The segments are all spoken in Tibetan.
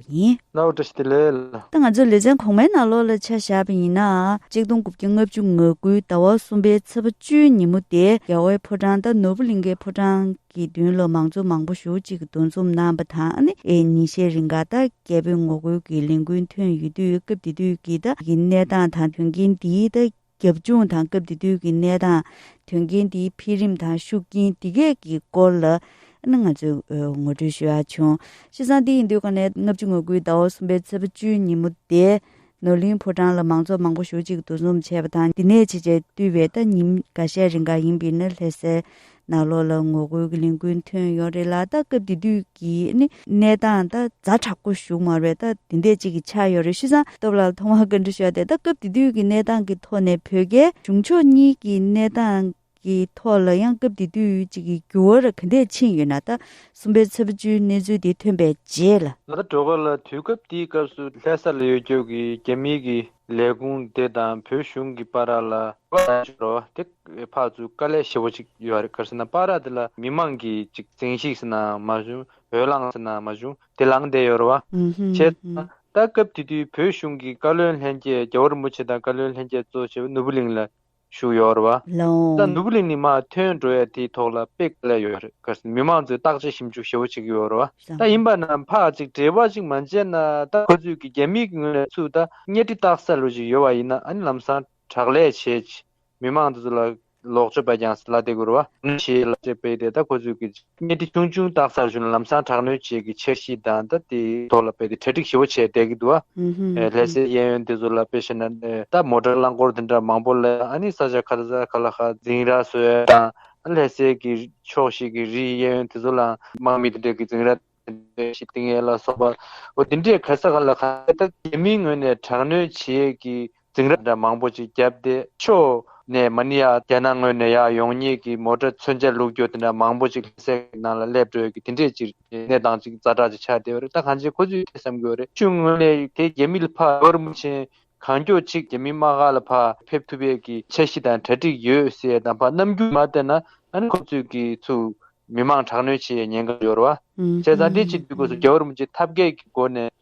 པ་ཡིན། གནའ་བོ་བཀྲ་ཤིས་བདེ་ལེགས། ད་ང་ཚོ་ལེ་ཚན་གོང་མའི་ནང་ལོགས་ལ་ཆ་བཞག་པ་ཡིན་ན། གཅིག་སྟོང་དགུ་བརྒྱ་ལྔ་བཅུ་ང་དགུའི་ཟླ་བ་གསུམ་པའི་ཚེས་པ་བཅུའི་ཉིན་མོ་དེ་རྒྱ་བོའི་ཕོ་བྲང་དང་ནོར་བུ་གླིང་ཁའི་ཕོ་བྲང་གི་མདུན་ལ་མང་ཚོགས་མང་པོ་ཞུགས་གཅིག་གི་འདུ་འཛོམས་གནང་པ་དང་ཉིན་ཤས་རིང་ཀ་ཐག་རྒྱལ་པོས་ངོ་རྒོལ་གྱི་ལས་འགུལ་ཐོན་ཡོད་དུས་སྐབས་དེ་དུས་ཀྱི་ད་ཡི་གནས་སྟངས་དང་དོན་རྐྱེན་འདིའི་ད་རྒྱབ་ལྗོངས་དང་སྐབས་དེ་དུས་ཀྱི་གནས་སྟངས། དོན་རྐྱེན་དེའི་འཕེལ་རིམ་དང་ཤུགས་རྐྱེན་འདི་གས་ཀྱི་སྐོར་ལ། ང་ཚོས་ངོ་སྤྲོད་ཞུ་ཡག་བྱུང། གཤིས་བཟང་དེ་ཡིན་དུས་ཀ་ནས་ལྔ་བཅུ་ངོ་དགུའི་ཟླ་བ་གསུམ་པའི་ཚེས་པ་བཅུའི་ཉིན་མོ་དེ། ནོར་གླིང་ཕོ་བྲང་ལ་མང་ཚོགས་མང་པོ་ཞུགས་གཅིག་ཏུ་འཛོམས་བྱས་པ་དང་འདི་ནས་ཕྱི་ཆར་བསྟུད་པའི་ལྟ་ཉིན་འགའ་ཤས་རིང་འགའ་ཡིན་པའི་ནི་ལྷས་སེ། ནགས་ལོགས་ལ་ངོ་རྒོལ་གྱི་ལས་འགུལ་ཐོན་ཡོད་རེད་ལ་ད་སྐབས་དེ་དུས་ཀྱི་གནས་སྟངས་ད་རྫ་དྲག་པོ་བཞུགས་མ་རེད་ད་དེ་འད་ཅིག་གི་ཆགས་ཡོད་རེད་ཤི་ཟང་སྟོབས་ལགས་ཐོག་མར་བཀའ་འདྲི་ཞོ་སྟེ་ད་སྐབས་དེ་དུས་ཀྱི་གནས་སྟངས་ཀྱི་ཐོག་ནས་བོད་རྒྱལ་གཞུང་ཕྱོགས་གཉིས་ཀྱི་གནས་སྟངས་ཀྱི་ཐོག་ལ་ཡང་སྐབས་དེ་དུས་ཅིག་གི་འགྱུར་བ་ར་ག་འད་ཕྱིན་ཡོད་ན་ད་གསུམ་པའི་ཚབས་བཅུའི་གནས་ཚུལ་དེ་ཐོན་པའི་རྗེས་ལ། ད་གྲོ་ག་ལ་དུས་སྐབས་དེའི་སྐབས་སུ་ལྷས་ས་ལ་ཡོད་རྒྱུགས་ཀྱི་རྒྱ་མིའི་གིས་ལས་ཁུངས་དེ་དང་བོད་གཞུང་གི་པ་རག་ལ་བཀའ་ལ་འབྱོར་རོ། དེ་ཕག་ཚུལ་དཀའ་ལས་ཞེ་བོ་ཅིག་ཡོད་རེད་གར་སེ་ན་པ་རག་དེ་ལ་མི་མང་གིས་ཅིག་བཙན་ཤིག་སེ་ན་མ་བྱུང་འོས་ལངས་སེ་ན་མ་བྱུང་དེ་ལངས་བསྡད་ཡོད་རེད་བ། བྱས་ཙང་ད་སྐབས་དེ་དུས་བོད་གཞུང་གི་བཀའ་བློན་ལྷན་རྒྱས་རྒྱ་བོར་མུ་ཆེ་དང་བཀའ་བློན་ལྷན་རྒྱས་གཙོ་བྱས་པ་ནོར་བུ་གླིང་ལ་ཞུ་ཡོད་རེད། ལ་ལ་འདུག་ལེ་ནི་མ་ཐོན་འགྲོ་ཡ་དེའི་ཐོག་ལ་དཔེ་ག་ལ་ཡོད་རེད་ག་སེ་མི་མང་ཚོས་བརྟག་དཔྱད་ཞིབ་འཇུག་ཞེ་བོ་བྱེད་ཀྱི་ཡོད་རེད་ད་ཡིན་པ་ན་ཕ་ཅིག་བྲེལ་བ་ཅིག་མ་བྱས་ན་ད་ཁོ་ཚོས་ཀྱི་རྒྱ་མི་གི་ངོས་ནས་ཚུགས་ད་གཉའ་ཁྲི་བཏགས་ས་ལོས་ཅིག་ཡོད་བ་ཡིན་ན་ཨ་ནི་ལམ་སང་དྲག་ལས་བྱེད་ཀྱི་མི་མང་ཚོས་ལ་ལོག་ཆོས་པ་ཀྱང་སེ་ལ་དེ་གུ་རུ་བ་ནི་ཞེས་ལ་དཔྱད་པས་དེ་ད་ཁོ་ཚོས་ཀྱི་རྗེས་གནད་དེ་ཆུང་ཆུང་བཏགས་ཚར་བྱུང་ན་ལམ་སང་དྲག་གནོན་བཅས་ཀྱི་འཆར་གཞི་དང་དང་དེའི་ཐོག་ལ་རྦད་དེ་གྲ་སྒྲིག་ཞིབ་བོ་བྱས་བསྡད་ཀྱི་འདུག་ཨ། ལྷས་སའི་གཡས་གཡོན་དེ་ཚོ་ལ་དཔེ་བྱས་ན། ད་མོ་དྲ་རླངས་འཁོར་དེ་འདྲ་མང་པོ་ལས་ཨ་ནི་ས་ཆ་ཁ་ལ་ཁ་ལ་ཧ་འཛིང་ར་སོད་དང། ཨ་ལྷས་སའི་གི་ཕྱོགས་ཤིག་གི་རིའི་གཡས་གཡོན་དེ་ཚོ་ལའང་དམག་མི་དེ་འདྲས་ཀྱི་འཛིང་ར་དེ་འདྲས་ཤིག་བཏིང་ཡས་ལ་སོགས་པ་འོ་དེ་འདྲས་ག་ས་ག་ལ་ཁ་ལས་ད་རྒྱལ་མིའི་ངོས་ནས་དྲག་གནོན་བྱེད་ཀྱི་རྫིང་ར་འདྲ་མང་པོ་ཅིག་བརྒྱབ་སྟེ་ཕྱོགས་ནས་མ་ཎི་ཡ་རྒྱ་ནག་ངོས་ནས་ཡ་ཡོང་ཉེས་ཀྱི་མོ་ཏྲ་མཚོན་ཆ་ལུག་སྐྱོ་དེ་འདྲ་མང་པོ་ཅིག་ལྷ་སའི་ནང་ལ་སླེབས་འགྲོ་ཡོད་ཀི་དེ་འདྲས་ཅིག་རེད་གནས་སྟངས་ཅིག་རྫ་དྲག་ཅིག་ཆགས་བསྡད་པ་རེད་ད་གང་ཆེ་ཁོ་ཚོས་དེ་བསམ་གི་ཡོད་རེད་ཆུང་ངུ་ནས་དེ་རྒྱ་མི་ལ་ཕར་བོར་མུ་ཆེན་གང་མགྱོགས་ཅིག་རྒྱ་མི་དམག་ཁ་ལ་ཕར་ཕེབས་ཐུབ་པའི་ཀི་འཆར་གཞི་དང་གྲ་སྒྲིག་ཡོད་ཟེར་དང་ཕར་རྣམ་འགྱུར་མ་བལྟས་ན་ད་ནི་ཁོ་ཚོས་ཀི་ཚུ་མི་མང་དྲག་གནོན་བྱེད་ཡའི་ཉེན་ཁ་འབྱོར་བ་བྱས་ཙང་དེ་ཕྱིར་དུས་སྐོས་སུ་རྒྱ་བོར་མུ་ཆེན་ཐབས་མཁས་ཀི་སྒོ་ནས་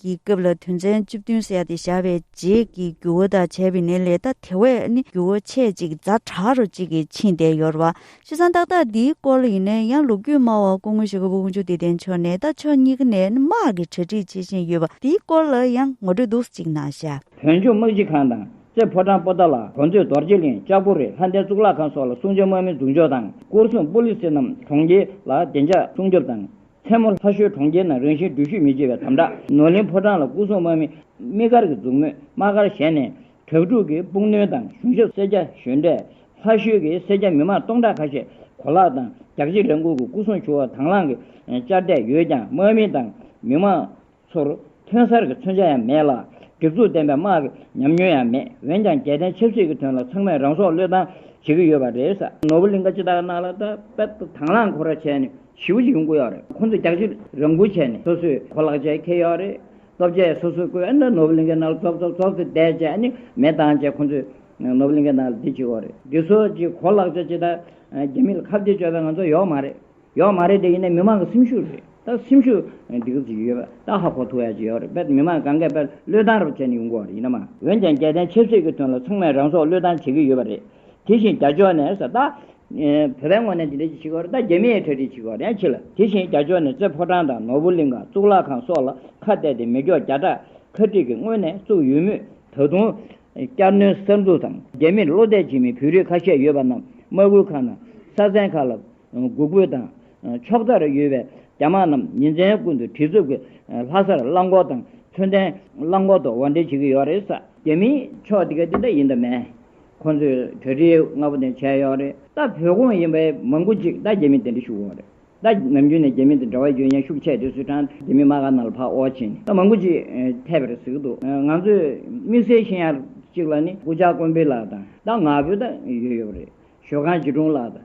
ཀྱི་སྐབས་ལ་དོན་ཚན་བཅུ་བདུན་བསལ་ཏེ་བཞག་པའི་རྗེས་ཀྱི་རྒྱུ་བོ་དང་བྱས་པའི་ནི་ལས་ད་དེ་བས་ནི་རྒྱུ་བོ་ཆེ་གཅིག་རྫ་བྲག་རུ་གཅིག་གིས་ཕྱིན་ཏེ་ཡོར་བ། ཤི་སང་ཏག་ཏག་འདིའི་སྐོར་ལ་ཡིན་ན་ཡང་ལོ་རྒྱུས་སྨྲ་བ་སྐུ་ངོ་ཞི་ག་པོ་དབུ་མཆོག་དད་ལྡན་མཆོག་ནས་ད་ཕྱོགས་གཉིས་ཀ་ནས་དམག་གི་གྲ་སྒྲིག་བྱེད་བཞིན་ཡོད་པ་འདིའི་སྐོར་ལ་ཡང་ངོ་སྤྲོད་འདུག་ཅིག་གནང་ཤག། བོན་ཆོས་དམག་སྤྱི་ཁང་དང་རྩེ་ཕོ་བྲང་པོ་ཏཱ་ལ་གོ་མཛོད་རྡོ་རྗེ་གླིང་ལྕགས་པོ་རི་ལྷ་ལྡན་གཙུག་ལག་ཁང་སོགས་ལ་སྲུང་བྱ་དམག་མི་འཛུགས་འཇོག་དང་སྐོར་སྲུང་པོ་ལིས་རྣམས་གྲོང་ཁྱེར་ལ་བདེ་འཇགས་སྲུང་སྐྱོབ་དང། མཚན་མོ་ལྷ་ཤོད་གྲོང་ཁྱེར་ནང་རང་བཞིན་འགྲུལ་བཞུད་མི་སྤྱོད་པའི་དམ་དྲག། ནོར་གླིང་ཕོ་བྲང་ལ་སྐུ་སྲུང་དམག་མི་དམིགས་བཀར་གྱིས་འཛུགས་མོལ་དམག་སྒར་བཞེངས་ནས། དྲག་འཁྲུག་གིས་དཔུང་སྣོན་དང་གཞུང་ཞབས་སེར་སྐྱ་གཞོན་གྲས། ལྷ་ཤོད་ཀྱི་སེར་སྐྱ་མི་མང་སྟོང་ཕྲག་ཁ་ཤས་གོ་ལག་དང་རྒྱག་ཕྱེ་ལེན་ཁུར་གྱིས་སྐུ་སྲུང་ཆུ་བོ་དྭངས་བླངས་ཀྱི་ཅར་བསྡད་ཡོད་ཀྱང་དམག་མི་དང་མི་མང། ཚོར། ཐོན་གསར་གྱི་མཚོན་ཆ་ཡང་མེད་ལ། སྒྲིག་འཛུགས་ལྡན་པའི་དམག་གི་ཉམས་མྱོང་ཡང་མེད། འོན་ཀྱང་རྒྱལ་བསྟན་ཆབ་སྲིད་ཀྱི་དོན་ལ་ཚང་མས་རང་སྲོག་བློས་བཏང་བྱེད་ཀྱི་ཡོད་པ་རེད། ནོར་བུ་གླིང་ཁ་སྤྱི་བདག་ནགས་ལྷ་ད་པད་དུ་དྭངས་བླངས་འཁོར་ར་བྱས་ནས་ཞི་བོ་ཞིག་ཡོང་དགོས་ཡོད་རེད། ཁོང་ཚོས་རྒྱག་ཕྱིར་རང་འགུལ་བྱས་ནས་སོ་སོས་གོ་ལག་ཆད་ཁེལ་ཡོད་རེད། སྟོབས་ཆད་སོ་སོས་བཀོལ་ན་ནོར་བུ་གླིང་ཁའི་ནགས་ལ་ཙོག་ཙོག་ཙོག་ཙེ་བསྡད་བྱས་ནས་མེ་བཏང་རྗེས་ཁོང་ཚོས་ནོར་བུ་གླིང་ཁའི་ནགས་ལ་བསྡད་ཅི་དགོས་རེད། འདི་ཚོ་གཅིག་གོ་ལག་ཆད་ཅི་ད་རྒྱ་མི་ལ་ཁ་བརྡའི་སྤྱོད་པའི་ང་ཚོ་ཡོག་མ་རེད། ཡོད་མ་རེད་དེ་ཡིན་ནའི་མི་མང་གི་སེམས་ཤུགས་རེད་ད་སེམས་ཤུགས་སྡིག་རུབ་ཅིག་ཡོད་པ་ད་ཧ་གོ་ཐུག་ཡ་གཅིག་ཡོད་རེད་དཔེར་མི་མང་གང་གས་དཔེར་བློས་བཏང་རུབ་བྱས་ནས་ཡོང་དགོས་བ་རེད་ཡིན་ན་མ་འོན་ཀྱང་རྒྱལ་བསྟན་ཆབ་སྲིད་ཀྱི་དོན་ལ་ཚང་མས་རང་སྲོག་བློས་བཏང་བྱེད་ཀྱི་ཡོད་བ་རེད་དེ་བཞིན་རྒྱ་ཕྱོགས་ནས་ས་ད། བོད་པའི་ངོ་ནས་འདི་འདྲ་ཅིག་བྱེད་ཀྱི་ཡོད་རེད་ད་རྒྱ་མི་ཡའི་གྲ་སྒྲིག་བྱེད་ཀྱི་བ་རེད་ཡང་ཆི་ལ་དེ་བཞིན་རྒྱ་ཕྱོགས་ནས་རྩེ་ཕོ་བྲང་དང་ནོར་བུ་གླིང་ཁང་གཙུག་ལག་ཁང་སོགས་ལ་ཁ་གཏད་དེ་མི་སྐྱོགས་བརྒྱ་ཕྲག་ཁ་སྒྲིག་གིས་སྔོན་ནས་བཙུགས་ཡོད་མུས་ད་དུང། བསྐྱར་སྣོན་གསར་འཛུགས་དང་རྒྱ་མིར་བློ་གཏད་བྱེད་མི་བོད་རིགས་ཁ་ཤས་ཡོད་པ་རྣམས་དམག་ཁུལ་ཁག་ནང་ས་ཚན་ཁག་ལ། གུ་གུལ་དང། ཕྱོགས་མཐར་ཡོད་པའི་རྒྱ་དམག་རྣམས་ཉིན་མཚན་ཀུན་ཏུ་གྲི་རྩུབ་ཀྱིས་ལྷ་སར་རླངས་འཁོར་དང་མཚོན་ལྡན་རླངས་འཁོར་དུ་འོར་འདྲེན་བྱེད་ཀྱི་ཡོད་རེད་ས། རྒྱ་མིའི་ཕྱོགས་དེ་ག་དེ་འདྲ་ཡིན་དང་མེད། ཁོང་ཚོས་གྲ་སྒྲིག་སྔ་པོ་དེ་བྱས་ཡོད་རེད། ད་བོད་གོང་ཡིན་པའི་མང་པོ་ཅིག་ད་རྒྱ་མི་དེ་འདྲ་ཞུགས་འོང་རེད། ད་ནམ་རྒྱུན་ནས་རྒྱ་མི་དེ་འདྲ་བ་རྒྱུན་ཡང་ཤུགས་ཆད་དེ་སུས་དྲངས་རྒྱ་མི་མ་ག་ནང་ལ་ཕག་འོག་ཕྱིན་ད་མང་པོ་ཅིག་ཐེབས་པ་རེད་ཟེར་གྱི་འདུག་ང་ཚོས་དམིགས་བསལ་ཤེས་ཡག་ཅིག་ལ་ནི་སྐུ་ཕྱག་དཀོན་པི་ལགས་དང་ད་ང་བོད་ད་ཡོད་ཡོད་རེད་ཞོལ་ཁང་སྐྱིད་གྲོང་ལགས་དང་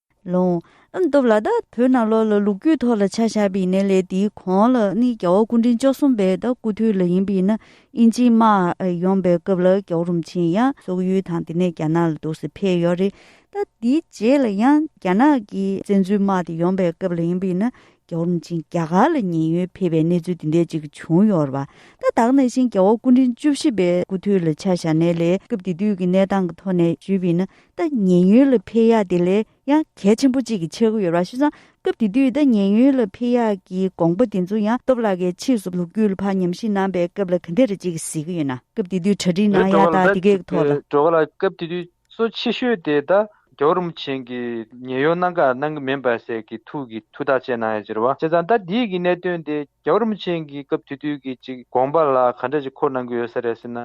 ལོངས། ཨ་མདོ་བླ་དྭགས་བོད་ནང་ལོགས་ལ་ལུག་ཁྱུའི་ཐོག་ལ་ཆ་བཞག་པའི་གནས་ལས་དེའི་གོང་ལ་ནི་རྒྱལ་བ་སྐུ་ཕྲེང་བཅུ་གསུམ་པའི་དྭགས་སྐུ་དུས་ལ་ཡིན་པས་ན་དབྱིན་ཇིའི་དམག་ཡོང་པའི་སྐབས་ལ་རྒྱལ་བོ་རུམ་ཆེན་ཡང་སོག་ཡུལ་དང་དེ་ནས་རྒྱ་ནག་ལ་འདུག་སེ་ཕེབས་ཡོད་རེད་ད་དེའི་རྗེས་ལ་ཡང་རྒྱ་ནག་གི་བཙན་འཛུལ་དམག་དེ་ཡོང་པའི་སྐབས་ལ་ཡིན་པས་ན་རྒྱལ་བོ་རུམ་ཆེན་རྒྱ་གར་ལ་ཉེན་གཡོལ་ཕེབས་པའི་གནས་ཚུལ་དེ་འདྲའི་ཅིག་བྱུང་ཡོད་རེད་པ་ད་དྭགས་ནས་བཞིན་རྒྱལ་བོ་སྐུ་ཕྲེང་བཅུ་བཞི་པའི་སྐུ་དུས་ལ་ཆ་བཞག་གནས་ལས་སྐབས་དེ་དུས་ཀྱི་གནས་སྟངས་ཀྱི་ཐོག་ནས་ཞུས་པས་ན་ཏཱ་ཉེ་ཡོན་ལ་འཕེལ་ཡག་དེ་ལས་ཡང་གལ་ཆེན་པོ་གཅིག་གི་འཆར་གི་ཡོད་ར་ཞུ་ཙང་སྐབས་དེ་དུས་ཏཱ་ཉེ་ཡོན་ལ་འཕེལ་ཡག་གི་དགོངས་པ་དེ་ཚོ་ཡང་སྟོབས་ལ་ཀའི་ཕྱིས་སུ་ལུགས་རྒྱུད་ལ་ཕ་ཉམས་ཤིང་ནང་པའི་སྐབས་ལ་ག་འདྲེ་རེ་གཅིག་གིས་གཟིགས་གི་ཡོད་ན་སྐབས་དེ་དུས་གྲ་སྒྲིག་གནང་ཡག་ད་དེ་གའི་ཐོག་ལ། གྲོ་ག་ལ་སྐབས་དེ་དུས་གཙོ་ཆེ་ཤོས་དེ་ད་གའོ་རིན་པོ་ཆེན་གི་ཉེ་ཡོན་གནང་ག་གནང་གི་མིན་པ་ཟེར་གི་ཐུགས་ཀྱི་ཐུགས་ཐག་བཅད་གནང་ཡག་ཅེར་བ་བྱས་ཙང་ད་དེ་གི་གནད་དོན་དེ་གའོ་རིན་པོ་ཆེན་གི་སྐབས་དེ་དུས་ཀྱི་གཅིག་དགོངས་པ་ལ་ག་འདྲེ་ཅིག་འཁོར་གནང་གི་ཡོད་ས་རེད་ཟེར་ན་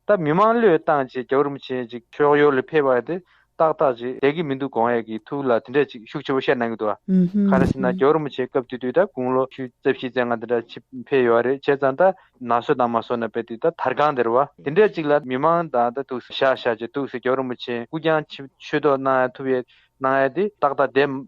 ད་མི་མང་བློས་བཏང་བྱེད་རྒྱ་བོར་མི་བྱེད་ཅིག། ཕྱོགས་ཡོར་ལ་ཕེབས་པ་དེ་ཏག་ཏག་ཅིག་བསྡད་ཀྱི་མི་འདུག་གོང་ཡས་ཀྱི་ཐུགས་ལ་དེ་འདྲ་ཅིག་ཤུགས་ཆེ་པོ་བཤད་གནང་གི་འདུག་ཨ། ཁ་ན་སྲིད་ན་རྒྱ་བོར་མི་བྱེད་སྐབས་དུས་དུས་ད་དགུང་ལོ་བཅུ་རྩ་བཞི་རྩེ་ལྔ་དེ་འདྲ་ཕྱི་ཕེབས་ཡོད་རེད་བྱས་ཙང་ད། ན་བཟོད་དང་མ་བཟོད་ན་བས་དུས་ད་དར་སྒང་དེར་བ། དེ་འདྲ་ཅིག་ལ་མི་མང་དང་ད་ཐུགས་ཞག་ཞག་ཅིག་ཐུགས་སུ་རྒྱ་བོར་མི་བྱེད་སྐུ་རྐྱང་ཆུ་ཐོག་གནང་ཡ་ཐུབ་ཡས་གནང་ཡ་དེ་ཏག་ཏག་བསྡད།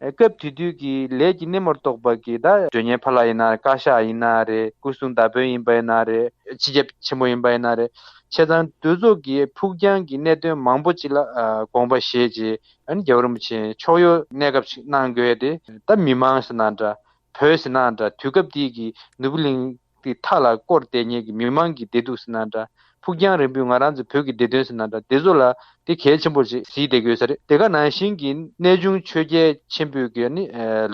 སྐབས་དེ་དུས་ཀྱི་ལས་ཀྱི་སྣེ་མོར་གཏོགས་པ་ཀི་ད། སྒྲོན་ཉེ་ཕ་ལ་ཡིན་ན་བཀའ་ཤག་ཡིན་ན་རེད་སྐུ་སྲུང་ད་བོན་ཡིན་པ་ཡིན་ན་རེད། སྤྱི་ཁྱབ་ཆེན་པོ་ཡིན་པ་ཡིན་ན་རེད། ཆེ་ཚང་དུས་ཚོགས་ཀྱི་ཕུགས་རྒྱང་གི་གནད་དོན་མང་པོ་ཅིག་ལ་དགོངས་པ་བཞེས་རྗེས་རྒྱལ་བོ་རིན་པོ་ཆེ་ཕྱོགས་ཡོ་གནས་སྐབས་ཤིག་གནང་དགོས་ཏེ་ད་མི་མང་ཟེར་ན་འདྲ་བོད་ཟེར་ན་འདྲ་དུས་སྐབས་དེའི་གི་ནུབ་གླིང་དེ་མཐའ་ལ་བསྐོར་བལྟས་ཉན་གྱི་མི་མང་གི་བདེ་སྡུག་ཟེར་ན་འདྲ། ཕུགས་རྒྱང་རིང་པོའི་ང་རང་ཚོའི་བོད་ཀྱི་བདེ་དོན་ཟེར་ན་འདྲ་བདེ་བཟོ་ལ་དེ་གལ་ཆེན་པོར་ཞིག་བཟི་དགོས་ས་རེད་དེ་ག་ནང་བཞིན་གྱི་གནས་ཆུང་ཆོས་རྒྱལ་ཆེན་པོས་གི་ནི་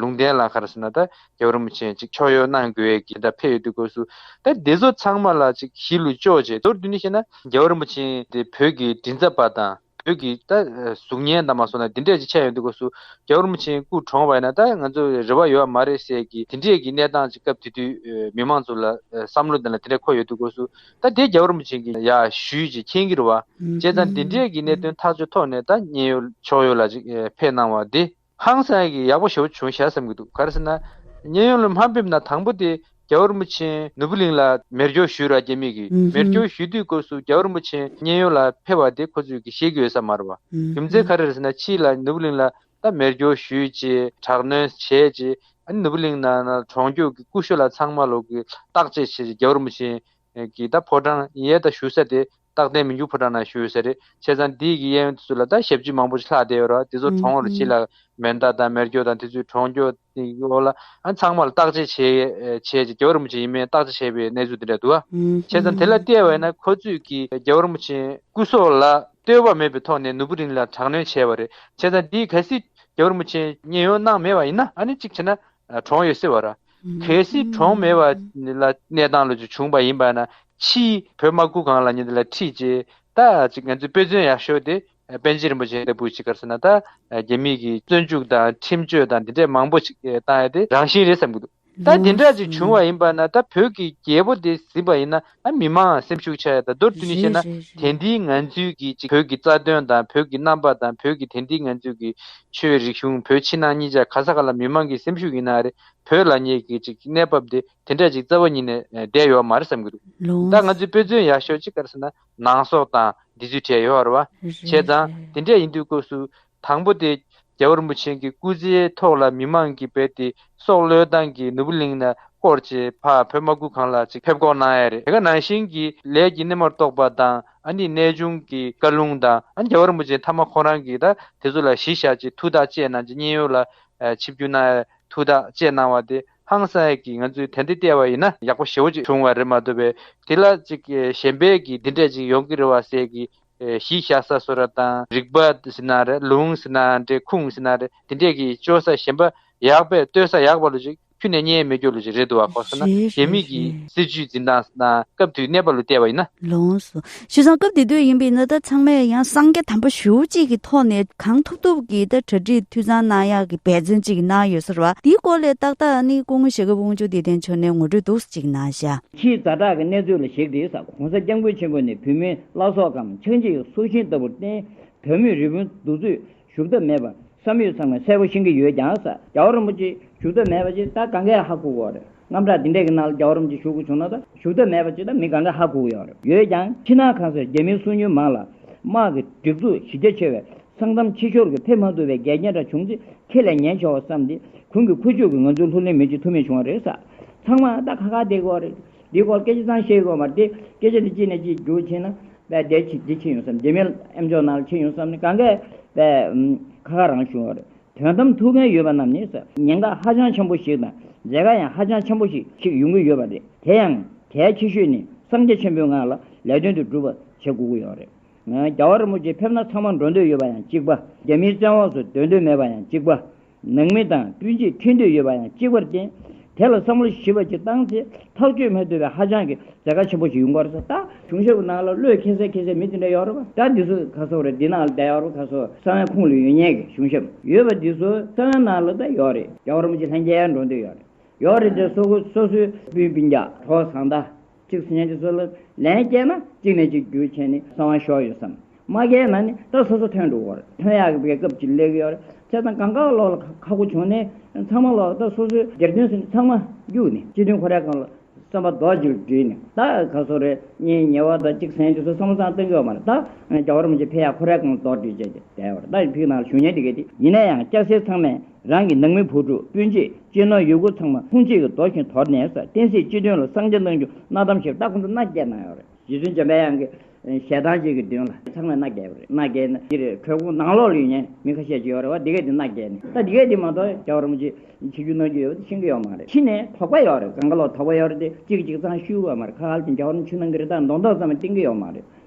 ལུང་བསྟན་ལ་ཁར་ཟེར་ན་འདྲ་རྒྱལ་བོ་རིན་པོ་ཆེ་ཅིག་ཕྱོགས་ཡོ་གནང་དགོས་གི་འདྲ་ཕེ་ཡོད་དུས་གོ་སུ་དེ་བདེ་བཟོ་ཚང་མ་ལ་ཅིག་གཞི་ལུས་གཅོག་བྱས་དོར་དུས་ནི་ཤེ་ན་རྒྱལ་བོ་རིན་པོ་ཆེན་དེ་བོད་ཀྱི་དྲིན་ཚབ་པ་དང། བོད་ཀྱི་ད་གཟུགས་བརྙན་དང་མ་སོང་ན་དེ་འདྲས་ཅིག་ཆགས་ཡོང་འདུག་གོ་སུ་རྒྱ་ཨུ་རུམ་ཆེན་སྐུ་གྲོངས་བ་ཡིན་ན་ད་ང་ཚོ་རེ་བ་ཡོད་བ་མ་རེད་ཟེར་གི་དེ་འདྲས་ཀྱི་གནས་སྟངས་ཅིག་སྐབས་དེ་དུས་མི་མང་ཚོ་ལ་བསམ་བློ་དེ་ལ་དེ་འདྲས་འཁོར་ཡོད་འདུག་གོ་སུ་ད་དེ་རྒྱ་ཨུ་རུམ་ཆེན་གྱི་ཡ་ཞུས་ཅིག་མཁྱེན་གི་རུ་བ་བྱས་ཙང་དེ་འདྲས་ཀྱི་གནད་དོན་ཐག་གཅོད་ཐོག་ནས་ད་མཉན་ཡོད་ཕྱོགས་ཡོད་ལ་ཅིག་ཕེབས་གནང་བ་དེ། ཧང་སངས་ཀྱིས་ཡག་པོ་ཞོ་བྱུང་བཞག་བསམ་གྱི་འདུག་ག་རེ་ཟེར་ན། གཉན་ཡོངས་ལ་མ་འབེབས་ན་དང་པོ་དེ་རྒྱ་བོར་མུ་ཆེན་ནོར་བུ་གླིང་ལ་མེར་སྒྱོགས་ཞུས་ར་ཀྱེ་མིག་གིས་མེར་སྒྱོགས་ཞུས་དུས་སྐབས་སུ་རྒྱ་བོར་མུ་ཆེན་གཉན་ཡོངས་ལ་ཕེབས་པ་དེ་ཁོ་ཚོས་གི་ཤེས་ཀྱི་ཡོད་ས་མ་རེད་བ། རྒྱུ་མཚན་ག་རེ་རེད་ཟེར་ན་ཕྱིས་ལ་ནོར་བུ་གླིང་ལ་ད་མེར་སྒྱོགས་ཞུས་ཅེས་དྲག་གནོན་བྱས་རྗེས་ཨ་ནི་ནོར་བུ་གླིང་ནང་ན་གྲོང་རྒྱོགས་ཀྱི་ཀུ་ཤོ་ལ་ཚང་མ་ལོག་གི་བརྟག་དཔྱད་བྱས་རྗེས་རྒྱ་བོར་མུ་ཆེན་གྱིས་ད་ཕོ་བྲང་ཡས་ད་ཞུ་ས་དེ་རྟག་བརྟན་མི་འགྱུར་ཕོ་བྲང་ན་བཞུགས་ཟེར། བྱས་ཙང་འདི་ཡི་གི་གཡས་གཡོན་དེ་ཚོ་ལ་ད་ཞབས་ཕྱི་མང་པོ་ཞིག་ལྷག་བསྡད་ཡོད་ར་བ་དེ་ཚོ་གྲོང་བར་ཕྱི་ལ་མེར་མདའ་དང་མེར་སྐྱོ་དང་དེ་ཚོའི་གྲོང་སྐྱོ་དེ་འོག་ལ་ཨ་ཚང་མ་ལ་བརྟག་དཔྱད་བྱས། བྱས་རྗེས་རྒྱལ་བ་རིན་པོ་ཆེ་ཡིན་མིན་བརྟག་དཔྱད་བྱས་པའི་གནས་ཚུལ་དེ་འདྲ་འདུག་བྱས་ཙང་དེ་ལ་བལྟས་བས་ན་ཁོ་ཚོས་གི་རྒྱལ་བ་རིན་པོ་ཆེ་སྐུ་སྲོག་ལ་ལྟོས་བ་མེད་པའི་ཐོག་ནས་ནུ་བུ་རིན་ལ་དྲག་གནོན་བྱས་བ་རེད་བྱས་ཙང་འདི་ཡི་ག་སྲིད་རྒྱལ་བ་རིན་པོ་ཆེ་ཉེན་གཡོལ་གནང་མེད་བ་ཡིན་ན་ཨ་ནི་གཅིག་བྱས་ན་གྲོང་ཡོད་སྲིད་བར། གལ་སྲིད་གྲོང་མེད་བ། ལ་གནས་སྟངས་ལོ་ཅིག་བྱུང་བ་ཡིན་པ་ན། ཕྱིའི་བོད་དམག་ཁུལ་གང་ལ་ཉེ་འདི་ལ་ཁྲིད་ཅེས། ད་ཅིག་ང་ཚོས་དཔེ་མཚོན་ཡག་ཤོས་དེ། པན་ཆེན་རིན་པོ་ཆེ་ལྟ་བུ་ཅིག་གར་སོང་ན་ད། རྒྱ་མིས་ཀྱིས་བཙོན་འཇུག་དང་ཁྲིམས་གཅོད་དང་འདི་འདྲས་མང་པོ་ཅིག་བཏང་ཡ་དེ་རང་བཞིན་རེད་བསམ་གྱི་འདུག། ད་དེ་འདྲ་ཅིག་བྱུང་བ་ཡིན་པ་ན་ད་བོད་ཀྱི་རྒྱལ་པོ་དེ་ཟིན་པ་ཡིན་ན། མི་དམངས་སེམས་ཤུགས་ཆག་ཡ་དང་མདོར་བསྡུས་ནས་བཤད་ན་དེ་འདིའི་ངང་ཚུལ་གྱིས་གཅིག་བོད་ཀྱི་རྩ་དོན་དང་བོད་ཀྱི་རྣམ་པ་དང་བོད་ཀྱི་དེ་འདིའི་ངང་ཚུལ་གྱིས་ཆོས་བའི་རིག་གཞུང་བོད་ཕྱི་ནང་གཉིས་ཆ་ག་ས་ག་ལ་མི་དམངས་ཀྱི་སེམས་ཤུགས་ཡིན་ནའ་རེ་བོད་ལ་ཉེ་གི་ཅིག་གནས་བབ་དེ་དེ་འདྲ་ཅིག་རྩ་བ་ཉིད་ནས་བསྡད་ཡོད་མ་རེད་བསམ་གྱི་འདུག་ད་ང་ཚོའི་དཔེ་མཚོན་ཡག་ཤོས་ཅིག་ག་རེ་ཟེར་ན་ནང་སོག་དང་འདི་ཚོའི་གྲས་ཡོད་རེད་བ། བྱས་ཙང་དེ་འདྲས་ཡིན་དུས་སྐབས་སུ་དང་པོ་དེ། རྒྱལ་བ་རིན་པོ་ཆེན་གྱི་སྐུ་ཚེའི་ཐོག་ལ་མི་མང་གིས་བེད་དེ་སྲོག་བློས་བཏང་གིས་ནུབ་བུ་གླིང་ན་བསྐོར་ཅེས་འཕགས་བོད་དམག་ཁུལ་གང་ལ་ཅིག་ཕེབས་སྐོང་གནང་ཡས་རེད་དེ་ག་ནང་བཞིན་གྱི་ལས་ཀྱི་སྣེ་མོར་གཏོགས་པ་དང་ཨ་ནི་གནས་ཆུང་གི་བཀའ་ལུང་དང་ཨ་ནི་རྒྱལ་བ་རིན་པོ་ཆེ་མཐའ་མ་ཁོང་རང་གིས་ད་དེ་ཚོ་ལ་གཞི་བཞག་ཅིག་ཐུགས་ཐག་བཅད་གནང་ཅིག་སྙིང་ཡོད་ལ་ཆིབས་བསྒྱུར་གནང་ཡས་ཐུགས་ཐག་བཅད་གནང་བ་དེ་ཧང་སངས་ཀྱིས་ང་ཚོས་དེ་འདི་བལྟས་བ་ཡིན་ན་ཡག་པོ་ཞེ་བོ་ཅིག་བྱུང་བ་རེད་མ་འདོད་པས་དེ་ལ་ཅིག་གཞན་པས་ཀྱིས་འདི་འདྲས་ཅིག་ཡོང་གི་རེད་བ་ཟེར་གི་གཞི་བཞག་ས་སོ་ར་དང་རིག་པ་སི་ན་རེ་ལུང་སི་ན་འདྲེ་ཁུངས་སི་ན་རེ་དེ་འདྲས་ཀྱི་སྤྱོད་ས་གཞན་པ་ཡག་པས་ལྟོས་ས་ཡག་པ་ལོ་ཅིག་ཁྱུ་ནས་གཉའི་མེ་སྐྱོར་ལོ་ཅིག་རེད་འདུག་བ་ཁོ་ས་ན་རེད་རེད་རེད་རྒྱ་མི་གི་རེད། སྲིད་ཇུས་འཛིན་སྟངས་སི་ན་སྐབས་དུས་གནས་པ་ལོ་བལྟས་བ་ཡིན་ན། ལོངས་སོ། ཞུ་སང་སྐབས་དེ་དུས་ཡིན་པའི་ན་ད་ཚང་མས་ཡང་སང་རྒྱ་དམ་པ་ཞུ་གཅིག་གི་ཐོག་ནས་གང་ཐུབ་ཐུབ་ཀྱི་ད་གྲ་སྒྲིག་འཐུས་ཚང་གནང་ཡག་གི་འབད་བརྩོན་གཅིག་གནང་ཡོད་ས་ར་བ་དེའི་སྐོར་ལས་ཏག་ཏག་ནི་སྐུ་ངོ་ཞེ་དགའ་དབུང་ཆུ་བདེ་ལྡན་མཆོག་ནས་ངོ་སྤྲོད་འདུག་ཅིག་གནང་ཞག། ཕྱིའི་རྫ་བྲག་གི་གནས་ཚུལ་ལ་གཞིགས་ཏེ་ས་གོང་ས་སྐྱ་མགོན་ཆེན་པོ་ནི་བུད་མེད་བླ་སྲོག་གམ་ཆགས་འཇིག་སྲོག་ཤིང་ལྟ་བུར་བསྟེན། བོད་མི་རི་བོའི་འདུག་ཚུལ་བཞུགས་ཐབས་མེད་པར་བསམ་ཡུལ་ཚང་མ་གསལ་པོ་ཤེས་ཀྱི་ཡོད་ཀྱང་ས་སྐྱ་རིན་པོ་ཆེ་བཞུགས་ཐབས་མེད་པ་ཅི་ད་ག་འགས་ཧ་གོ་གི་ཡོད་རེད་རྔམ་སྐྲག་འདི་འདྲས་ཀྱི་ནང་ལ་སྐྱ་རིན་པོ་ཆེ་བཞུགས་དགོས་བྱུང་ན་ད་བཞུགས་ཐབས་མེད་པ་ཅི་ད་མི་ག་འགས་ཧ་གོ་གི་ཡོད་རེད་ཡོད་ཀྱང་ཕྱི་ནང་གང་སར་རྒྱ་མིའི་སྲུང་ཉུལ་མང་ལ། དམག་གི་སྒྲིག་འཛུགས་གཞི་རྒྱ་ཆེ་བས་སང་གཏམ་ཕྱི་ཤོར་གྱི་ཕེབས་མ་ཐུབ་པའི་འགལ་རྐྱེན་འདྲ་བྱུང་ཚེ་ཁྱེད་ལས་ཉན་ཆོག་བསམ་སྟེ་གུང་གི་ཁུ་བྱུག་གིས་ང་ཚོའི་ལྷུར་ལེན་མི་བྱེད་ཐུ་མེད་བྱུང་བ་རེད་ས་ཚང་མ་ད་ཁ་ཁ་བསྡད་དགོས་རེད། འདིའི་སྐོར་སྐད་ཆ་ཚང་ཤེས་དགོས་མ་རེད། སྐད་ཆ་འདི་གཅིག་ནས་གཅིག་བསྒྱུར་ཕྱིན་ན། འདི་ཕྱིན་ཡོང་བསམ་འདི་མིན་ཨེམ་ཇོ་ནང་ཕྱིན་ཡོང་བསམ་ནི་གང་གཱའི། ཁ་ཁ་རང་བྱུང་རེད། དོན་དམ་ཐུགས་འགན་ཡོད་པ་རྣམས་ནི་ཟེར། ཉེན་ཁ་ཧ་ཅང་ཆེན་པོ་ཞིག་དང་མཛད་དཀའ་ཡང་ཧ་ཅང་ཆེན་པོ་ཞིག་ཞིག་ཡོང་གི་ཡོད་པ་རེད། དེ་ཡང་གལ་ཆེ་ཤོས་ནི་སངས་རྒྱས་ཆེན་པོའི་ངང་ལ་ལས་དོན་དེ་སྒྲུབ་པ་བྱེད་དགོས་ཀྱི་ཡོད་རེད། རྒྱ་བ་རིན་པོ་ཆེ་ཕེབས་ན་ཚང་མ་འགྲོ་འདོད་ཡོད་པ་ཡང་གཅིག་པ། རྒྱ་མིའི་བཙན་འོག་ཏུ་སྡོད་འདོད་མེད་པ་ཡང་གཅིག་པ། ནང་མི་དང་སྤུན་མཆེད་མཐུན་འདོད་ཡོད་པ་ཡང་གཅིག་པར་བརྟེན། དེ་ལ་བསམ་བློ་ཞིབ་པ་ཅིག་བཏང་ཚེ་ཐག་གཅོད་མི་ཐུབ་པའི་ཧ་ཅང་གི་མཛད་དཀའ་ཆེན་པོ་ཞིག་ཡོང་གི་རེད་བསམ། ད། གཞུང་ཞབས་ཀྱི་ནང་ལ་བློས་འཁེལ་སའི་འཁེལ་སའི་མི་དེ་འདྲ་ཡོད་རེད་བ། ད་འདི་ཚོ་ག་ཚོད་རེད་འདི་ནང་ལ་ད་ཡོད་རེད་བ་ག་ཚོད་ས་བོན་ཁུངས་ལ་ཡོད་ཉེས་ཀྱི་གཞུང་ཞབས་ཡོད་བ་འདི་ཚོ་ས་བོན་ནང་ལ་ད་ཡོད་རེད་རྒྱ་གར་མི་ཆེ་ལྷན་རྒྱལ་འགྲོ་འདོད་ཡོད་རེད་ཡོད་རེད་དེ་སོ་སོའི་སྤུན་སྤུན་རྒྱག་གྲོགས་བཟང་ད། གཅིག་སུ་གཉེན་གྱི་སྲོལ། ལན་སྐྱེས་ན་གཅིག་ནས་གཅིག་རྒྱུ་བྱས་ནས་གསང་བ་ཤོར་ཡོད་བསམ། མ་སྐྱེས་ན་ནི་ད་སོ་སོ་ཐོན་འདུག་བར་ཐོན་ཡག་གི་བའི་སྐབས་ཀྱི་ལེགས་ཡོད་རེད་ཚེ་དང་གང་དགའ་ལོག་ལ་ཁག་པོ་བྱུང་ནས་ཚང་མ་ལོག་ད་སོ་སོའི་སྒེར་དོན་ཟིན་ཚང་མ་རྒྱུགས་ནས་སྤྱི་དོན་ཁོ་རའི་གང་ལ་བསམ་པ་རྡོ་རྗེ་རུ་བྲིས་ནས་ད་ག་སོ་རེ་གཉིས་ཉེ་བ་ད་གཅིག་སེང་གི་སོ་བསམ་བསམ་སྟོན་གྱི་བ་མ་རེ་ད་རྒྱ་བ་རུམ་གྱི་ཕེ་ཡག་ཁོ་རའི་གང་ལ་རྡོ་བྲིས་བྱས་ཀྱི་བསྡད་བར་ད་ཡི་ཕིག་ནང་ལ་ཞུ་སྙན་བྲི་གི་དེ་ཡིན་ན་ཡང་སྐྱ་སེར་ཚང་མས། རང་གི་ནང་མི་བུ་ཕྲུག་སྤུན་མཆེད་སྤྱིར་ན་ཡུལ་སྐོར་ཚང་མ་ཁུངས་སྐྱེལ་གྱི་མདོ་ཞིང་དོར་ནས་ས་སྟེང་སྲིད་སྤྱི་དོན་ལ་གསང་ཆེན་གནང་རྒྱུ་གནའ་གཏམ་ཞིག་རྟག་ཁོང་ཚོ་མནའ་བསྐྱལ་གནང་ཡོད་རེད། རྗེ་བཙུན་འཇམ་པའི་དབྱངས་ཀྱི་ཞལ་ཐང་ཅིག་གི་མདུན་ལ་ཚང་མས་མནའ་བསྐྱལ་ཡོད་རེད་མནའ་བསྐྱལ་ནས་འདིར་གྲོད་ཁོག་ནང་ལོག་ལུས་ཉེན་མི་ཁ་ཤས་ཅིག་ཡོད་རེད་བ་འདི་གས་འདི་མནའ་བསྐྱལ་ནས་ད་འདི་གས་འདི་མ་གཏོགས་རྒྱ་བོར་མོ་ཅིག་བྱེད་རྒྱུ་གནང་རྒྱུ་ཡོད་བ་ཤིང་གི་ཡོག་མ་རེད་ཕྱི་ནས་དོག་པ་ཡོད་རེད་གངས་ཀ་ལོག་དོག་པ་ཡོད་རེད་དེ་གཅིག་གི་གཅིག་ཚང་ཤུལ་བ་མ་རེད་ཁ་ཁ་ལ་ཅིག་འཇའ་བོར་མོ་ཆུ་ནང་གི་རི་དྭགས་མདོག་མདོག་ཙམ་མ་སྟེང་གི་ཡོག་མ་རེད།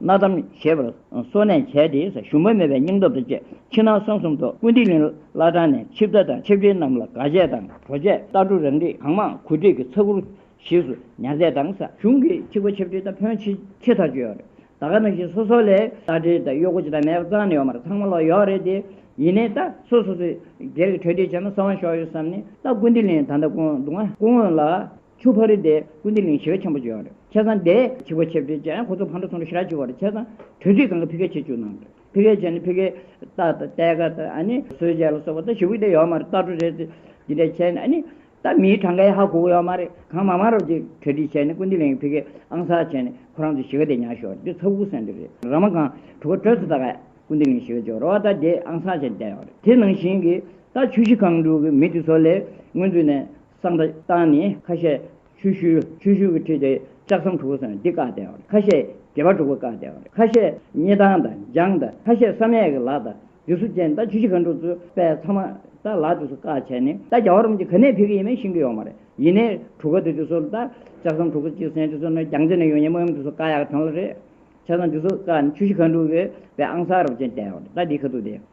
གནག་དམ་ཞེས་པར་གསོལ་ནས་བྱས་ཏེ་ཞུམ་པ་མེད་པའི་སྙིང་སྟོབས་དང་བཅས་ཕྱི་ནང་གསང་གསུམ་ཐོག་ཀུན་བྲིས་ལིང་གླ་དྲངས་ནས་ཆིབས་རྟ་དང་ཆིབས་བྲན་རྣམས་ལ་དགའ་ཆས་དང་བྲོ་ཆས་རྟ་གྲུ་རང་རིགས་གང་མང་གོད་སྒྲིག་གི་ཚ་གུར་ཞིག་སུ་ཉར་མཛད་དང་ས་གཞུང་གི་ཆིབས་ཁ་ཆིབས་བྲན་རྟ་ཕོན་ཆེ་ཆེ་ཐག་གཅོད་ཡོད་རེད་ད་ག་ནང་བཞིན་སོ་སོ་ལས་རྟ་དྲེལ་དང་གཡོག་གོ་ཅི་དང་མེད་པ་གཙང་ནས་ཡོད་མ་རེད་ཚང་མ་ལོག་ཡོད་རེད་དེ་ཡིན་ནའི་རྟ་སོ་སོ་སུ་སྒེར་གྱི་གྲོས་འདྲིས་བྱས་ན་གསང་བ་ཤོག་ཡོད་བསམ་ནས་རྟ་ཀུན་བྲིས་ལིང་ད་ལྟ་སྐུ་ངོ་ལ། ཆུ་ཕག་རི་དེ་ཀུན་བདེ་གླིང་ཞི་བ་ཆེན་པོ་བརྗོད་ཡོད་རེད་ཁྱེད་རང་དེ་ཆུ་ཕག་ཆེ་བསྟོད་བྱས་ཡང་ཁོ་ཚོ་ཕར་འགྲོ་ཚུར་འགྲོ་ཞི་རགས་བྱེད་དགོས་རེད་ཁྱེད་རང་དྲོད་ཚིགས་ཚང་གི་ཕི་ཀའི་ཆེད་བཅུག་གནང་རོགས་ཕི་ཀའི་ཆེད་ནི་ཕི་ཀའི་རྟ་དང་རྟའི་ཁ་དང་ཨ་ནི་སོས་ཆས་ལ་སོགས་པ་དང་ཞི་བུག་དེ་ཡོད་མ་རེད་རྟ་གྲོ་རེད་དེ་འདྲས་བྱས་ནས་ཨ་ནི་ད་མིའི་གྲངས་ཀ་ཡང་ཧ་གོ་གོ་ཡོད་མ་རེད་གང་མང་མང་རོགས་ཀྱི་གྲ་སྒྲིག་བྱས་ནས་ཀུན་བདེ་གླིང་གི་ཕི་ཀའི་ཨང་གསར་བྱས་ནས་ཁོ་རང་ཚོའི་ཞི་བ་དེ་ཉར་ཞོར་དེ་ཚ་བུག་སེང་དེ་རེད་རང་མ་གང་གྲུ་ཁ་དྲོད་ཚིགས་ད་གས་ཀུན་བདེ་གླིང་ཞི་བ་བརྗོད་རོགས་རྟ་དེ་ཨང་གསར་བྱས་ནས་བསྡད་ཡོད་རེད་དེ་ནང་བཞིན་གྱི་རྟ་ཆུ་བཞི་གང་འགྲུག་གི་མི་དེ་ཚོ་ལས་སྔོན་ཚུད་ནས། བསམ་པ་བཏང་ནས་ཁ་ཤས་ཆུ་ཤུལ་ཆུ་ཤུལ་གྱི་ཁྲིད་དེ་ལྕགས་ཟམ་དྲུག་པོ་སོན་འདི་བཀག་སྟེ་ཁ་ཤས་དགེ་བ་དྲུག་པོ་བཀག་སྟེ་ཁ་ཤས་སྙེ་ཐང་དང་འཇང་དང་ཁ་ཤས་བསམ་ཡས་ཀྱི་ལག་དང་རྗེས་སུ་ཅན་རྟ་ཆུ་བཞི་མཁའ་འགྲོ་ཚུལ་དཔལ་ཚང་མ་རྟ་ལག་དུས་སུ་བཀག་བྱས་ནས་རྟ་རྒྱ་བ་རུམ་གྱི་ག་ནས་ཕེབས་ཀྱི་ཡིན་མིན་ཤེས་ཀྱི་ཡོག་མ་རེད་ཡིན་ནས་གྲུ་ག་དུས་སུ་རྟ་ལྕགས་ཟམ་དྲུག་པོ་གཅིག་སེང་ཁྲི་སོ་ནས་རྒྱང་ཚིགས་ནས་ཡོང་ཉིན་མོ་ཡོམ་དུས་སུ་བཀག་ཡག་དོན་ལ་རེད་ཆ་ཚང་དུས་སུ་བཀག་ནས་ཆུ་བཞི་མཁའ་འགྲོ་གྱི་དཔལ་ཨང་གསར་རུབ་ཅན་བསྡད་རྟ་འདིའི་ཁ་ཐུག་དེ།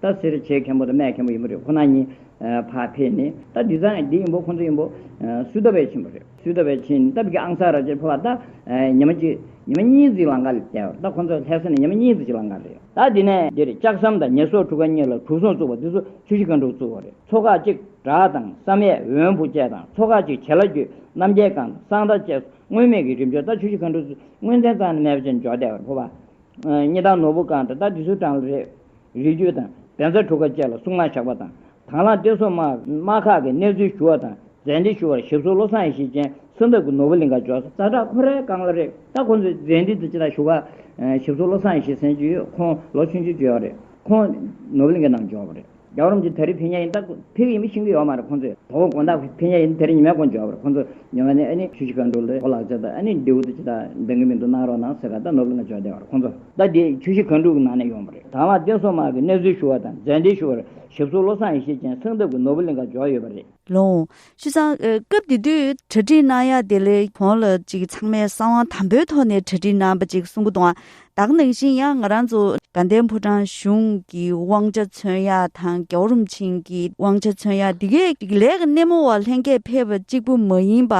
ད་སེར་བྱེས་མཁན་པོ་དང་སྨད་མཁན་པོ་ཡིན་པོ་རེད་ཁོ་ན་གཉིས། ཕ་ཕེ་ནི་ད་འདི་ཚང་འདི་ཡིན་པོ་ཁོང་ཚོ་ཡིན་པོ། སུ་ད་བས་ཆེན་པོ་རེད་སུ་ད་བས་ཆེན་ད་བི་ཀི་ཨང་སར་ར་ཇེ་ཕོ་བ་ད་ཉི་མ་གཅིག་ཉི་མ་གཉིས་རྫིག་ལང་ཀ་ལས་བསྡད་བ་ད་ཁོང་ཚོ་ལྷས་ས་ནས་ཉི་མ་གཉིས་རྫིག་ལང་ཀ་རེད། ད་འདི་ནས་འདིར་ལྕགས་ཟམ་དང་ཉེས་གསོག་གྲུ་ཁ་གཉིས་ལ་དྲུག་ཟུང་བཙུགས་པ་འདི་ཚོ་ཆུ་བཞི་ཁ་འབྲུག་བཙུགས་བ་རེད་ཚོ་ཁག་གཅིག་བྲག་དང་བསམ་ཡས་འོན་བུ་བཅས་དང་ཚོ་ཁག་གཅིག་བྱེ་ལ་རྒྱུད་རྣམ་རྒྱལ་སྒང་དང་གསང་བདག་བཅས་སོ་དངོས་མེད་ཀྱི་རིམ་འབྱོར་ད་ཆུ་བཞི་ཁ་འབྲུག་བཙུགས་དངོས་ཚན་གཙང་ནས་སྨད་བཅས་འཇོག་བསྡད་བ་རེད་ཕོ་བ། གཉིས་དང་ནོར་བུ་སྒང་དང་ད་འདི་ཚོའི་གྲངས་ལ་རེད། རིགས་རྒྱུད་དང་གདན་ས་གྲུ་ཁ་བཅས་ལ་གསུང་སྔགས་བྱ་བ་དང། དྭང་བླངས་བསྟན་སྲུང་དམག་ཁག་གི་གནས་ཚུལ་ཞུ་བ་དང་མཛད་འཕྲིན་ཞུ་བར་ཞབས་སོར་བློ་བཟང་ཡེ་ཤེས་ཅན་གསོལ་འདེབས་ཀྱི་ནོར་བུ་ལིང་ག་འཇོག། ཟ་བྲག་ཁོ་རའི་རྐང་ལ་རེད་ད་ཁོང་ཚོས་མཛད་འཕྲིན་དེ་ཅི་ལྟར་ཞུ་བ། ཞབས་སོར་བློ་བཟང་ཡེ་ཤེས་ཟེར་གྱི་ཁོང་ལོ་ཆུང་ཆུང་བརྗོད་ཡོད་རེད་ཁོང་ནོར་བུ་ལིང་གའི་ནང་འཇོག་པ་རེད་རྒྱ་གོར་རོམ་གྱི་དར་རིས་ཕེ་ཉག་ཡིན་ད་ཕེ་གི་ཡིན་མི་ཤེས་གི་ཡོད་མ་རེད་ཁོང་ཚོས་དོ་དགོང་ད་ཕེ་ཉག་ཡིན་དེ་རིང་ཉི་མའི་དགོང་འཇོག་པ་རེད་ཁོང་ཚོས་ཉི་མ་ནས་ཨ་ནི་ཆུ་བྱི་ཁ་འགྲོ་ལོས་ཁོ་ལག་ཅག་ད་ཨ་ནི་མདེའུ་དེ་ཅི་ལྟར་འདེང་གི་མིན་འདུག་གནང་རོགས་གནང་ཟེར་ག་ད་ནོར་བུ་ལིང་ག་འཇོག་བསྡད་པ་རེད་ཁོང་ཚོ། ཟླ་འདིའི་བཅུ་བཞི་གངས་ཕྲུག་གི་ནང་ནས་ཡོང་བ་རེད། ད་བར་བསྟན་སྲུང་དམག་གི་གནས་ཚུལ་ཞུ་བ་དང་མཛད་འཕྲིན་ཞུ་བར་ཞིབ་བཟོ་བློ་བཟང་ཡེ་ཤེས་ཅན་སེང་འདབ་ཀྱི་ནོར་བུ་གླིང་ཁར་འབྱོར་ཡོད་པ་རེད། ལོངས། ཤུལ་ཚང། སྐབས་དེ་དུས་གྲ་སྒྲིག་གནང་ཡག་དེ་ལས་གོང་ལ་ཅིག་ཚང་མས་བསམ་དབང་དམ་པོའི་ཐོག་ནས་གྲ་སྒྲིག་གནང་པ་ཅིག་གསུང་གི་འདུག་དག་ནང་བཞིན་ཡང་ང་རང་ཚོ་དགའ་ལྡན་ཕོ་བྲང་གཞུང་གི་དབང་ཆ་མཚོན་ཡག་དང་རྒྱ་བོ་རུམ་ཆེན་གྱི་དབང་ཆ་མཚོན་ཡག་འདི་གས་ལས་ཀ་སྣེ་མོ་བ་ལྷན་རྒྱས་ཕེབས་པ་གཅིག་པུ་མ་ཡིན་པ་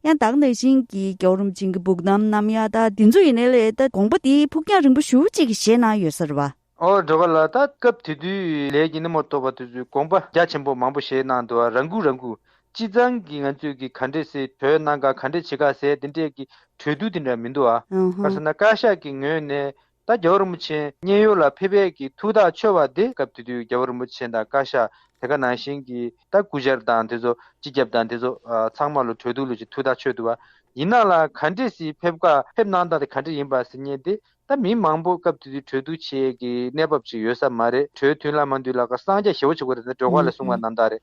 ཡང་དག་ནས་བཞིན་གྱི་རྒྱའུ་རུམ་བྱིངས་ཀྱི་སྦུག་དམ་ནམ་ཡ་ད་དེ་ཚོ་ཡིན་ནའི་ལས་ད་དགོངས་པ་དེའི་ཕུགས་རྒྱང་རིང་པོ་ཞུ་གཅིག་གི་ཞེད་ནང་ཡོད་ཟེར་བ། ཨོ་འགྲོ་བ་ལ་ད་སྐབས་དེ་དུས་ལས་ཀྱི་སྣེ་མོ་ཐོབ་པ་དེ་ཚོས་དགོངས་པ་རྒྱ་ཆེན་པོ་མང་པོ་བཞེས་གནང་འདུག་རང་འགུགས་རང་འགུགས་ཅི་ཙང་གི་ང་ཚོས་གི་ག་འདྲེ་སི་གྲོས་གནང་ག་ག་འདྲེ་བྱེད་ག་ཟེ་དེ་འདྲས་གི་གྲོས་བསྡུར་དེ་འདྲ་མི་འདུག་ཨ། ག་ས་ན་བཀའ་ཤག་གི་ངོས་ནས་ད་རྒྱ་བོད་རིན་པོ་ཆེ་མཉན་ཡོད་ལ་ཕེབས་ཡས་ཀྱི་ཐུགས་ཐག་ཆོད་པ་དེ་སྐབས་དེ་དུས་རྒྱ་བོད་རིན་པོ་ཆེ་དང་བཀའ་ཤག་དེ་ག་ནང་བཞིན་གྱི་ད་སྐུ་བཞར་དང་དེ་ཚོ་སྤྱི་ཁྱབ་དང་དེ་ཚོ་ཚང་མ་ལོ་གྲོས་བསྡུར་ལོ་ཅིག་ཐུགས་ཐག་ཆོད་འདུག་བ་ཡིན་ན་ལ་ག་འདྲེ་སི་ཕེབས་བཀའ་ཕེབས་གནང་སྟངས་དེ་ག་འདྲེ་ཡིན་པ་སི་ཉན་དེ་ད་མི་མང་པོ་སྐབས་དེ་དུས་གྲོས་བསྡུར་བྱེད་ཡས་ཀྱི་གནས་བབ་ཅིག་ཡོད་ས་མ་རེད་གྲོས་མཐུན་ལ་མ་འདུས་ལ་ག་སངས་རྒྱ་ཞེ་བོ་ཆེ་གོ་རེ་ད་འགྲོ་བཀའ་ལ་གསུང་བ་རྣམས་དག་རེད་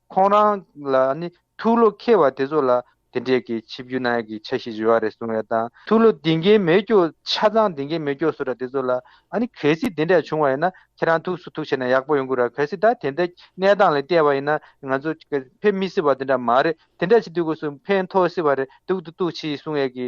ཁོང་རང་ལ་ནི་ཐུགས་བློ་ཁེལ་བ་དེ་ཚོ་ལ་དེ་འདྲས་ཀྱི་ཆིབས་བརྒྱུད་ནག་གི་ཆ་ཞིག་རི་བ་རེད་གསུང་བའི་དང་ཐུགས་བློ་འདི་འགའི་མེད་སྐྱོ་ཆ་ཚང་འདི་འགའི་མེད་སྐྱོ་གསུ་ར་དེ་ཚོ་ལ་ཨ་ནི་གལ་སྲིད་དེ་འདྲས་བྱུང་བ་ཡིན་ན་ཁྱེད་རང་ཐུགས་སུ་ཐུགས་ཆེ་ན་ཡག་པོ་ཡོང་གི་ར་གལ་སྲིད་ད་དེ་འདྲས་གནས་སྟངས་ལས་བལྟས་བ་ཡིན་ན་ང་ཚོ་ཕེབས་མི་སྲིད་བ་དེ་འདྲ་མ་རེད་དེ་འདྲས་བྱེད་དུས་སྒོས་སུ་ཕན་ཐོགས་སྲིད་བ་རེད་འདུག་འདུག་འདུག་ཕྱིས་གསུང་ཡས་ཀྱི་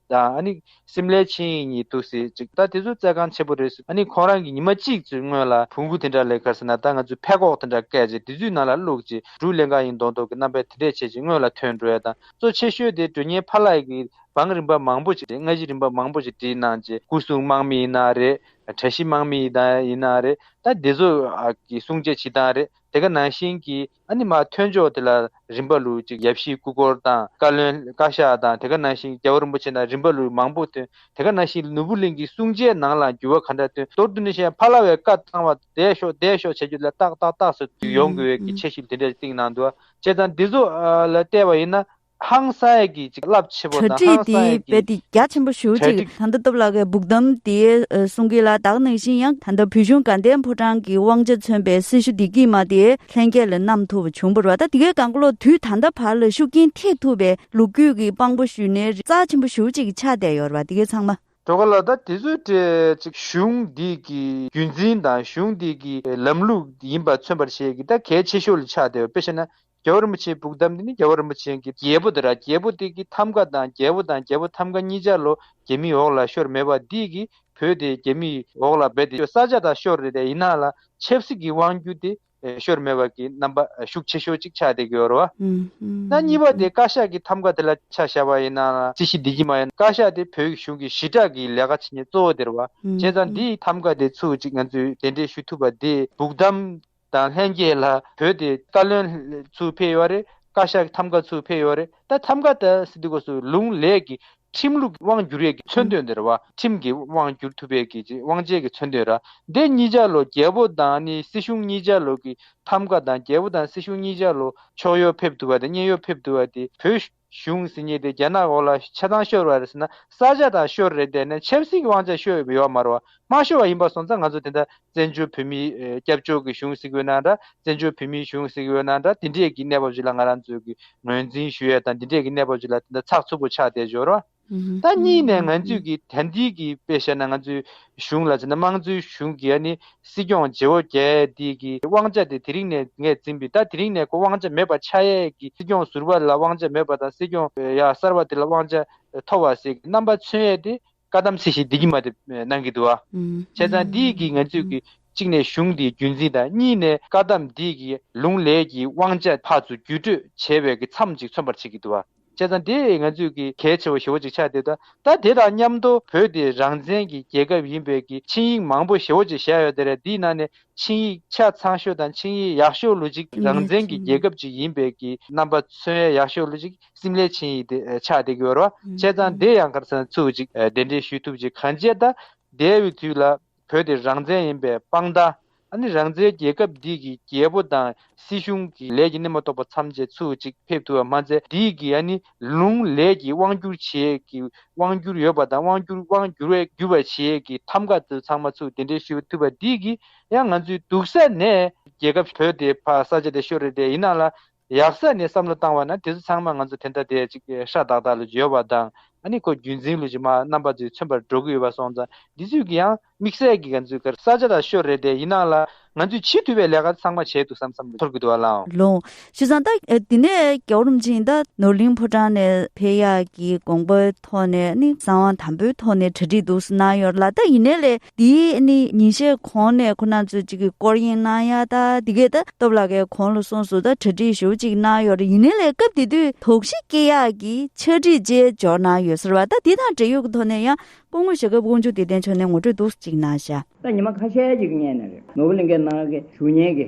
དང་ཨ་ནི། སིམ་ལའི་ཆིངས་ཡིག་གཉིས་འདུག་ཟེར་ཅིག་ད་དེ་ཚོ་རྩལ་ཁང་ཆེན་པོ་རེད་ཟེར་ཨ་ནི་ཁོང་རང་གི་ཉི་མ་གཅིག་ཚོའི་སྔོན་ལ་བུ་གུ་དེ་འདྲ་ལས་ཁར་ཟེར་ན་ད་ང་ཚོས་ཕད་ཀོག་དེ་འདྲ་བཀལ་ཅིག་དེ་ཚོའི་ནང་ལ་བླུགས་ཅིག་དྲུག་ལེན་གང་ཡིན་མདོག་མདོག་གི་རྣམ་པས་དེ་འདྲས་བྱེད་ཅིག་སྔོན་ལ་ཐོན་འགྲོ་ཡ་དང་གཙོ་ཆེ་ཤོས་དེ་དྲོད་ཉེན་ཕར་ལགས་ཀྱི་བང་རིམ་པ་མང་པོ་ཞིག་རེད་སྔ་གཞི་རིམ་པ་མང་པོ་ཞིག་བྲིས་གནང་ཅིག་སྐུ་སྲུང་དམག་མི་ཡིན་ན་རེད། གྲལ་བཤིག་དམག་མི་ཡིན་ན་རེད་ད་དེ་ཚོ་གི་སྲུང་བྱེད་བྱེད་སྟངས་རེད་དེ་ག་ནང་བཞིན་གྱིས། ཨ་ནི་མ་ཐོས་ཕྱོགས་དེ་ལ་རིམ་པ་ལུགས་གཅིག་ཡབ་གཞིས་སྐུ་འཁོར་དང་བཀའ་བློན་བཀའ་ཤག་དང་དེ་ག་ནང་བཞིན་རྒྱལ་བ་རིན་པོ་ཆེ་དང་རིམ་པ་ལུགས་མང་པོ་ཐོན་དེ་ག་ནང་བཞིན་ནོར་བུ་གླིང་གི་བསྲུང་བྱའི་ནང་ལ་འགྱུར་བ་ག་འདྲ་ཐོན་མདོར་བསྡུ་ནས་བཤད་ན་ཕ་ལ་བའི་བཀའ་བཏང་བ་བསྡད་ཤོག་བསྡད་ཤོག་བྱ་རྒྱུ་ལ་ཏག་ཏག་ཏག་སོ་དུས་ཡོང་དགོས་འི་གི་ཆེ་ཞིབ་དེ་འདྲ་ཅིག་གཏིང་ནང་དུ་བྱས་ཙང་འདི་ཚོ་ལ་བལྟས་པ་ཡིན་ན། ཧང་སངས་ཀྱིས་ཅིག་རླབས་ཆེ་པོ་གྲ་དང་སྒྲིག་ཧང་དེ་སངས་རྦད་ཀྱིས་དེ་རྒྱ་ཆེན་པོ་ཞུ་གྲ་ཅིག་སྒྲིག། ད་ལྟ་སྟོབས་ལགས་ཀྱི་སྦུག་དམ་དེའི་གསུང་གི་ལ་དྭགས་ནང་བཞིན་ཡང་ད་ལྟ་བོད་གཞུང་དགའ་ལྡན་ཕོ་བྲང་གི་དབང་ཆ་མཚོན་པའི་སྲི་ཞུ་བདེ་སྐྱིད་མ་དེ་ལྷན་རྒྱས་ལ་གནམ་ཐུབ་པ་བྱུང་བར་བ་ད་དེ་གའི་དགའ་བློ་དུས་ད་ལྟ་བར་ལ་ཤུགས་རྐྱེན་ཐེག་ཐུབ་པའི་ལུགས་རྒྱུད་ཀྱི་དཔང་པོ་ཞུ་ནའི་རྩ་ཆེན་པོ་ཞུ་ཅིག་ཆགས་བསྡད་ཡོད་བ་དེ་གའི་ཚང་མ། གྲོ་ག་ལ་ད་དེ་ཚོའི་གྲས་ཅིག་གཞུང་འདི་གི་རྒྱུན་འཛིན་དང་གཞུང་འདི་གི་ལམ་ལུགས་ཡིན་པ་མཚོན་པར་བྱེད་ཀྱི་ད་གལ་ཆེ་ཤོས་ལ་ཆགས་བསྡད་བ་དཔེ་བཤད་ན་རྒྱལ་བ་རིན་པོ་ཆེའི་བུག་གདམས་འདི་ནི་རྒྱལ་བ་རིན་པོ་ཆེན་གྱི་རྒྱལ་པོ་དེ་ར་རྒྱལ་པོ་དེ་གི་ཐམ་ག་དང་རྒྱལ་པོ་དང་རྒྱལ་པོ་ཐམ་ག་གཉིས་འཇའ་ལོ་རྒྱལ་མིའི་འོག་ལ་ཤོར་མེད་པ་འདི་གི་བུ་དེ་རྒྱལ་མིའི་འོག་ལ་སྦས་ཏེ་ས་ཆ་དང་ཤོར་རེ་རེ་ཡིན་ན་ལ་ཆབ་སྲིད་ཀྱི་དབང་བརྒྱུད་དེ་ཤོར་མེད་པ་གི་རྣམ་པ་ཤུགས་ཆེ་ཤོས་གཅིག་ཆགས་ཏེ་གི་འོར་བ་ན་གཉིས་པ་དེ་བཀའ་ཤག་གི་ཐམ་ག་དེ་ལ་ཆ་བཞག་པ་ཡིན་ན་ལ་རྩིས་གཞི་འདི་གི་མ་ཡིན་བཀའ་ཤག་དེ་བོད་གཞུང་གི་ཞི་དྲག་གི་ལས་ཀ་བྱེད་ཉེ་གཙོ་བོ་དེར་བ་བྱས་ཙང་འདིའི་ཐམ་ག་དེ་ཚུལ་གཅིག་ང་ཚོས་དེ་འདྲས་ཞུ་ཐུབ་པ་དེ་བུག་གདམས་དང་ལྷན་རྒྱས་ལ་བོད་དེ་བཀའ་བློན་ཚུར་ཕེབས་ཡོད་རེད་བཀའ་ཤག་ཐམ་ག་ཚུར་ཕེབས་ཡོད་རེད་ད་ཐམ་ག་ད་སི་ཏི་གོ་སུ་ལུང་ལས་ཀྱི་ཁྲིམས་ལུགས་ཀྱི་དབང་བསྒྱུར་ཡས་ཀྱི་མཚོན་དོན་དེར་བ་ཁྲིམས་ཀྱི་དབང་བསྒྱུར་ཐུབ་པའི་ཀྱི་དབང་ཆའི་ཀྱི་མཚོན་དོན་ར་འདི་གཉིས་ཆ་ལོ་རྒྱལ་པོ་དང་ནི་སྲིད་གཞུང་གཉིས་ཆ་ལོ་ཀྱི་ཐམ་ག་དང་རྒྱལ་པོ་དང་སྲིད་གཞུང་གཉིས་ཆ་ལོ་ཕྱོགས་ཡོ་ཕེབས་ཐུབ་པ་དང་གཉེན་ཡོ་ཕེབས་ཐུབ་པ་དེ་བོད་གཞུང་ཟིན་གཉིས་ཏེ་རྒྱ་ནག་འོག་ལ་ཆ་ཚང་ཤོར་བ་རེད་ཟེར་ན་ས་ཆ་དང་ཤོར་རེད་བསྡད་ནས་ཆབ་སྲིད་ཀྱི་དབང་ཆ་ཤོར་ཡོད་བ་མ་རོ། མ་ཤོར་བ་ཡིན་པ་སོང་ཙང་ང་ཚོ་དེ་འདྲ་བཙན་བྱོལ་བོད་མིའི་སྐྱབས་བཅོལ་གྱི་གཞུང་ཟིག་ཡོད་ན་འདྲ་བཙན་བྱོལ་བོད་མིའི་གཞུང་ཟིག་ཡོད་ན་འདྲ་དེ་འདྲས་ཀྱི་གནས་བབ་ཅིག་ལ་ང་རང་ཚོས་ཀྱི་ངོས་འཛིན་ཞུ་ཡས་དང་དེ་འདྲས་ཀྱི་གནས་བབ་ཅིག་ལ་དེ་འདྲ་ཚགས་ཚུད་པོ་ཆགས་བསྡད་འབྱོར་བ། ད་གཉིས་ནས་ང་ཚོས་ཀྱི་ད་འདིའི་གི་དཔེ་བཤད་ན་ང་ཚོའི་གཞུང་ལ་མཚོན་ན་དམངས་གཙོའི་གཞུང་གི་ཡ་ནི་སྲིད་སྐྱོང་ཇེ་བོ་རྒྱས་འདིའི་གི་དབང་ཆ་དེ་དེ་རིང་ནས་ངས་འཛིན་པའི་ད་དེ་རིང་ནས་ཁོ་དབང་ཆ་མེད་པ་ཆགས་ཡས་གི་སྲིད་སྐྱོང་ཟུར་བ་ལ་དབང་ཆ་མེད་པ་དང་སྲིད་སྐྱོང་ཡ་གསར་བ་དེ་ལ་དབང་ཆ་མཐོ་བ་ཟེར་གི་རྣམ་པ་མཚོན་ཡས་དེ་བཀའ་གདམས་ཚིག་ཞིག་འདི་གི་མ་དེ་གནང་གི་འདུག་བྱས་ཙང་འདིའི་གི་ང་ཚོས་གི་གཅིག་ནས་གཞུང་འདིའི་རྒྱུན་འཛིན་དང་གཉིས་ནས་བཀའ་གདམས་འདིའི་གི་ལུང་ལས་གི་དབང་ཆ་ཕར་ཚུར་བརྒྱུད་སྤྲོད་བྱས་པའི་གི་མཚམས་ཅིག་མཚོན་པར་བྱེད་ཀྱི་འདུག་བ། བྱས་ཙང་དེ་ང་ཚོས་གི་གལ་ཆེ་བ་ཞེ་བོ་ཅིག་ཆགས་བསྡད་ད། ད་དེ་དང་མཉམ་དུ་བོད་དེ་རང་བཙན་གི་རྒྱལ་ཁབ་ཡིན་པས་གི་ཆིངས་ཡིག་མང་པོ་ཞེ་བོ་ཅིག་བཞག་ཡོད་ད་རེད་འདིའི་ནང་ནས་ཆིངས་ཡིག་ཆ་ཚང་ཤོས་དང་ཆིངས་ཡིག་ཡག་ཤོས་ལུ་ཅིག་རང་བཙན་གི་རྒྱལ་ཁབ་ཅིག་ཡིན་པས་གི་རྣམ་པ་མཚོན་ཡ་ཡག་ཤོས་ལུ་ཅིག་སིམ་ལའི་ཆིངས་ཡིག་དེ་ཆགས་བསྡད་གི་ཡོད་རོ། བྱས་ཙང་དེ་ཡང་ཁར་སང་ཚུགས་ཅིག་གདན་འདྲེན་ཞུས་ཐུབ་ཅིག་གང་བྱས་ད། འདས་བའི་དུས་ལ་བོད་དེ་རང་བཙན་ཡིན་པའི་དཔང་རྟགས་ཨ་ནི་རང་བཙན་རྒྱལ་ཁབ་འདི་གི་རྒྱལ་པོ་དང་སྲིད་གཞུང་གི་ལས་ཀྱི་སྣེ་མ་གཏོགས་པ་མཚམས་ཆད་ཚུལ་ཅིག་ཕེབས་ཐུབ་པ་མ་ཚད་འདི་གི་ཨ་ནི་ལུང་ལས་ཀྱི་དབང་བསྒྱུར་བྱེད་ཀྱི་དབང་བསྒྱུར་ཡོད་པ་དང་དབང་བསྒྱུར་དབང་བསྒྱུར་བས་བསྒྱུར་བར་བྱེད་ཀྱི་ཐམ་ག་དུ་ཚང་མ་ཚུལ་དེ་འདྲས་ཞུ་ཐུབ་པ་འདི་གི་ཡང་ང་ཚོའི་སྡུག་ས་ནས་རྒྱལ་ཁབ་བོད་དེ་ཕ་ས་ཆ་དེ་ཤོ་རེ་དེ་ཡིན་ན་ལ་ཡབ་སྲས་ནས་བསམ་བློ་བཏང་བ་ན་དེ་ཚོ་ཚང་མ་ང་ཚོ་དེ་འདྲ་དེ་ཅིག་ཧྲ་ཏག་ཏག་ལ་བརྗོད་པ་དང་ཨ་ནི་ཁོ་རྒྱུད་འཛིན་ལུས་ཀྱི་མ་རྣམ་པ་ཚོས་མཚོན་པར་འགྲོ་གི་ཡོད་པ་སོང་ཙང་འདི་ཚོས་ཀྱི་ཡང་དམིགས་བསལ་གྱི་ང་ཚོའི་གར་ས་ཆ་དང་ཤོ་རེད་དེ་ཡིན་ནང་ལ་ང་ཚོས་བྱེད་ཐུབ་པའི་ལས་ཀ་ཚང་མ་བྱས་འདུག་བསམ་བསམ་ཚོར་གི་འདུག་ཨ་ལའོ། ལོང། ཞུ་ཙང་ད་དེ་ནས་རྒྱ་བོ་རུམ་ཅིང་ད་ནོར་གླིང་ཕོ་བྲང་ནས་འཕེལ་ཡག་གི་དགོངས་པའི་ཐོག་ནས་ཨ་ནི་གསང་བ་དམ་པོའི་ཐོག་ནས་གྲ་སྒྲིག་འདུག་སུ་གནང་ཡོད་ར་ལ་ད་ཡིན་ནའི་ལས་དེ་ནི་ཉིན་ཤས་གོང་ནས་ཁོ་ནར་ཚོད་ཅིག་གི་སྐོར་གཡེང་གནང་ཡ་ད་དེ་གས་ད་སྟོབས་ལགས་ཀས་གོང་ལ་སོང་སུ་ད་གྲ་སྒྲིག་ཞུ་ཅིག་གནང་ཡོད་རེད་ཡིན་ནའི་ལས་སྐབས་དེ་དུས་དོགས་གཞི་སྐྱེ་ཡག་གི་ཕྱག་བྲིས་བཅས་འབྱོར་གནང་ཡོད་ཟེར་བ་ད་དེ་དང་འབྲེལ་ཡོད་ཀྱི་ཐོག་ནས་ཡང་སྐུ་ངོ་ཞེས་སྐབས་དགོངས་འཇུག་དེ་ལྡན་ཆོག་ནས་ངོ་སྤྲོད་འདུག་ཅིག་གནང་བྱ། ད་ཉི་མ་ཁ་ཤས་ཅིག་བསྙད་ནས་རེད་ནོར་བུ་གླིང་ཁའི་ནང་གི་ཞུ་སྙན་གྱི་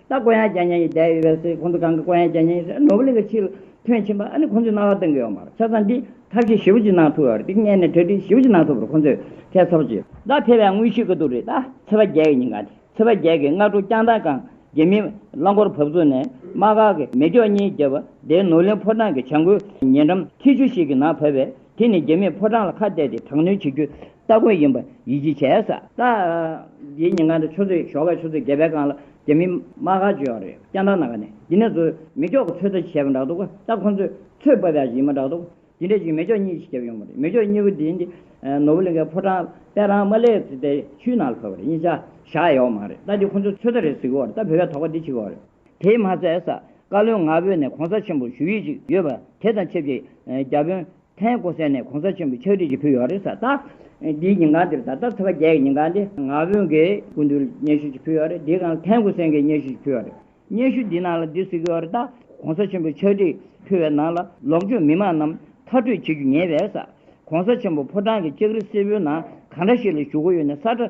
ད་དཀོན་ཡང་རྒྱ་ཉན་ཡི་བསྡད་ཡོད་པས་སེ་ཁོང་ཚོ་གང་གི་དཀོན་ཡང་རྒྱ་ཉན་ཡི་ནོར་བུ་གླིང་གི་ཕྱི་ལ་ཐོན་ཕྱིན་པ་ཨ་ནི་ཁོང་ཚོས་རྣ་བར་གཏོང་གི་ཡོད་མ་རེད་ཆ་ཚང་འདི་ཐབས་ཤེས་ཞིབ་ཅིག་གནང་ཐུབ་ཡོད་རེད་འདི་བརྙན་ནས་གྲ་སྒྲིག་ཞིབ་ཅིག་གནང་ཐུབ་པར་ཁོང་ཚོས་ཐད་ཚོར་ཅི། ད་ཐེ་བའི་དངོས་ཤུགས་ཀྱི་དུག་རེད་ད་ཚེ་བ་རྒྱལ་གྱི་ཉིན་གང་དེ་ཚེ་བ་རྒྱལ་གྱི་སྔ་དྲོ་སྐྱང་ཐང་གངས་རྒྱལ་མི་རླངས་འཁོར་བབས་ཚུགས་ནས་དམག་སྒར་གྱི་མེ་སྒྱོགས་གཉིས་བརྒྱབ་པ་དེའི་ནོར་གླིང་ཕོ་བྲང་གི་བྱང་ཁུལ་ཉེ་འགྲམ་ཐིག་ཆུ་ཞིག་གི་ནང་བབས་པས་དེ་ནི་རྒྱ་མིས་ཕོ་བྲང་ལ་ཁ་གཏད་དེ་དྲག་གནོན་བྱེད་རྒྱུ་སྟ་གོན་ཡིན་པ་ཡིད་ཆེས་བྱས་ས། ད་ལྟའི་ཉིན་གང་དུ་ཆུ་ཚོད་ཞོགས་པའི་ཆུ་ཚོད་བརྒྱད་པའི་སྒང་ལ་རྒྱ་མིས་དམག་ཁ་བྱོས་བ་རེད་སྐྱ་འདར་ནང་ཁ་ནས་འདི་ནས་ཚོས་མེ་སྒྱོགས་ཀྱི་ཚོད་ལྟ་བྱས་པ་འདྲ་འདུག་ག་ད་ཁོང་ཚོས་ཚོད་དཔག་བྱ་བཞིན་པ་འདྲ་འདུག་དེ་འདྲས་ཅིག་མེ་སྒྱོགས་གཉིས་ཤིག་བརྒྱབ་ཡོང་བ་རེད་མེ་སྒྱོགས་གཉིས་པོ་དེ་འདི་ནོར་བུ་གླིང་ཁའི་ཕོ་བྲང་དཔལ་རང་མ་ལེགས་ཚེ་བརྟན་ཆུའི་ནང་ལ་འཕོས་བ་རེད་གཉིས་ཆ་བཞག་ཡོད་མང་རེད་ད་འདི་ཁོང་ཚོས་ཚོད་ལྟ་རེད་ཟེར་གི་བ་རེད་ད་བོད་པའི་དོགས་པ་འདི་བྱེད་གི་བ་རེད། དེས་མ་ཚད་ས་བཀའ་བློན་ང་བོད་ནས་གོང་ས་ཆེན་པོར་ཞུ་ཡིག་ཅིག་ཡོད་པ་དེ་དང་ཆབས་ཅིག་རྒྱ་དཔོན་ཐན་ཀོ་སན་ནས་གོང་ས་ཆེན་པོར་ཕྱག་བྲིས་ཅིག་ཕུལ་ཡོད་རེད་ད་ལྟ་འདིའི་ཉིན་གང་འདིར་ད་ལྟ་ཚེས་པ་བརྒྱད་ཀྱི་ཉིན་གང་འདི་ང་བོན་གྱི་སྐུ་མདུན་ལ་སྙན་ཞུ་ཅིག་ཕུལ་ཡོད་རེད་འདིའི་གང་ལ་ཐན་ཀོ་སན་གྱིས་སྙན་ཞུ་ཅིག་ཕུལ་ཡོད་རེད་སྙན་ཞུ་འདིའི་ནང་ལ་འདི་གཟིགས་ཡོད་རེད་ད་གོང་ས་ཆེན་པོས་ཕྱག་བྲིས་ཕུལ་བའི་ནང་ལ་ལོག་སྤྱོད་མི་མང་རྣམས་མཐར་སྤྲོད་བྱེད་རྒྱུ་ཉེས་པས་ས་གོང་ས་ཆེན་པོ་ཕོ་བྲང་གི་ལྕགས་རི་སེར་པོའི་ནང་གང་འདྲ་ཞིག་ལ་བཞུགས་སྒོ་ཡོད་ནས་ས་ཁྲ་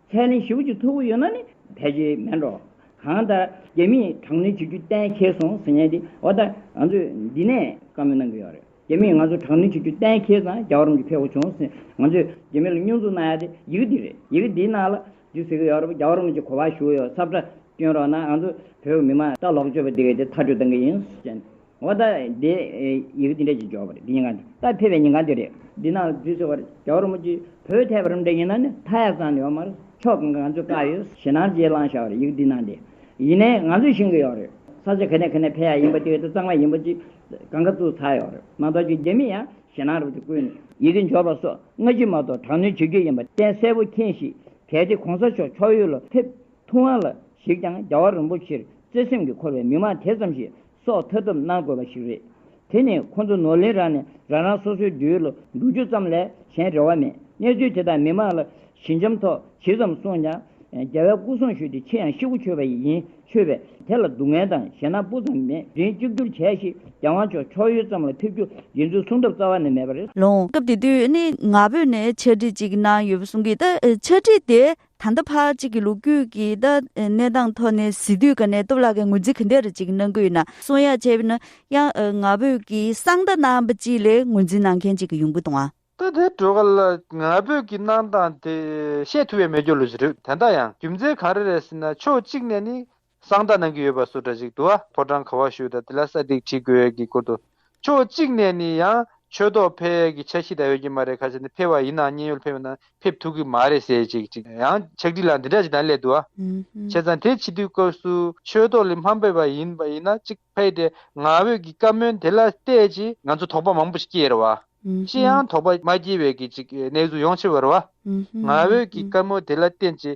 ཚད་ནི་བཞི་བོ་ཅུ་ཐུབ་པོ་ཡོད་ན་ནི་ཕལ་ཆེར་མེད་འགྲོ། གང་ལྟར་རྒྱ་མིས་དྲག་གནོན་བྱེད་རྒྱུ་གཏན་འཁེལ་སོང་ཟེར་ཉེན་དེ་འོ་ད་ང་ཚོས་འདི་ནས་བཀའ་མོལ་གནང་གི་ཡོད་རེད། རྒྱ་མིས་ང་ཚོ་དྲག་གནོན་བྱེད་རྒྱུ་གཏན་འཁེལ་ཙང་རྒྱ་གར་རུམ་གྱི་ཕེ་ཁོ་བྱུང་ཟིན་ང་ཚོས་རྒྱ་མི་ལ་སྙོན་འཛུགས་གནང་ཡ་དེ་ཡི་གེ་འདི་རེད་ཡི་གེ་འདི་ནང་ལ་འདི་ཟེར་གི་ཡོད་རེད་རྒྱ་གར་རུམ་གྱི་གོ་བ་ཞུ་གི་ཡོད་ཚབ་སྒྲ་བསྐྱོན་རོགས་གནང་ང་ཚོ་བོད་མི་མང་ལྟ་ལོག་སྤྱོད་པ་འདི་ག་དེ་ཐག་གཅོད་གཏང་གི་ཡིན། འོ་ད་དེ་ཡི་གེ་ཅི་འདྲ་ཞིག་འཇོག་པ་རེད་འདི་ཉིན་གང་དུས་ད་ཕེབས་པའི་ཉིན་གང་དུས་རེད། འདི་ན་དུས་ཚོད་བར་རྒྱ་བོར་མོ་ཅིག་བོད་ཐད་པར་འདྲ་ཡིན་ན་ནི་མཐའ་ཡག་ཙང་ཡོད་མ་རེད་ཕྱོགས་གང་གང་ཚོད་བཀག་ཡོད་ཞེ་སྣང་རྗེས་བླངས་ཤག་རེད་ཡི་གེ་འདི་ན་འདི་ཡིན་ནའི་ང་ཚོས་ཤེས་གི་ཡོད་རེད་ས་ཆ་ག་ནས་ག་ནས་ཕེབས་ཡག་ཡིན་པ་དེ་ད་གཙང་མ་ཡིན་པ་ཅིག་གང་ག་ཚོད་ཚར་ཡོད་རེད་མ་གཏོགས་ཀྱི་རྒྱ་མི་ཡང་ཞེ་སྣང་རེད་དེ་ཀུན་ནས། ཡི་གེ་འཇོག་པ་སོགས་སྔ་ཕྱི་མ་གཏོགས་དྲག་གནོན་བྱེད་རྒྱུ་ཡིན་པ་གཏན་གསལ་པོ་མཁྱེན་ཞིག་གལ་ཏེ་གོང་ས་མཆོག་ཕྱོགས་ཡུལ་ལ་ཕེབས་ཐུབ་དབང་ལ་གཞིགས་ཀྱང་རྒྱ་བོར་རིན་པོ་ཆེར་བརྩེ་སེམས་ཀྱིས་འཁོར་བའི་མི་མང་དེ་ཙམ་ཞིག་སོགས་མཐའ་བསྡོམས་གནང་དགོས་པ་ཞིག་རེད། དེ་ནི་ཁོ་ཚོ་ནོར་ལེན་རང་ནས་རང་རང་སོ་སོའི་འདོད་ཡུལ་ལ་འགྲོ་རྒྱུ་ཙམ་ལས་གཞན་རེ་བ་མེད། གནས་ཚུལ་དེ་དག་མི་མང་ལ་ཞི་འཇམ་ཐོག་ཇི་ཙམ་གསུངས་ཀྱང། རྒྱལ་བའི་སྐུ་གསུང་ཞུས་ཏེ་ཕྱི་ཡང་ཤི་གུ་ཆོད་པ་ཡི་ཡིན་ཆོས་པས་དེ་ལ་སྡུག་བསྔལ་དང་ཞེ་སྣང་སྤུ་ཙམ་མེད་རིང་གཅིག་གྱུར་བྱས་ཤིག་རྒྱལ་དབང་མཆོག་ཕྱོགས་ཡུལ་ཙམ་ལ་ཕེབས་རྒྱུ་ཡིན་ཚུལ་གསུང་ཐབས་རྩ་བ་ནས་མེད་པ་རེད། ལོངས་སྐབས་དེ་དུས་ནི་ང་བོད་ནས་འཆད་ཁྲིད་ཅིག་གནང་ཡོད་པ་གསུང་གི་འདུག་འཆད་ཁྲིད་དེ་ད་ལྟ་ཕ་གཅིག་གི་ལོ་རྒྱུས་ཀྱི་གནས་སྟངས་ཐོག་ནས་གཟི་བདུད་ཀ་ནས་སྟོབས་ལགས་ཀྱི་ངོས་འཛིན་ག་འདྲ་རེད་ཅིག་གནང་གི་ཡོད་ན་གསུང་ཡ་བྱས་ན་ཡང་ང་བོད་ཀྱི་གསང་བདག་རྣམ་པ་གཅིག་ལས་ངོས་འཛིན་གནང་མཁན་གཅིག་གི་ཡོང་གི་དང། ད་དེ་དྲོ་ག་ལ་ང་བོད་ཀྱི་གནང་སྟངས་དེ་བཤད་ཐུབ་ཡ་མེད་སྐྱོ་ལུས་ཟེར་རེད་དེ་འདྲ་ཡང་རྒྱུ་མཚན་ག་རེ་རེད་ཟེར་ན་ཕྱོགས་གཅིག་ནས་ནི་གསང་བརྡ་གནང་གི་ཡོད་པ་སུ་འདྲ་ཞིག་འདུག་ཨ་ཕོ་བྲང་ག་བ་ཞུས་དང་དེ་ལ་ས་སྟེགས་བྲིས་དགོས་ཡས་ཀྱི་སྐོར་དུ། ཕྱོགས་གཅིག་ནས་ནི་ཡང་ཆོས་ཐོག་ཕེབས་ཡས་ཀྱི་འཆར་གཞི་དག་ཡོད་ཀྱི་མ་རེད་ཁ་ཆེ་ནི་ཕེབས་བ་ཡིན་ནའང་མཉན་ཡོད་ཕེབས་ཡོད་ནའང་ཕེབས་ཐུབ་ཀྱི་མ་རེད་ཟེར་ཅིག་ཅིག་ཡང་ཕྱག་བྲིས་ལ་འདི་འདྲ་ཞིག་དང་སླད་དུ་ཨ། བྱས་ཙང་དེ་ཕྱི་དུས་སྐབས་སུ་ཆོས་ཐོག་ལས་མ་འབེབས་པ་ཡིན་པ་ཡིན་ན་ཅིག་ཕེབས་ཏེ་ང་བོད་ཀྱི་བཀའ་མོལ་དེ་ལ་བལྟས་ཅི། ང་ཚོ་དོགས་པ་མང་པོ་ཞིག་སྐྱེས་རེད་བ། ཅི་ཡང་དོགས་པ་མ་སྐྱེས་བས་ཀྱི་ཅིག་གནས་ཚུལ་ཡོང་ཕྱིར་བར་བ། ང་བོད་ཀྱི་བཀའ་མོལ་དེ་ལ་བརྟེན་ཅི།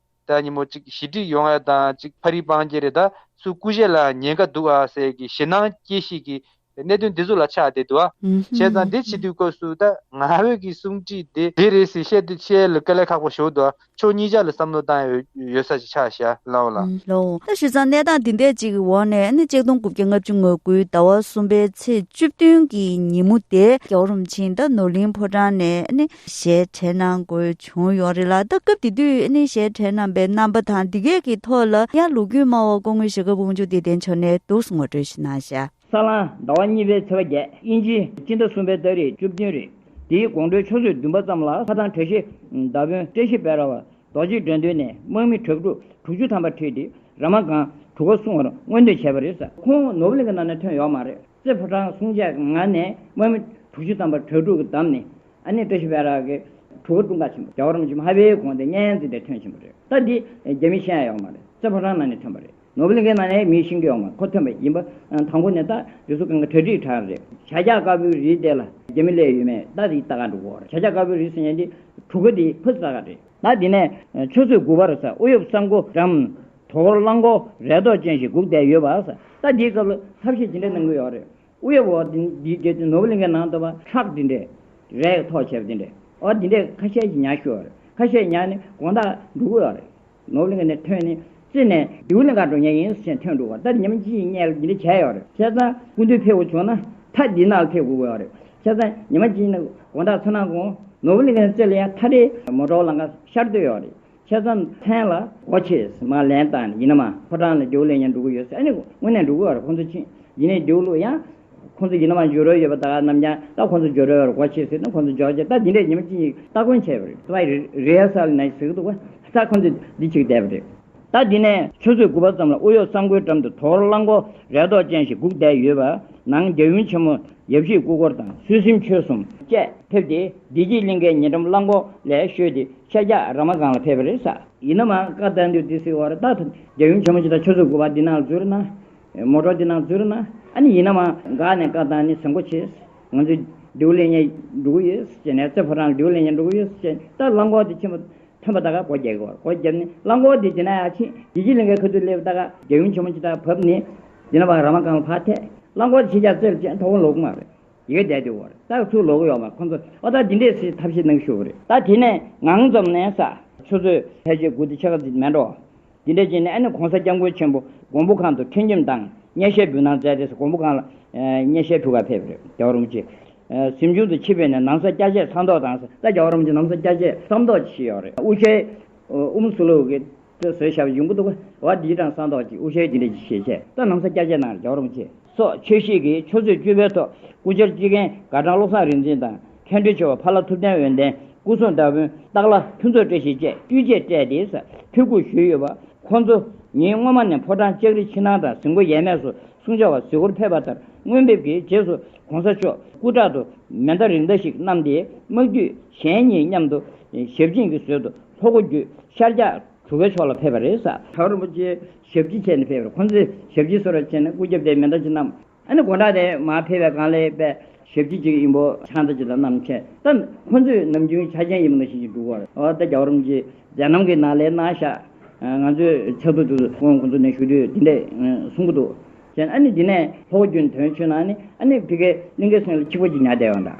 ད་ཉིན་མོ་གཅིག་ཞི་འགྲིག་ཡོང་ཨ་དང་གཅིག་ཕ་རིའི་པང་རྒྱལ་རེད་ད་སུ་སྐུ་གཞས་ལའང་ཉན་ཀ་འདུག་ཨ་ཟེར་གི་ཞེ་སྣང་སྐྱེ་ཤིས་ཀི་གནད་དོན་འདི་ཟུ་ལ་ཆགས་བསྡད་འདུག་ཨ། བྱས་ཙང་འདི་བྱེད་དུས་སྐབས་སུ་ད་ང་བོད་ཀྱི་གསུང་དྲིས་དེ་འདི་རེད་ཟེར་བཤད་དུས་བཤད་ལ་ཀ་ལས་ཁག་པོ་ཞོག་འདུག་ཨ་ཕྱོགས་གཉིས་ཅག་ལ་བསམ་བློ་བཏང་ཡོད་ས་ཅིག་ཆགས་ཤ་ལངས་ལ། ལོའོ། ད་བྱས་ཙང་གནས་སྟངས་འདི་འད་ཅིག་གི་འོག་ནས་ཨ་ནི་གཅིག་སྟོང་དགུ་བརྒྱ་ལྔ་བཅུ་ང་དགུའི་ཟླ་བ་གསུམ་པའི་ཚེས་བཅུ་བདུན་གི་ཉིན་མོ་དེ་རྒྱའོ་རུམ་ཆིང་ད་ནོར་གླིང་ཕོ་བྲང་ནས་ཨ་ནི་གཞས་འཕྲེལ་གནང་དགོས། བྱུང་ཡོད་རེད་ལ་ད་སྐབས་དེ་དུས་ཨ་ནེ་ཞེས་གྲས་རྣམ་པའི་རྣམ་པ་དང་འདི་གས་ཀྱི་ཐོག་ལ་ཡང་ལུགས་རྒྱུད་སྨྲ་བ་སྐུ་ངོས་ཞེ་དགའ་བུ་མཇུག་དེ་བདེན་ཆོག་ནས་འདུག་ངོ་སྤྲོད་ཞིག་གནང་ཞེ། ས་གླང་ཟླ་བ་གཉིས་པའི་ཚེས་པ་བརྒྱད་དབྱིན་ཇིའི་སྤྱི་ཟླ་གསུམ་པའི་སྟག་རིས་བཅུ་བདུན་རེད། དེའི་དགོང་དྲོའི་ཆུ་ཚོད་བདུན་པ་ཙམ་ལ་ལྷ་ཐང་གྲས་ཤེས་ཟླ་དཔོན་བཀྲས་ཤེས་དཔལ་ར་བ་རྡོ་རྗེས་འགྲོ་འདུན་ནས་དམག་མི་དྲག་ཕྲུག་དྲུག་ཅུ་ཐམ་པ་ཁྲིད་དེ་ར་མ་སྒང་གྲུ་ག་སྲུང་བར་མངོན་འདོད་བྱས་པ་རེད། ཁོང་ནོར་བུ་གླིང་གི་ནང་ནས་ཐོན་ཡོད་མ་རེད། རྩེ་ཕོ་བྲང་སྲུང་བྱེད་ངང་ནས་དམག་མི་དྲུག་ཅུ་ཐམ་པ་དྲག་ཕྲུག་གིས་བདམས་ནས་ཨ་ནེ་ཀྲེ་ཤི་བྷེ་རག་གིས་གྲུ་གུ་ཀྲུང་དགའ་ཆེན་པོ་རྒྱ་གར་རིམ་བྱོན་མ་ཧ་བྷེའི་གོང་དེ་སྙན་བརྩི་དེ་ཐོན་ཆེན་པོ་རེད་སྟབས་འདི་རྒྱ་མི་ཤེས་ཡ་ཡོག་མ་རེད་ཙེ་ཕོ་བྲང་ནང་ནས་ཐོན་པ་རེད་ནོ་བྷེལ་དགེ་ནང་ནས་མི་ཤིང་གི་ཡོག་མ་ཁོ་ཐོན་པ་ཡིན་པ་དང་པོ་ནས་ད་རེ་སུ་གང་གི་གྲ་སྒྲིག་གྲ་རེད་བྱ་རྒྱ་དཀར་པོའི་རི་དེ་ལ་རྒྱ་མི་ལས་ཡོད་མེད་ད་རིག་ད་ག་འགྲོ་གོ་རེད་བྱ་རྒྱ་དཀར་པོའི་རི་ཟེར་ཡ་འདི་གྲུ་གུ་འདི་ཕུ་ཟ་ག་རེད། ད་འདི་ནས་ཆུ་ཚོད་དགུ་པར་ས་ཨུ་ཡོབ་ས་མགོ་འགྲམ་དུ་གླང་གོག་རལ་ཏོག་ཅན་ཞིག་བསྒུགས་བསྡད་ཡོད་པ་ཟད་འདིའི་སྐབས་ལ་ཐབས་ཤེས་ཇི་འདྲ་གནང་གི་ཡོག་རེད། དབུ་ཡི་འོག་འདི་འདི་འདྲེ་ནོར་བུ་གླིང་གའི་ནང་དུ་བ་ཁྲག་འདི་འདྲེ། རས་ཡི་ཐོག་ཆེར་འདི་འདྲེ་འོ་འདི་འདྲེ་ཁ་ཤས་ཀྱི་ཉག་ཤོས་བ་རེད་ཁ་ཤས་ཉག་ནི་དགོངས་དག་འབྲུག་བ་རེད། ནོར་བུ་གླིང་ག་ནས་ཐོན་ནི་རྩིས་ནས་རྡེའུ་གླིང་ག་འགྲོ་ཉག་ཡིན་ཟེར་ཐོན་འགྲོ་བ་ལྟར་ཉི་མ་སྤྱི་ཡི་གཉལ་འདི་འདྲེ་བྱས་ཡོད་རེད་ཁྱེད་ཚང་སྐུ་མདུན་ཕེབས་བྱུང་ན་ཐ་འདི་ནག་ལ་ཕེབས་དགོས་དགོས་བ་རེད་ཁྱེད་ཚང་ཉི་མ་སྤྱི་ནི་དགོངས་དག་ཚོ་ནང་དགོངས་ནོར་བུ་གླིང་ག་ནས་རྩིས་ལ་ཡ་ཐ་འདྲེ་མོ་གྲོགས་ལང་ག་ཤར་སྡོད་ཡོད་རེད་ཁྱད་མཚར་མཚན་ལ། ཨོ་ཆེས་མ་ལན་བཏང་ནས་ཡིན་ན་མ་ཕོ་བྲང་ལ་རྒྱུགས་ལེན་ཡང་འགྲོ་གི་ཡོད་ཟེར་ཨ་ནི་དངོས་གནས་འགྲོ་གི་ཡོད་ཁོང་ཚོ་ཕྱིན་ཡིན་ནའི་རྒྱུགས་ལུགས་ཡང། ཁོང་ཚོ་ཡིན་ན་མ་འཇུག་རོལ་ཡོད་པ་དག་ནམ་ཡང་ད་ཁོང་ཚོ་འཇུག་རོལ་བར་གོ་ཆེ་ཟེར་ན་ཁོང་ཚོ་འཇོག་ཅེས་ད་འདི་འདྲས་ཉི་མ་གཅིག་ཉིག་སྟ་གོན་བྱས་པ་རེད་ཨ Rehearsal ནས་ཟེར་གི་འདུག་ད་ཁོང་ཚོ་འདི་བྱེད་ཀྱི་བསྡད་པ་རེད། ད་འདི་ནས་ཆུ་ཚོད་དགུ་པ་ཙམ་ལ་དབུ་གཡོག་གསང་སྒོའི་འགྲམ་དུ་དོར་རླངས་འཁོར་རེ་དོགས་ཅན་ཞིག་སྒུག་བསྡད་ཡོད་པ་ནང་རྒྱ་གཞུང་ཆེན་མོ་ཡབ་གཞིས་སྐུ་འཁོར་དང་སུད་སིམ་ཆོས་གསུམ་བཅས་ཕེབས་ཏེ་བདེ་སྐྱིད་གླིང་ཁའི་ཉེ་འགྲམ་རླངས་འཁོར་ལས་བཤོལ་ཏེ། ཤ་རྒྱགས་ར་མ་གང་ལ་ཕེབས་པ་རེད་ས། ཡིན་ནམ་ཨང་བཀའ་བསྟན་འདུས་སྡེ་སྲིད་འོག་རེ་ལྟ་ཐུབ། རྒྱལ་ཡུམ་ཆེན་མོ་ཇི་ལྟར་ཆོས་ཚུལ་དགུ་པ་འདི་ནང་འཛུལ་ན། མོ་གྲོགས་འདི་ནང་འཛུལ་ན། ཨ་ནི་ཡིན་ནམ་ཨང་དགའ་ནས་བཀའ་བསྟན་ནི་ཟེར་འགོ་བྱེད། ང་ཚོས་ལྡེའུ་ལེ་ཉེ་འགྲོ་གི་ཡོད་ཅེས་ནས་རྩེ་ཕོ་བྲང་ལ་ལྡེའུ་ལེ་ཉེ་འགྲོ་གི་ཡོད་ཅེས་ལྟར་རླངས་འཁོར་དེ་ཕྱིན་པ། ཐོན་པ་ལྟ་ག་སྒོ་བརྒྱབ་གི་བར་སྒོ་བརྒྱབ་ནས་རླངས་འཁོར་དེ་དེ་ན་ཡར་ཕྱིན། རྒྱལ་སྤྱིའི་གླིང་གའི་ཁ་ཐུག་སླེབས་ལྟ་ག་རྒྱལ་ཡུམ་ཆེན་མོ་ཅི་ལྟར་བབས་ནས། འདི་ན་བ་ར་མ་གང་ལ་ཕར་ཐད། རླངས་འཁོར་དེ་ཕྱིན་བྱ་རྩེ་རུ་བཅད་མཐོ་བོ་ལོག་གི་མ་རེད། ཡོད་བསྡད་དེ་བར་སྟག་ཚུགས་ལོག་གི་ཡོག་མ་ཁོང་ཚོ་ཨོ་ད་འདི་འདྲས་སེ་ཐབས་ཤེས་གནང་ཤོག་གི་རེད། ད་དེ་ནས་ངང་འཛོམས་ནས་ས་ཆུ་ཚོད་ཕལ་ཆེར་དགུ་སྟེ་ཕྱེད་ཀ་ཟིན་མེད་འགྲོ། འདི་འདྲས་ཀྱིས་ནས་ཨ་ནི་གོང་ས་སྐྱབས་མགོན་ཆེན་པོ་མགོན་པོ་ཁང་དུ་ཁྲིད་འཇིམ་དང་བརྙས་བཤད་འབུལ་གནང་མཛད་དེ་ས་མགོན་པོ་ཁང་ལ་བརྙས་བཤད་ཕུལ་ཁ་ཕེབས་རེད་བརྒྱ་བ་རུང་ཆེ། གཟིམ་ཆུང་དུ་ཆིབས་པས་ནས་ནང་ས་སྐྱ་ཆད་ཚང་མདོག་དང། ས་སྐྱ་བ་རུང་ཆེ་ནམ་ས་སྐྱ་ཆད་ཚང་མདོག་ཅིག་ཤི་ཡོག་རེད་དབུ་ཤའི་ཨུམ་སུ་ལུག་གི་ཏོ་ཟོས་ཤ་བ་ཡུང་པོ་འདུག་ག་བ་འདིའི་གྲང་ས་མདོག་ཅིག་དབུ་ཤའི་འདི་འདྲས་ཅིག་ཤེས་ཆད་ད་ནམ་ས་སྐྱ་ཆད་ནང་རེད་བརྒྱ་བ་རུང་ཆེ། སོགས་ཆོས་གཞིས་ཀྱི་ཆུ་ཚོད་བཅུ་པའི་ཐོག་སྐུ་བཅར་སྤྱི་ཁན་དགའ་བྲང་བློ་བཟང་རིག་འཛིན་དང་མཁན་སྤྲུལ་ཆེ་བ་ཕ་ལྷ་ཐུབ་བསྟན་འོད་ལྡན་སྐུ་གསུང་བདག་དཔོན་སྟག་ལྷ་ཕུན་ཚོགས་བཀྲ་ཤིས་བཅས་དཀྲུས་རྗེས་སྤྲད་དེ་ས་ཐོས་སྐུ་བཞུགས་ཡོད་པ། ཁོང་ཚོ་ཉིད་སྔོན་མ་ནས་ཕོ་བྲང་ལྕགས་རི་ཕྱི་ནང་དང་གཟིམ་སྒོ་ཡས་མས་སུ་སྲུང་བྱ་བ་གཟིགས་སྐོར་ཕེབས་པ་ལྟར་དངོས་འབེབས་ཀྱི་རྗེས་སུ་གོང་ས་མཆོག་སྐུ་དྲག་ཏུ་མེ་མདའ་རིགས་མདའ་ཞིག་བསྣམས་ཏེ་དམག་འཐུས་གཞན་གཉིས་མཉམ་དུ་ཞབས་སྦྱིན་གྱི་ཟོལ་དུ་ལྷོ་སྒོ་བརྒྱུད་ཤར་རྒྱག་གྲུ་ཁའི་ཕྱོགས་ལ་ཕེབས་པ་རེད། ད་རིན་པོ་ཆེ་ཞབས་ཀྱིས་ཁྱེར་ནས་ཕེབས་པར་ཁོ་ཚོས་ཞབས་ཀྱིས་གསོལ་བ་བྱས་ནས་སྐུ་རྒྱབ་སྟེ་མེ་མདའ་གཅིག་བསྣམས། ཨ་ནི་དགོང་གྲགས་དེ་མ་ཕེབས་པའི་སྒང་ལས་པས་ཞབས་ཀྱིས་གཅིག་ཡིན་པོ་ཆང་རྩ་གཅིག་དང་བསྣམས། ཁྱེད་ལྟ་ཁོ་ཚོས་ནམ་རྒྱུན་ཆ་རྐྱེན་ཡིན་པ་ནང་བཞིན་གྱིས་འདུག་གོ། ཨོ་ཏེ་རྒྱ་བོ་རོམ་གྱིས་རྒྱ་ནང་གི་ནགས་ལས་ནང་བཞག། ང་ཚོས་ཚལ་དུ་འདུག་དགོང་ཁོ་ཚོ་ནས་བཞུགས་དུས་འདི་འདྲས་གསུང་གི་འདུག་ཁྱེད་ཨ་ནི་འདི་ནས་ལྷོ་སྒྱུ་འདོན་ཆུ་ནང་ནི་ཨ་ནི་བི་ཀའི་གླིང་གའི་སེང་ལ་ཆིག་པ་གཅིག་ཉར་བསྡད་ཡོང་དང།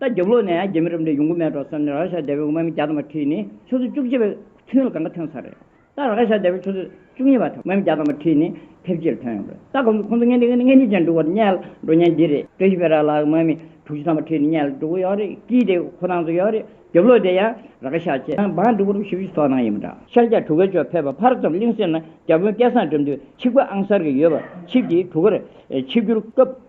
ཟླ་བརྒྱད་ལོ་ནས་རྒྱ་མི་རབས་འདྲེ་ཡོང་གི་མེད་འགྲོ་བསམ་ནས་ར་ཤ་རྡེལ་བའི་དབུ་མ་མི་བརྒྱ་དང་མ་ཁྲི་ནི་ཆུ་ཚོད་བཅུ་གཅིག་པའི་ཚུན་ལ་གང་ག་ཐོན་ཚར་རེད། ད་ར་ཤ་རྡེལ་བའི་ཆུ་ཚོད་བཅུ་གཉིས་པ་དང་དབུ་མ་མི་བརྒྱ་དང་མ་ཁྲི་ནི་ཕེབས་རྗེས་ལ་ཐོན་ཡོང་དགོས། ད་ཁོང་ཚོ་ཁོང་ཚོ་ངན་འདི་ངན་འདི་ཅན་འབྲུག་བར་བསྙལ་འགྲོ་ཉན་གྱི་རེད། བཀྲ་ཤིས་བེ་ར་ལགས་དབུ་མ་མི་དྲུག་ཅུ་དང་མ་ཁྲི་ནི་བསྙལ་འགྲོ་གི་ཡོད་རེད་ཀྱིས་དེ་ཁོ་ནང་དུ་ཡོད་རེད་རྒྱབ་ལོགས་དེ་ཡང་ར་ཤ་ཆེ་ན་འབངས་འབྲུག་བར་བཞི་བཅུ་ཐོག་ནང་ཡིན་པ་འདྲ། ཤར་རྒྱ་གྲུ་ག་ཅོག་ཕེབས་པ་ཕར་ཙམ་གླིང་སེང་ན་རྒྱ་དཔོན་སྐལ་བཟང་འགྲིམ་དུས་ཆིག་པ་ཨང་གསར་གྱི་ཡོད་པ་ཆིབས་ཀྱིས་གྲུ་གར་ཆིབས་སྒྱུར་སྐབས།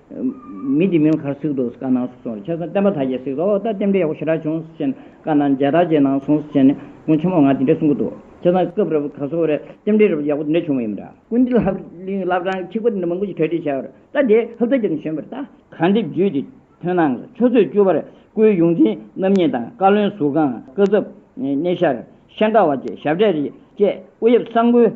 མི་དེ་མིའི་ཁར་གཟིགས་འདུག་དཀར་ནག་གཟིགས་སོང་ཁྱེད་རང་བསྟན་པ་དག་གིས་གཟིགས་འདུག་ད་བསྟན་པའི་ཡག་པོ་ཞེ་དྲག་བྱུང་ཟེར་ནས་དཀར་ནག་མཇལ་དྲག་བྱས་ནང་སོང་ཟེར་ནས་སྔོན་ཆད་མོ་ང་དེ་འདྲས་གསུང་གི་འདུག་ཁྱེད་རང་སྐབས་རེ་བ་ག་ཚོད་རེ་བསྟན་འབྲེལ་རེ་བ་ཡག་པོ་དེ་འདྲས་བྱུང་བ་ཡིན་མོད། ཀུན་དགའ་ལྷ་གླིང་བླ་བྲང་གི་ཁྱི་གོ་དེ་འདྲ་མང་པོ་ཞིག་གྲ་སྒྲིག་བྱས་པར་ལྟ་དེ་ཧབ་ཚ་རྒྱབ་ནས་བྱོན་པར་ལྟ། གར་འདེབས་བརྒྱུད་དེ་ཐོན་ནང་ལ་ཆུ་ཚོད་བཅུ་བར་སྐུའི་ཡོངས་འཛིན་རྣམ་གཉིས་དང་བཀའ་བློན་ཟུར་ཁང་བཀའ་ཟབ་གནས་ཤར་ཤེས་འདྲ་བ་བཅས་ཞབས་གྲས་རེ་བཅས་སྐུ་ཡབ་གསང་སྐུའི་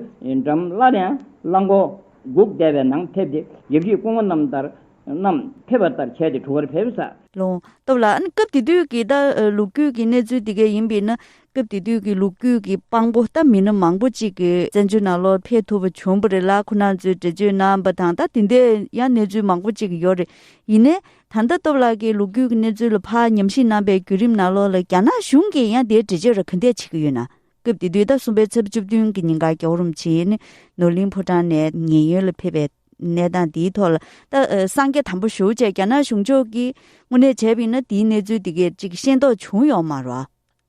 འགྲམ་སླར་ཡང་བླ་འགོ། དགུག་བཟླས་པའི་ནང་ཕེབས་ཏེ་དགེ་བཤེས་སྐུ་ངོ་རྣམས་ཕེབས་པ་ལྟར་བྱས་ཏེ་གྲུ་ཁར་ཕེབས་ས། ལུང་སྟོབས་ལགས་ཨ་ནི་སྐབས་དེ་དུས་ཀྱི་ད་ལུག་རྒྱུད་ཀྱི་གནས་ཚུལ་དེ་གས་ཡིན་པས་ན་སྐབས་དེ་དུས་ཀྱི་ལུག་རྒྱུད་ཀྱི་དཔང་པོ་ད་མི་སྣ་མང་པོ་ཅིག་གི་བཙན་བྱོལ་ནང་ལོར་ཕེབས་ཐུབ་པ་བྱུང་པ་རེད་ལ་ཁོ་ན་ཚོའི་འགྲེལ་བརྗོད་གནང་པ་དང་ད་དེ་འདའི་ཡང་གནས་ཚུལ་མང་པོ་ཅིག་ཡོད་རེད་ཡིན་ནའི་ད་ལྟ་སྟོབས་ལགས་ཀྱི་ལུག་རྒྱུད་ཀྱི་གནས་ཚུལ་ལ་ཕ་ཉམས་ཤིག་གནང་པའི་བརྒྱུད་རིམ་ནང་ལོར་ལ་རྒྱ་ནག་གཞུང་གིས་ཡང་དེའི་འགྲེལ་བརྗོད་ར་ག་འདའི་བྱེད་ཀྱི་ཡོད་ན་སྐབས་དེ་དུས་ཟླ་གསུམ་པའི་ཚེས་བཅུ་བདུན་གྱི་ཉིན་གར་གྱི་འོག་རིམ་བྱིན་ནོར་གླིང་ཕོ་བྲང་ནས་ཉེན་ཡོལ་ལ་ཕེབས་པའི་གནས་སྟངས་དེའི་ཐོག་ལ། སངས་རྒྱས་དམ་པ་ཞུ་བཅས་རྒྱ་ནག་གཞུང་ཕྱོགས་ཀྱིས་དངོས་གནས་བྱས་པ་ཡིན་ན་དེའི་གནས་ཚུལ་དེ་གས་ཅིག་ཤེས་རྟོགས་བྱུང་ཡོད་མ་རོ།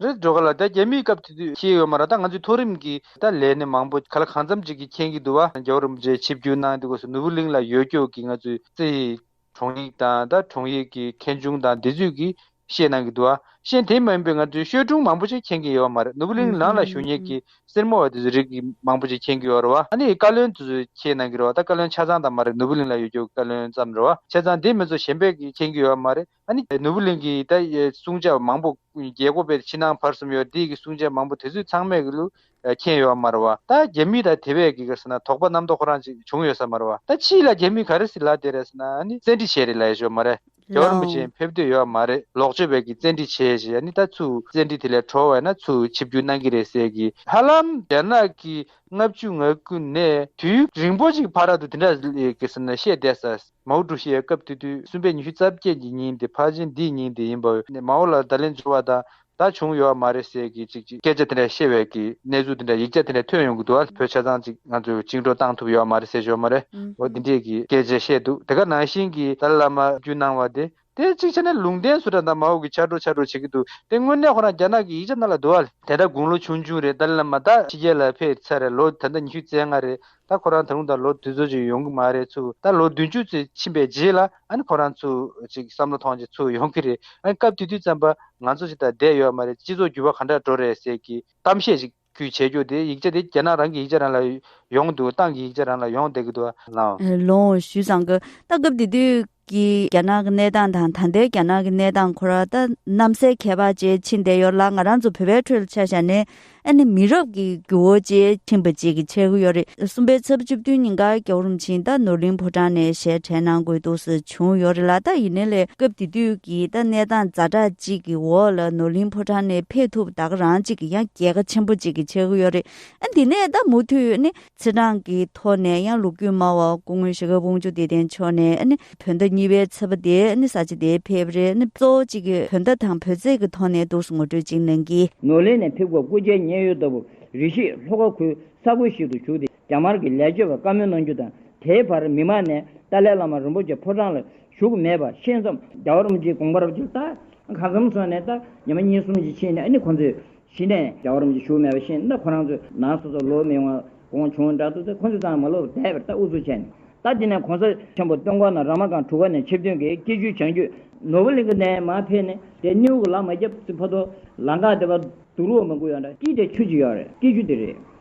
རེད་འགྲོ་ག་ལ་ད་རྒྱ་མིའི་སྐབས་དེ་དུས་ཤེས་ཡོད་མ་ར་ད་ང་ཚོའི་མཐོ་རིམ་གྱི་ད་ལས་ནི་མང་པོ་ག་ལ་གང་འཚམ་ཅིག་གི་མཁྱེན་གི་འདུག་བ་རྒྱ་འོག་རིམ་བཅས་ཆིབས་བསྒྱུར་གནང་དེ་སྐོར་སུ་ནོར་བུ་གླིང་ལ་ཡོད་སྐྱོ་གི་ང་ཚོའི་རྩེ། དྲུང་ཡིག་དང་དང་དྲུང་ཡིག་གི་མཁན་ཆུང་དང་འདི་ཚོས་གིས་བཤད་གནང་གི་འདུག་ཨ་ཤེན་དེ་མ་ཡིན་པའི་ང་ཚོས་ཤོད་སྒྲུང་མང་པོ་ཅིག་མཁྱེན་གི་ཡོད་བ་མ་རེད་ནུབ་བུ་ལིང་ལང་ལ་ཞུ་སྙེག་གི་སེར་མོ་བ་དེ་ཚོས་རིགས་གི་མང་པོ་ཅིག་མཁྱེན་གི་ཡོད་རེད་བ་ཨ་ནི་བཀའ་བློན་དེ་ཚོས་མཁྱེན་གནང་གི་རེད་བ་ད་བཀའ་བློན་ཆ་ཚང་དང་མ་རེད་ནུབ་བུ་ལིང་ལ་ཡོད་རྒྱུ་བཀའ་བློན་ཙམ་རེད་བ་ཆ་ཚང་དེ་མི་ཚོ་གཞན་པས་གིས་མཁྱེན་གི་ཡོད་བ་མ་རེད་ཨ་ནི་ནུབ་བུ་ལིང་གིས་ད་གསུང་བྱ་བ་མང་པོ། རྒྱལ་སྒོ་བེར་ཕྱི་ནང་བར་གསུམ་ཡོད་བདེ་ཀྱི་སྲུང་བྱ་མང་པོ་དེ་ཚོས་ཚང་མས་གླུ་མཁྱེན་ཡོད་མར་བ་ད་རྒྱ་མི་ལ་དེ་བས་ཀྱི་ཟེར་ན་དོགས་པ་རྣམ་རྟོག་ཁོ་རང་ཅིག་བྱུང་ཡོད་ས་མར་བ་ད་ཕྱིས་ལ་རྒྱ་མི་ག་རེ་ཟི་ལ་དེ་རེ་ཟེར་ན་ནི་བཙན་འཁྲིད་བྱས་རེད་ལ་ཡེ་ཤོ་མ་རེད་རྒྱ་བ་རིན་པོ་ཆེ་ཡིན་ཕེབས་འདོད་ཡོད་མ་རེད་ལོག་སྤྱོད་བས་ཀྱི་བཙན་འཁྲིད་བྱས་ཞེས་ནི་ད་ཚུ་བཙན་འཁྲིད་དེ་ལས་གྲོལ་བས་ན་ཚུ་ཆིབས་བསྒྱུར་གནང་གི་རེད་ཟེར་གི་ཧ་ལམ་རྒྱ་ནག་གི་ལྔ་བཅུ་ང་དགུ་ནས་དུས་རིང་པོ་ཅིག་བར་ར་དུ་དེ་འདྲ་ཟི་ལ་ཡེ་ཀྱི་ཟེར་ན་བཤད་བསྡད་ས། མའོ་ཀྲུའུ་ཞི་ཡས་སྐབས་དེ་དུས་གསུམ་པའི་ཉི་ཤུ་རྩ་བརྒྱད་ཀྱི་ཉིན་དེ་ཕར་ཕྱིན་འདིའི་ཉིན་དེ་ཡིན་པ་འོས། མའོ་ལ་ད་ལན་འབྱོར་བ་དང་ད་བྱུང་ཡོད་བ་མ་རེད་ཟེར་གི་ཅིག་ཅིག། སྐད་ཆ་དེ་འདྲ་བཤད་བས་ཀྱི་གནས་ཚུལ་དེ་འདྲ་ཡིག་ཆ་དེ་འདྲ་ཐོན་ཡོང་གི་འདུག་ཨ་བོད་ཆ་ཚང་ཅིག་ང་ཚོས་བཅིངས་འགྲོ་བཏང་ཐུབ་ཡོད་བ་མ་རེད་ཟེར་ཞོར་མ་རེད་འོ་འདི་འདྲས་ཀྱི་སྐད་ཆ་བཤད་འདུག་དེ་ག་ནང་བཞིན་གྱི་ཏཱ་ལ་བླ་མ་རྒྱུས་གནང་བ་དེ་དེ་གཅིག་ཆ་ནས་ལུང་བསྟན་སུ་དྲ་དང་མ་འོག་གི་ཆ་འགྲོ་ཆ་འགྲོ་བྱེད་ཀྱི་འདུག་དེ་དངོས་གནས་ཁོ་རང་རྒྱ་ནག་གི་ཡིག་ཆ་རྣ་ལ་བསྡུ་བ། དེ་ལྟར་དགུང་ལོ་ཆུང་ཆུང་རེད་ཏཱ་ལི་ལ་མ་ད་ཕྱི་རྒྱལ་ལ་ཕེབས་ཚར་ལོ་ད་ལྟ་ཉི་ཤུ་རྩེ་ལྔ་རེད་ད་ཁོ་རང་ད་རུང་ད་ལོ་དུས་ཚོད་ཅིག་ཡོང་གི་མ་རེད་ཚུ་ད་ལོ་བདུན་ཅུ་ཚེ་ཕྱིན་པའི་རྗེས་ལ་ཨ་ནི་ཁོ་རང་ཚུ་ཅིག་བསམ་བློ་ཐོངས་རྗེས་ཚུ་ཡོང་གི་རེད་ཨ་ནི་སྐབས་དུས་དུས་ཙམ་པ་ང་ཚོ་ཅིག་ད་བསྡད་ཡོད་མ་རེད་སྤྱི་ཚོགས་འགྱུར་བ་གང་འདྲ་འགྲོ་རེད་ཟེར་གྱི་གཏམ་བཤད་ཅིག། ཁུལ་བྱེད་རྒྱུ་དེ་ཡིག་ཆ་དེ་སྐྱེལ་ན་རང་གི་ཡིག་ཆ་རང་ལ་ཡོང་འདུག་ཏང་གི་ཡིག་ཆ་རང་ལ་ཡོང་བསྡད་ཀྱི་འདུག་ལ། ལོངས་ཞུས་ཙང་གི་ད་སྐབས་དེ་དུས་ཀྱི་རྒྱ་ནག་གི་གནས་སྟངས་དང་ད་ལྟའི་རྒྱ་ནག་གི་གནས་སྟངས་ཁོ་རང་ད་གནམ་སའི་ཁྱད་པར་ཅན་ཕྱིན་བསྡད་ཡོད་ལ་ང་རང་ཚོ་བོད་པའི་ཁྲོད་ལ་ཆ་བཞག་ནས་ཨ་ནི་མི་རབས་ཀྱི་རྒྱུ་བོ་ཅན་ཕྱིན་པ་ཅིག་གི་ཆེ་གི་ཡོད་རེད་གསུམ་པའི་ཚབ་བཅུ་བདུན་ཉིན་གར་གྱོ་རུམ་ཕྱིན་ད་ནོར་གླིང་ཕོ་བྲང་ནས་ཞལ་ཕྲད་གནང་དགོས་འདུག་ཟེར། བྱུང་ཡོད་རེད་ལ་ད་ཡིན་ནའི་ལས་སྐབས་དེ་དུས་ཀྱི་ད་གནས་སྟངས་ཛྭ་དྲག་ཅིག་གི་འོག་ལ་ནོར་གླིང་ཕོ་བྲང་ནས་ཕེབས་ཐུབ་ད་ག་རང་ཅིག་གི་ཡང་རྒྱལ་ཁ་ཆེན་པོ་ཅིག་གི་བྱེད་གི་ཡོད་རེད་དེ་ནས་ད་མུ་མཐུད་ནས་ཚེ་འབྲང་གི་ཐོག་ནས་ཡང་ལུག་རྒྱུད་སྨྲ་བ་སྐུ་ངོ་ཞེ་དགའ་བུང་ཆུ་བདེ་ལྡན་མཆོག་ནས་བོད་ཟླ་གཉིས་པའི་ཚེས་པ་དེ་ནས་ས་ཆ་དེའི་ཕེབས་རེས་ནས་གཙོ་བོ་ཅིག་གི་བོད་ཟླ་དང་བོད་ཚེས་ཀྱི་ཐོག་ནས་འདུག་སུ་ངོ་སྤྲོད་ཅིག་གནང་གི། ནོར་གླིང་ནས་ཕེབས་སྐབས་སྐུ་ཕྱྭའི་མཉན་ཡོད་ལྟ་བུར་རེ་ཞིག་ལྷོ་ཁ་ཁུལ་ས་ཁུལ་ཞིག་ཏུ་བཞུགས་ཏེ་རྒྱ་དམར་གྱི་ལས་བྱེད་པར་བཀའ་མོལ་གནང་རྒྱུ་དང་དེའི་བར་མི་མང་ནས་ཏཱ་ལའི་བླ་མ་རིན་པོ་ཆེ་ཕོ་བྲང་ལ་བཞུགས་མེད་པ་ཤེས་མཚམས། རྒྱ་བོར་རམ་ཇིའི་དགོངས་པར་བརྒྱུད་ད་ག་མཚམས་སོང་ནས་ད་ཉི་མ་གཉིས་གསུམ་གྱི་ཕྱིན་ནས་ནི་ཁོང་ཚོས་གཞི་ནས་རྒྱ་བོར་རམ་ཇི་བཞུགས་མེད་པ་ཤེས་ནས་ད་ཁོ་རང་ཚོས་ན་སོ་སོར་ལོག་མི་འོང་གོང་བྱུང་འདྲ་འདུག་ད་ཁོང་ཚོས་ཙང་མ་ལོག་པར་བསྡད་པར་ད་ཨུ་ཚུགས་བྱས་ནས་ད་འདི་ནས་གོང་ས་ཆེན་པོ་སྟོན་གོང་ན་ར་མ་གང་དྲུ་ག་ནས་ཆིབས་བསྟུན་གྱིས་སྐྱིད་ཆུའི་བྱང་རྒྱུད་ནོར་བུ་གླིང་གི་ནས་མ་ཕེབས་ནས་དེ་སྣེའུ་གི་ལག་མ་རྒྱབ་ཙི་ཕོ་ཏོ་ལ་འགག་དེ་བར་དུ་རུ་བ་མ་འགུགས་ཡོང་འདྲ་སྐྱིད་དེ་ཆུ་ཅིག་ཡོད་རེད་སྐྱིད་ཆུ་དེ་རེད།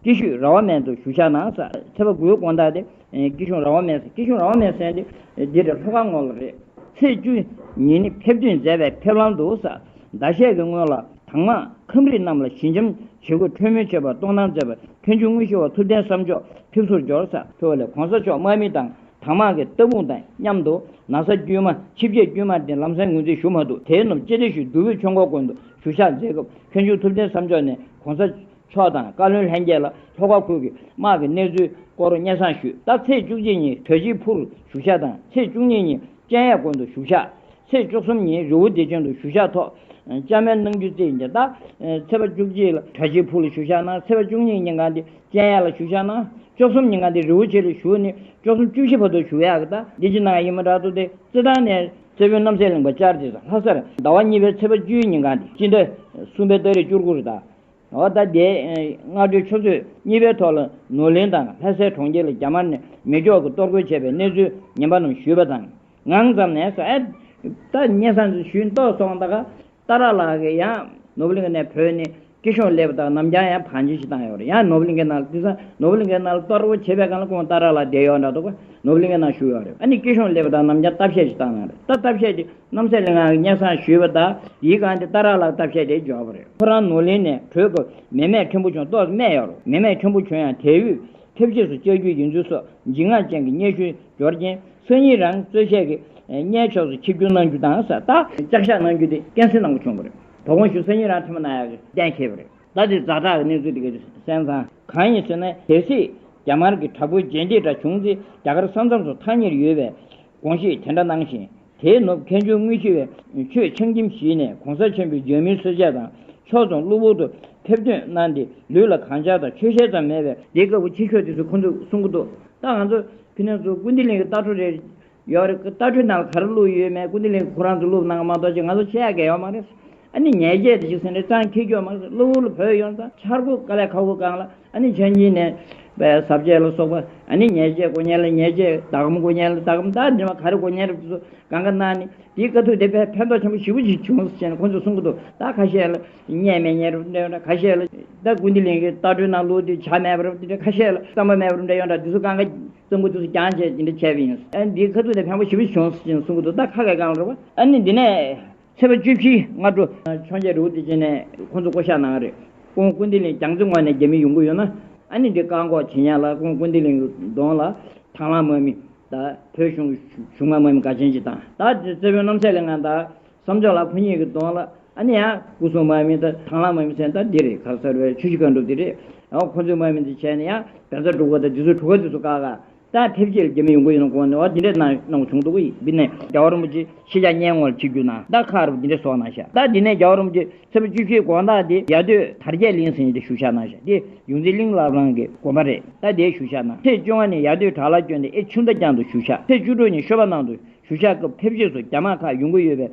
སྐྱིད་ཤོད་ར་བ་མན་དུ་བཞུགས་ཤག་ནང་ས་ཚེ་པ་དགུའི་དགོན་བདག་སྟེ། སྐྱིད་ཤོད་ར་བ་མན་སྐྱིད་ཤོད་ར་བ་མན་སན་ཏེ། འདི་ལྟར་ལྷོ་ཁ་སྔོ་ལ་རེད། ཚེས་བཅུ་ཉིན་ནི་ཕེབས་དུས་མཛད་པའི་ཕེབས་ལམ་དུ་ས་ཟླ་ཤས་ཀྱི་སྔོན་ལ་དྭངས་མ་ཁམས་རིགས་རྣམས་ལ་ཞི་འཇམ་བྱེད་སྒོས་འཕྲོས་མོལ་བྱེད་པར་གཏོང་སྟངས་མཛད་པ་ཕན་ཆུང་དངོས་གཞི་བ་ཐུབ་བསྟན་བསམ་མཆོག་ཕེབས་བསུར་འབྱོར་ས། ཕེབས་བ་ལས་གོང་ས་མཆོག་དམག་མི་དང་དྭངས་མ་གི་སྟ་སྤུངས་དང་མཉམ་དུ་ན་ས་དཀྱུས་མ་ཆིབས་བརྒྱད་དཀྱུས་མ་སྟེ་ལམ་སེང་ངོས་འཛིན་ཞུ་མ་ཐུབ་དེའི་ནུབ་ཅེ་ཏེ་ཞུ་བདུ་བོད་ཆོས་འཁོར་དགོན་དུ་བཞུགས་ཤག་མཛད་སྐབས་ཕན་ཆུང་ཐུབ་བསྟན་བསམ་མཆོག་ནས་གོང་ས་མཆོག་དང་བཀའ་བློན་ལྷན་རྒྱས་ལ་ལྷོ་ཁ་ཁུལ་གྱི་དམག་གི་གནས་ཚུལ་སྐོར་སྙན་གསང་ཞུས་སྟབས་ཚེས་བཅུ་གཅིག་ཉིན་གྲོས་གཞིའི་ཕུར་བཞུགས་ཤག་དང་ཚེས་བཅུ་གཉིས་ཉིན་སྤྱན་ཡས་དགོན་དུ་བཞུགས་ཤག་ཚེས་བཅུ་གསུམ་ཉིན་རི་བོ་བདེ་ཆེན་དུ་བཞུགས་ཤག་ཐོག་བཅར་མལ་གནང་རྒྱུ་བརྩིས་ཡིན་སྟབས། ཚེས་པ་བཅུ་གཅིག་ལ་གྲོས་གཞིའི་ཕུར་ལ་བཞུགས་ཤག་གནང་ཚེས་པ་བཅུ་གཉིས་ཉིན་གང་དེ་སྤྱན་ཡས་ལ་བཞུགས་ཤག་གནང་བཅུ་གསུམ་ཉིན་གང་དེ་རི་བོ་ཆེ་ལ་བཞུགས་ནས་བཅུ་གསུམ་བཅུ་བཞི་བར་དུ་བཞུགས་ཡག་གི་སྟབས་འདི་ཅི་གནང་ཡག་ཡིན་མ་གྲགས་འདུག་སྟེ་རྩེད་ཐང་ནས་རྩེ་དཔོན་རྣམ་སྲས་གླིང་པ་ལྕགས་རི་ལྷ་སར་ཟླ་བ་གཉིས་པའི་ཚེས་པ་བཅུའི་ཉིན་གང་དེ་སྤྱི་ཟླ་གསུམ་པའི་སྟག་རིས་བཅུར་གུ་རུ་དང། ཨོ་ད་རྡེ། སྔ་དྲོའི་ཆུ་ཚོད་གཉིས་པའི་ཐོག་ལ་ནུའུ་ལེན་དང་ལྷ་སའི་གྲོང་ཁྱེར་ལ་རྒྱ་དམར་ནས་མེ་སྒྱོགས་ཀྱིས་གཏོར་རྒོལ་བྱས་པའི་གནས་ཚུལ་ཉན་པ་རྣམས་ཞུས་པ་དང། ངང་ཙམ་ནས་སོ་ཨེ། ད་ཉེ་ས་འདིར་ཞུས་མདོག་སོང་ད་ག། ཏཱ་ར་ལགས་ཀྱིས་ཡང་ནོ་བྷེལ་ལིང་གི་ནས་བོད་ནས་སྐྱིད་ཤོང་སླེབས་པ་དག་རྣམས་ཀྱང་ཡང་བང་ཆེན་ཞིག་བཏང་ཡོད་རེད་ཡང་ནོ་བྷེལ་ལིང་གི་ནང་ལ་དེ་སང་ནོ་བྷེལ་ལིང་གི་ནང་ལ་གཏོར་རྒོལ་བྱས་པའི་སྒང་ལ་ཁོང་ཏཱ་ར་ལགས་བསྡད་ཡོད་འདྲ་འདུག་པ་ནོ་བྷེལ་ལིང་གི་ནང་ཞུགས་ཡོད་རེད་ཨ་ནི་སྐྱིད་ཤོང་སླེབས་པ་དག་རྣམས་ཀྱང་སྟབས་བཤད་ཞིག་བཏང་གནང་རེད་ད་སྟབས་བཤད་ཀྱི་རྣམ་སྲས་ལིང་ངག་གི་སྙན་བཟང་ཞུས་པ་དང་ཡིད་གང་དེ་ལྟར་རག་ལག་བསྟབས་བཤད་དེ་འབྱོར་བ་རེད་ཁོ་རང་ནོར་གླིང་ནས་བྲོས་སྐབས་མེ་མས་ཁྱོད་བུ་ཆུང་ཏོག་སྨད་ཡག་རོགས་མེ་མས་ཁྱོད་བུ་ཆུང་ཡང་དལ་དབུས་ཕེབས་རྗེས་སུ་བཅར་རྒྱུ་ཡིན་ཚུལ་སོགས་འཇིགས་དངངས་ཅན་གྱི་སྙན་ཞུ་འབྱོར་རྐྱེན་སང་ཉིན་རང་གཙོས་བཤད་ཀྱི་གཉེན་ཕྱོགས་སུ་ཆིབས་བསྒྱུར་གནང་རྒྱུ་དང་ས་རྟགས། བཅར་བཞག་གནང་རྒྱུ་དེ་ཀན་སུའི་ནང་དུ་བྱུང་བ་རེད་དོ་དགོངས་ཞུ་སང་ཉིན་རང་ཐེངས་མ་ན་ཡག་གི་གཏན་འཁེལ་བ་རེད། ཟླ་འདིའི་རྫ་བྲག་གི་གནས་ཚུལ་དེ་གའི་གསན་བཟང་གང་ཡིན་ཟེར་ན་གལ་སྲིད་རྒྱ་དམར་གྱི་དྲག་པོའི་རྗེས་འདེད་འདྲ་བྱུང་ཚེ་རྒྱ་གར་ས་མཚམས་སུ་ཐག་ཉེར་ཡོད་པའི་དགོངས་བཞེས་དེ་འདྲ་གནང་བཞིན་དེའི་ནུབ་མཁན་ཆུང་དངུལ་ཆུ་བས་མཆོད་ཆང་ཁྱིམ་གཞིས་ནས་གོང་ས་ཆེན་པོའི་འབྱོན་མིའི་སྲོལ་ཆས་དང་ཕྱོགས་རྫོང་གློ་བུར་དུ་ཕེབས་ཐོན་གནང་སྟེ་ལུས་ལ་གང་ཆགས་དང་ཆོས་ཞལ་ཙམ་མེད་པའི། དེའི་སྐབས་ཕྱི་ཕྱོགས་དེ་ཚོས་ཁོང་ཚོས་གསུང་གི་འདུག་ད་ང་ཚོ་ཕི་ནང་ཚོ་ཀུན་བཏུས་གླིང་གི་རྟ་ཕྲུག་རེད། ཡོད་རེད་རྟ་ཕྲུག་རྣམས་ལ་ག་རེ་བླུགས་ཡོད་མེད་ཀུན་བཏུས་གླིང་གི་ཁོ་རང་ཚོས་བླུགས་གནང་མ་གཏོགས་ཅི་ང་ཚོ་ཆེ་ཡག་གེ་ཡོད་མ་རེད། ཨ་ནི་ཉེས་ཆད་དེ་ཞིག་ཟིན་རེད་ཀྲང་ཁེ་གྱོད་མ་རེད་གློ་བུར་ལ་བོད་ཡོང་ཙང་འཆར་སྒོ་དཀའ་ལས་ཁག་པོ་བསྐངས་ལ། ཨ་ནི་ཆོས་ཉིད་ནས། ཟབ་ཁྱད་ལ་སོགས་པ། ཨ་ནི་ཉེས་བྱས་དགུ་ཉེས་ལ་ཉེས་བྱས་དག་གམ་དགུ་ཉེས་ལ་དག་གམ་དག་འདྲེན་པ་ག་རེ་དགུ་ཉེས་རབ་ཀྱི་སོ། གང་ག་ན་ནི། དེའི་དཀའ་ཐུབ་དེ་བས་ཕན་འདོགས་ཆེན་པོ་བཞི་པོ་ཅིག་བྱུང་ཟེར་ནས་ཁོ་ཚོས་གསུང་གི་འདུག་རྟགས་ཁ་ཤས་ལ། ཉེས་མེད་ཉེས་རབ་འདྲེན་ཡོད་འདྲ་ཁ་ཤས་ལ། རྟགས་ཀུན་བདེ་ལེགས་ཀྱི་རྟགས་སྤྲོད་ན་ལུགས་འདི་བྱ་མེད་པར་འདྲ་ཁ་ཤས་ལ་བསམ་པ་མེད་པར་འདྲ་ཡོད་འདྲ་འདི་ཚོ་གང་ག། གཙང་པོ་འདི་ཚོ་རྐྱང་བྱས་ཅི་འདྲ་བྱས་པ་ཡིན། ཨ་ནི་དེའི་དཀའ་ཐུབ་དེ་ཕན་པོ་བཞི་པོ་ཅིག་བྱུང་ཟེར་ནས་གསུང་གི་འདུག་རྟགས་ཁ་ཁས་གང་ལ་རེ་བ། ཨ་ནི་འདི་ནས། ཚེས་པ་བཅུ་བཞི་སྔ་དྲོ། འཕྱོངས་རྒྱས་རི་བོ་དེ་བྱས་ནས་ཁོང་ཚོ་བསྐོ་གཞག་གནང་བ་རེད། ཀོང་ཀུན་ཏི་ལིང་གྱང་རྩེ་ངོས་ནས་རྒྱ་མི་ཡོང་གི་ཡོད་ན། ཨ་ནི་འདི་བཀག་འགོག་བྱེད་ཉག་ལ་ཀོང་ཀུན་ཏི་ལིང་གདོང་ལ། དྭང་བླངས་དམག་མི་དང་བོད་གཞུང་གཞུང་མང་དམག་མི་འགའ་ཅན་གྱིས་དང་བདག་གི་བརྩེ་དཔོན་རྣམ་སྲས་ལིང་ཨ་དང། བསམ་ཆོག་ལགས་ཁོ་གཉིས་ཀྱི་གདོང་ལ། ཨ་ནི་ཡང་སྐུ་སྲུང་དམག་མི་དང་དྭང་བླངས་དམག་མི་ཟེར་ན་ད་འདི་རེད་ག་ཟེར་བའི་ཆུ་བཞི་ཀ་འགྲུབ་འདི་རེད། ཡང་ཁོང་ཚོའི་དམག་མི་འདི་བྱས་ནས་ཡང་བལ་བཟའ་འབྲུག་བཟའ་དང་འདི་ཚོའི་གྲུ་ག་འདི་ཚོ་བཀག་ག། ལྟ་ཐེབས་ཆེར་རྒྱ་མི་ཡོང་གི་ཡོད་ན་དགོངས་ནས་བ་འདི་འདྲ་གནང་གནང་བྱུང་འདུག་ཡིན་པས་ན་རྒྱ་བ་རིན་པོ་ཆེ་ཤེས་བྱ་སྙན་ངོ་ལ་ཆིག་རྒྱུ་ན་ལྟ་ཁ་རུ་འདི་འདྲ་བཟོ་གནང་བཞག་ལྟ་དེ་ནས་རྒྱ་བ་རིན་པོ་ཆེ་ཚེ་པ་བཅུ་བཞིའི་དགོངས་དག་དེ་རྒྱ་སྟོད་དར་རྒྱས་གླིང་ཟེར་ཉིད་དུ་བཞུགས་བཞག་གནང་བཞག་དེ་ཡོངས་འཛིན་གླིང་བླ་བྲང་གི་དགོན་པ་རེད་ལྟ་དེ་བཞུགས་བཞག་གནང་ཚེས་བཅོ་ལྔ་ནས་ཡར་སྟོད་བྲག་ལ་བསྐྱོད་དེ་ཨེ་ཆུ་མདའ་རྒྱང་དུ་བཞུགས་བཞག་ཚེས་བཅུ་དྲུག་ཉིན་ཤོད་པ་ནང་དུ་བཞུགས་བཞག་སྐབས་ཐེབས་ཆེར་སུ་རྒྱ་དམག་ཁག་ཡོང་གི་ཡོད་པས་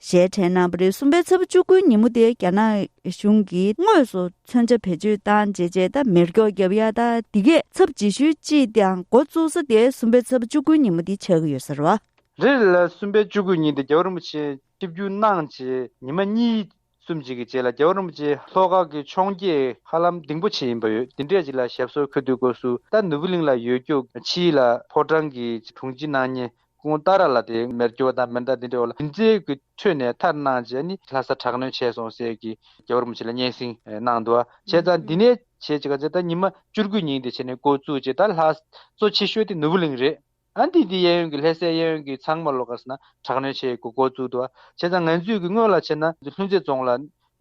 ཞལ་ཕྲེང་རྣམ་པ་རེ་གསུམ་པའི་ཚབ་བཅུ་དགུའི་ཉིན་མོ་དེ་རྒྱ་ནག་གཞུང་གིས་དངོས་སུ་མཚོན་ཆ་བེད་སྤྱོད་བཏང་རྗེས་རྗེས་ལྟར་མེར་སྒྱོགས་བརྒྱབ་ཡ་ད་འདི་གས་ཚབ་རྗེས་ཤུལ་ཅིས་ཀྱང་འགོ་བཙུགས་ས་དེ་གསུམ་པའི་ཚབ་བཅུ་དགུའི་ཉིན་མོ་འདི་ཆགས་ཀྱི་ཡོད་ཟེར་བ། རེད། གསུམ་པའི་བཅུ་དགུའི་ཉིན་དེ་རྒྱལ་བ་རིན་པོ་ཆེ་ཆིབས་བསྒྱུར་གནང་རྗེས་ཉི་མ་གཉིས། གསུམ་གཅིག་གི་རྗེས་ལ་རྒྱལ་བ་རིན་པོ་ཆེ་ལྷོ་ཁ་གི་འཕྱོངས་རྒྱས་ཧ་ལམ་ལྡིང་པོ་ཆེ་ཡིན་པ་ཡོད་དེ་འདྲས་ཅིག་ལ་ཞབས་སོར་འཁོད་དུས་སྒོ་སུ་ད་ནུབ་བུ་གླིང་ལ་ཡོད་རྒྱུག་ཆིས་ལ་ཕོ་བྲང་གི་དྲུང་ཆེ་གནང་ཉེ་ཀུན་བཏགས་ར་ལ་དེ་མེར་གྱུར་བ་དང་མེར་མདའ་འདི་འདྲའི་འོག་ལ་དེ་འཛིན་གྱི་ཁྲོད་ནས་མཐར་གནང་རྗེས་ནི་ལྷ་ས་དྲག་གནོན་བྱས་སོང་ཟེར་གྱི་རྒྱལ་བོར་མི་བྱེད་ལ་སྙན་སེང་གནང་འདུག་བྱས་ཙང་འདི་ནས་བྱེད་ཅིག་ཟེར་ད་ཉི་མ་བཅུ་དགུའི་ཉིན་དེ་བྱས་ནས་བསྐོར་བཙུགས་རྗེས་ད་ལྷ་གཙོ་ཆེ་ཤོས་དེ་ནོར་བུ་གླིང་རེད་ཨ་འདི་འདི་གཡས་གཡོན་གྱི་ལྷས་སའི་གཡས་གཡོན་གྱི་ཚང་མ་ལོགས་ཀ་ས་ན་དྲག་གནོན་བྱེད་དགོས་བསྐོར་བཙུགས་འདུག་བྱས་ཙང་ང་ཚོས་ཀྱི་སྔོན་ལ་བྱས་ན་ལྷུན་རྩེ་རྫོང་ལ་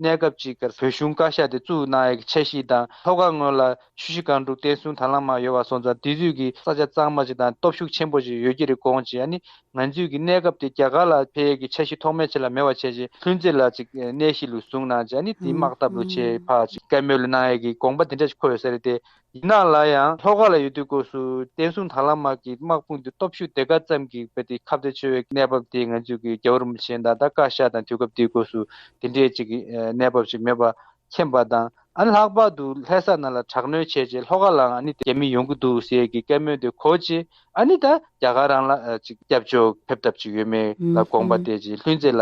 གནས་སྐབས་གཅིག་གི་བོད་གཞུང་བཀའ་ཤག་དེ་བཙུགས་གནང་ཡས་ཁྱད་གཤིས་དང་ཐོ་ག་སྔོན་ལ་ཆུ་བཞི་སྒང་དྲུག་བསྟན་བསྲུང་དར་ལམ་མང་ཡོད་བ་སོང་ཙང་དེ་དུས་ཀྱི་ས་ཆ་གཙང་མ་ཅིག་དང་སྟོབས་ཤུགས་ཆེན་པོ་ཅིག་ཡོད་ཀྱི་རེད་གོང་ཅིག་ཡ་ནི་ང་ཚོས་ཀྱི་གནས་སྐབས་དེ་རྒྱ་གར་ལ་འཕེལ་ཡས་ཀྱི་ཆ་གཤིས་ཐོག་མའི་ཆེད་ལ་མེད་བ་བྱས་ཅིག་ལྷུན་རྩེ་ལ་ཅིག་གནས་གཤིས་ལུགས་བཟུང་གནང་ཅིག་ཡ་ནི་དེའི་དམག་འཐབ་ལུགས་བྱས་ཕག་ཅིག་བཀའ་མོལ་ལ་གནང་ཡས་ཀྱི་དགོངས་པ་དེ་འདྲ་ཅིག་འཁོད་ཡོད་ས་རེད་དེ་ཡིན་ནའང་ལ་ཡང་ལྷོ་ཁ་ལ་ཡོད་དུས་སྐོར་སུ་བསྟན་སྲུང་དར་ལམ་དམག་གི་དམག་དཔུང་དེ་སྟོབས་ཤུགས་དེ་ག་ཙམ་གྱིས་བེད་དེ་ཁ་བརྡ་འཆོལ་བའི་གནས་བབ་དེ་ང་ཚོས་གི་རྒྱ་བོར་མི་བྱེད་མདའ་དར་བཀའ་ཤག་དང་དུས་སྐབས་དེའི་སྐོར་སུ་དེ་འདྲའི་ཅིག་གི་གནས་བབ་ཞིག་མེད་པ་མཁྱེན་པ་དང་ཨ་ནི་ལྷག་པར་དུ་ལྷས་ས་ན་ལ་དྲག་གནོན་བྱས་རྗེས་ལྷོ་ཁ་ལའང་ཨ་ནི་རྒྱ་མི་ཡོང་གི་འདུག་ཟེར་གི་བཀའ་མོལ་དེ་གོ་རྗེས་ཨ་ནི་ད་རྒྱ་གར་རང་ལ་ཅིག་སྐྱབས་བཅོལ་ཕེབས་ཐབས་ཅིག་ཡོད་མེད་ལ་དགོངས་པ་བཏད་རྗེས་ལྷུན་རྩེ་ལ་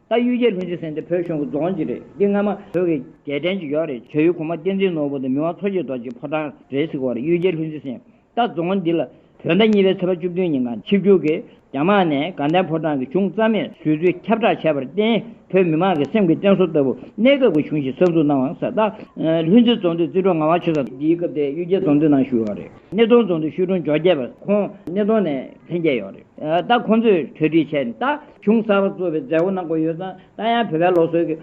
རྟ་གཡུ་རྒྱལ་ལྷུན་རྩེ་གསེར་འདི་བོད་གཞུང་གི་རྫོང་གཅིག་རེད་འདི་སྔ་མ་བོད་ཀྱི་རྒྱལ་བསྟན་གྱི་ཡོག་རེད་བྱ་ཡུལ་གོང་མ་བསྟན་འཛིན་ནོར་བུ་དང་མི་དབང་མཚོ་སྐྱེས་རྡོ་རྗེའི་ཕོ་བྲང་རེད་ཟེར་གི་བར་གཡུ་རྒྱལ་ལྷུན་རྩེ་གསེར་རྟ་རྫོང་འདི་ལ་བོད་ཟླ་གཉིས་པའི་ཚེས་པ་བཅུ་བདུན་ཉིན་གངས་ཆིབས་རྒྱུད་ཀྱི་རྒྱ་དམག་ནས་དགའ་ལྡན་ཕོ་བྲང་གི་གཞུང་རྩ་མེད་བཟོས་ཚུལ་ཁྱབ་བསྒྲགས་བྱས་པར་བརྟེན་བོད་མི་མང་གི་སེམས་ཀྱི་བསྟན་སྲོལ་ལྟ་བུ་གནས་སྐབས་ཀྱི་གཞུང་ཞིག་གསར་འཛུགས་གནང་བ་ཟེར་རྟ་ལྷུན་རྩེ་རྫོང་དུ་རྩིས་འཕྲོ་ང་བ་ཆུ་ཚ་འདིའི་སྐབས་དེ་གཡུ་རྒྱལ་རྫོང་འདི་ནང་བཞུགས་ཡོག་རེད་སྣེ་གདོང་རྫོང་དུ་ཤུལ་གྲོང་འཇོག་རྒྱས་པ་ཁོང་སྣེ་གདོང་ནས་ལྷན་རྒྱས་ཡོག་རེད་རྟ་ཁོང་ཚོས་གྲོས་སྒྲིག་བྱས་ནས་རྟ། ཅུང་གསར་བ་གཙོ་བའི་མཛད་སྒོ་གནང་སྒོ་ཡོད་ཙང་ད་ཡང་བོད་པའི་ལོ་སྲོལ་གྱི་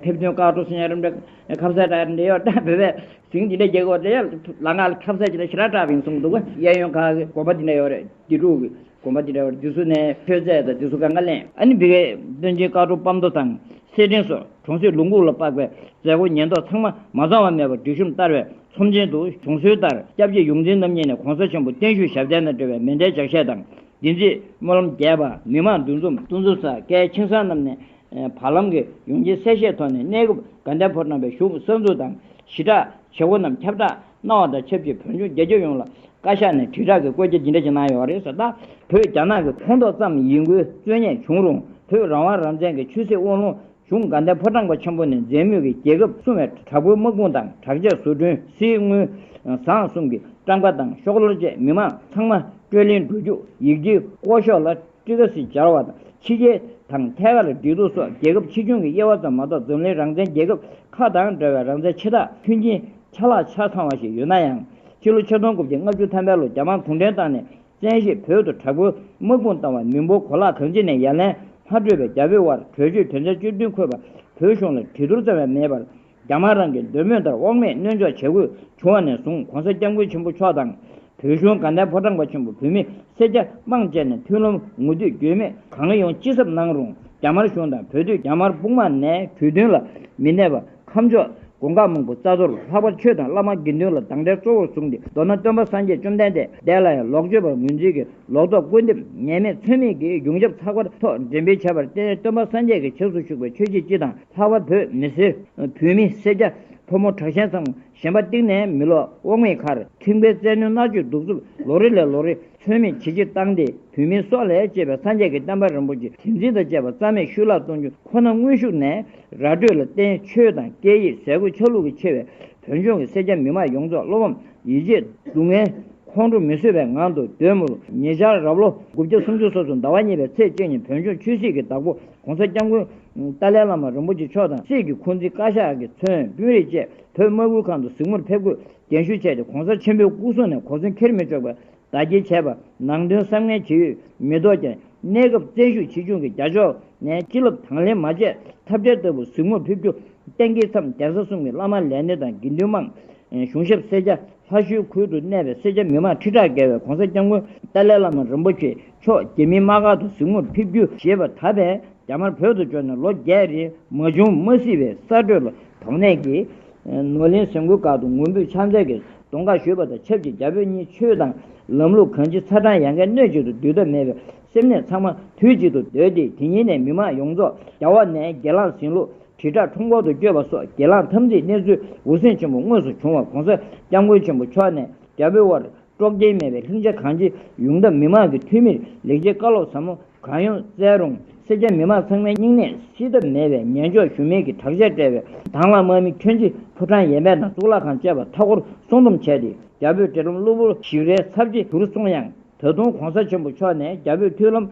ཕེབས་དོན་བཀག་འགྲོ་ཟིན་ཡང་རིམ་གྲས་ཁབ་གསལ་གྲགས་འདི་ཡོད་ལྟ་བོད་པའི་ཟིང་འདི་འདྲའི་རྒྱལ་སྒོ་འདི་ཡོད་ལ་ང་ལ་ཁབ་གསལ་ཇི་ལྟར་ཞི་རགས་གྲགས་བིང་གསུངས་འདུག་ག་གཡས་གཡོན་ཁག་གི་དགོན་པ་འདི་འདྲ་ཡོད་རེད་དགེ་ཕྲུག་གི་དགོན་པ་འདི་འདྲ་ཡོད་རེད་དེ་ཚོ་ནས་མཆོད་རྫས་དང་དེ་ཚོ་ག་འགའ་ལེན། ཨ་ནི་བི་ཀའི་སྟོན་ཆེན་དཀར་གྲོགས་སྤམ་མདོ་དང་སེར་སྦྲེང་སོགས་གྲོང་གསེབ་ལུང་ཁུག་ལ་དཔག་པའི་མཛད་སྒོ་ཉེན་རྟོག་ཚང་མ་མ་གཙང་བ་མེད་པར་སྒྲིག་ཤོམ་བསྟར་བའི་ཚོམས་ཆེན་དུ་བྱུང་སྲོལ་ལྟར་སྐྱབས་རྗེ་ཡོངས་འཛིན་རྣམ་གཉིས་ནས་གོང་ས་ཆེན་པོ་བརྟན་བཞུགས་ཞབས་བརྟན་དང་འབྲེལ་བའི་མེ་མདའི་ལྗགས་བཤད་དང་འདི་རྗེས་སྨོན་ལམ་རྒྱས་པ་མི་དམངས་འདུ་འཛོམས་གཏོང་འཛུགས་ས་སྐལ་ཆིང་ས་རྣམས་ནས་བར་ལམ་གྱི་ཡོང་ཆེན་གསལ་བཤད་ཐོག་ནས་གནས་སྐབས་དགའ་ལྡན་ཕོ་བྲང་བའི་བཞུགས་གསོལ་འཛུགས་དང་ཞི་དྲག་བྱེད་སྒོ་རྣམས་ཁྱབ་བསྒྲགས་གནང་བ་དང་ཆབས་ཅིག་བོད་ལྗོངས་རྒྱལ་ཁྱབ་ཡོངས་ལ་བཀའ་ཤག་ནས་དྲིལ་བསྒྲགས་ཀྱི་བཀོད་ཁྱབ་ཇི་འདྲ་ཞིག་གནང་ཡོད་རེད་ཟེར་ན། བོད་རྒྱ་ནག་གི་ཁོངས་གཏོགས་ཙམ་ཡིན་དགོས་རྩོད་ཉེས་བྱུང་རུང་བོད་རང་དབང་རང་བཙན་གྱི་ཆོས་སྲིད་དབང་ལུང་གཞུང་དགའ་ལྡན་ཕོ་བྲང་པ་ཆེན་པོ་ནས་མཛད་མུས་ཀྱི་རྒྱལ་ཁབ་སྲུང་བའི་དྲག་པོའི་དམག་དཔུང་དང་དྲག་ཆས་བཟོ་སྐྲུན་སིལ་དངུལ་བཟང་གསུམ་གྱི་སྤྲང་པ་དང་ཤོག་ལོར་བཅས་མི་མང་ཚང་མ་སྤྲོད་ལེན་འགྲོ་རྒྱུ་ཡིག་འབྲིའི་ཀོ་ཤོག་ལ་ཀྲི་ཀ་སི་སྦྱར་བ་དང་ཕྱི་རྒྱལ་དང་ཐད་ཀར་འབྲེལ་གཏུག་སོགས་རྒྱལ་ཁབ་ཆེ་ཆུང་གི་དབྱེ་བ་ཙམ་མ་གཏོགས་འཛམ་གླིང་རང་བཙན་རྒྱལ་ཁབ་ཁག་དང་འདྲ་བའི་རང་བཙན་ཆེ་ཐག་མཐུན་རྐྱེན་ཆ་ལག་ཆ་ཚང་བ་ཞིག་ཡོད་ན་ཡང་ཕྱི་ལོ་ཆིག་སྟོང་དགུ་བརྒྱ་ལྔ་བཅུ་ཐམ་པའི་ལོ་རྒྱ་དམག་གུང་ཁྲན་ཏང་ནས་བཙན་བྱོལ་བོད་དུ་དྲག་པོའི་དམག་དཔུང་བཏང་བ་མི་འབོར་གོ་ལག་གངས་ཅན་ནས་ཡར་ལན་ལྷག་སྤྲོད་པའི་རྒྱ་བོད་དབར་གྲོས་ཆོད་དོན་ཚན་བཅུ་བདུན་འཁོད་པ་བོད་གཞུང་ལ་གྲི་དོར་ཙམ་ཡང་མེད་པར་རྒྱ་དམར་རང་གི་འདོད་མོས་ལྟར་དབང་མེད་གནོན་འཇོག་བྱེད་དགོས་བྱུང་བ་ནས་བཟུང་གོང་ས་སྐྱབས་མགོན་ཆེན་པོ་མཆོག་དང། བོད་གཞུང་དགའ་ལྡན་ཕོ་བྲང་པ་ཆེན་པོ་བོད་མི་སེར་སྐྱ་དམངས་བཅས་ནས་མཐུན་ལམ་ངོ་བསྟོད་འགྱོད་མེད་གང་ཡོང་ཅི་ཟབ་གནང་རུང་རྒྱ་དམར་གཞུང་དང་བོད་སྡོད་རྒྱ་དམར་དཔུང་དམག་ནས་གྲོས་མཐུན་ལ་མི་གནས་པ་ཁམས་མཆོག། དགོངས་དག་མང་པོ་རྩ་གཏོར་ལྷག་པར་ཆོས་དང་བླ་མ་དགེ་འདུན་ལ་སྡང་དགྲའི་གཙོ་བོར་བཟུང་སྟེ་མདོར་ན་སྟོན་པ་སངས་རྒྱས་བཅོམ་ལྡན་འདས་ལ་ཡང་ལོག་སྤྱོད་པར་ངོས་འཛིན་གྱིས་ལོག་རྟོག་བསྐུར་འདེབས་ཉེས་མེད་ཚོད་མེད་ཀྱིས་གཞུང་ཞབས་ཚགས་པར་ཐོག་འགྲེམས་སྤེལ་བྱས་པར་བརྟེན་སྟོན་པ་སངས་རྒྱས་ཀྱི་ཕྱག་སུ་བཞུགས་པའི་ཆོས་བྱེད་སྤྱི་དང་ལྷག་པར་བོད་མི་སེར། བོད་མི་སེར་སྐྱ། ཕོ་མོ་དྲག་ཞན་ཚང་མ་ཞེན་པ་གཏིང་ནས་མི་ལོག་དབང་མེད་ཁར་ཁེངས་པའི་བཙན་གནོན་མནར་གཅོད་གདུག་རྩུབ་ལོ་རེ་ལས་ལོ་རེ་ཚོད་མེད་ཇེ་ཆེར་བཏང་སྟེ་བོད་མིའི་སྲོག་ལས་གཅེས་པའི་སངས་རྒྱས་ཀྱི་བསྟན་པ་རིན་པོ་ཆེ་དྲན་འཛིན་དང་བཅས་པ་རྩ་མེད་ཤུལ་བརླག་གཏོང་རྒྱུ་ཁོ་ན་དངོས་ཤུགས་ནས་ར་སྤྲོད་ལ་བརྟེན་ཆོས་དང་སྐད་ཡིག་ཟས་གོས་ཆ་ལུགས་ཀྱི་ཆེ་བའི་བོད་ལྗོངས་ཀྱི་སེར་སྐྱ་མི་མང་ཡོངས་རྫོགས་བློ་ཕམ་ཡིད་ཆད་སྡུག་བསྔལ་ཁོང་ཁྲོ་མི་བཟོད་པའི་ངང་དུ་དོལ་མུར་ཉེ་ཆར་རབ་ལོ་དགུ་བརྒྱ་སུམ་ཅུ་སོ་སོ་ཟླ་བ་གཉིས་པའི་ཚེས་བཅུ་ཉིན་བོད་ལྗོངས་ཆོས་སྲིད་ཀྱི་བདག་པོ ྋགོང་ས ྋསྐྱབས་མགོན་ཏཱ་ལའི་བླ་མ་རིན་པོ་ཆེ་མཆོག་དང་སྲིད་ཀྱི་འཁོན་འཛིན་བཀའ་ཤག་གི་མཚོན་དཔོན་རིགས་བཅས་བོད་དམག་ཨུལ་ཁང་དུ་གཟིགས་མོར་ཕེབས་སྒོས་རྒན་ཞུ་བྱས་ཏེ་གོང་ས་ཆེན་པོའི་སྐུ་གསུང་ནས་གོ་མཚོན་ཁྱེར་མི་ཆོག་པའི་བརྡ་སྐྱེལ་བྱས་པར་ནང་དོན་བསམ་ངན་བྱེད་ཡུལ་མི་ལྡོག་ཀྱང་གནས་སྐབས་བཙན་ཤུགས་ཆེ་ཆུང་གི་རྒྱ་ཕྱོགས་ནས་སྤྱི་སློབ་དང་ལེན་མ་བྱས་ཐབས་བྲལ་ལྟ་བུ་གཟིགས་མོར་ཕེབས་རྒྱུ་གཏན་འཁེལ་མཚམས་གདན་ས་གསུམ་གྱི་བླ་མ་ལས་སྣེ་དང་དགེ་འདུན་དམངས་གཞུང་ཞབས་སེར་སྐྱ་ལྷ་ཞུའི་ཁུལ་དུ་གནས་པའི་སེར་སྐྱ་མི་མང་ཁྲི་ཕྲག་བརྒལ་བས་གོང་ས་སྐྱབས་མགོན་ཏཱ་ལའི་བླ་མ་རིན་པོ་ཆེ་མཆོག་རྒྱལ་མི་དམག་ཁག་ཏུ་གཟིགས་མོར་ཕེབས་རྒྱུ་ཞེས་པ་ད་བས་རྒྱ་དམར་བོད་དུ་འབྱོར་ནས་ལོ་བརྒྱད་རེའི་མ་བྱུང་མ་སྲིད་པའི་གསར་སྒྲོས་ལ་དོགས་གནས་ཀྱིས། ནོར་ལེན་ཟེ་མགོའི་སྒར་དུ་ངུ་འབོད་ཕྱག་མཚན་གྱི་གདོང་ཁ་བཞུས་པ་དང་ཆབས་ཅིག་རྒྱ་བོད་གཉིས་ཆོས་དང་ལམ་ལུགས་གང་ཅི་ཚ་གྲང་ཡལ་གའི་སྣོད་གཅིག་ཏུ་འདུས་ཐབས་མེད་པའི་སེམས་ནད་ཚང་མ་དུས་གཅིག་ཏུ་བརྡོལ་ཏེ་དེ་ཉིན་ནས་མི་མང་ཡོངས་རྫོགས་རྒྱ་བོག་ནས་སྒེར་ལངས་ཟིང་ལུག་དྲིལ་བསྒྲགས་ཁྲོམ་སྐོར་དུ་བསྐྱོད་པ་སོགས་སྒེར་ལངས་འཐབ་འཛིང་གནས་ཚུལ་འུར་ཟིང་ཆེན་པོ་དངོས་སུ་བྱུང་བ་གོང་ས་སྐྱབས་མགོན་ཆེན་པོ་མཆོག་ནས་རྒྱ་བོད་དབར་དཀྲོག་རྐྱེན་མེད་པའི་ལྷིང་འཇགས་གང་ཅིའི་ཡོངས་འདབ་མི་དམངས་ཀྱི་འཐུས་མིར་ལེགས་སྐྱེས་བཀའ་སློབ་ཟབ་མོ་གང་ཡོང་བསྩལ་རུང་སེར་སྐྱ་མི་དམངས་ཚང་མའི་སྙིང་ནད་སེལ་ཐབས་མེད་པའི་ངན་ཕྱོགས་ཞུམ་མེད་ཀྱི་དྲག་ཆས་སྤྲས་པའི་དྭང་བླངས་དམག་མི་ཁྱོད་ཀྱིས་ཕོ་བྲང་ཡས་མས་དང་གཙུག་ལག་ཁང་བཅས་པ་མཐའ་སྐོར་སྲུང་སྡོམ་བྱས་ཏེ་རྒྱ་བོད་འབྲེལ་ལམ་གློ་བུར་ཞིག་རེ་ཚབས་ཆེ་གྱུར་སོང་ཡང་ད་དུང་གོང་ས་ཆེན་པོ་མཆོག་ནས་རྒྱ་བོད་མཐུན་ལམ་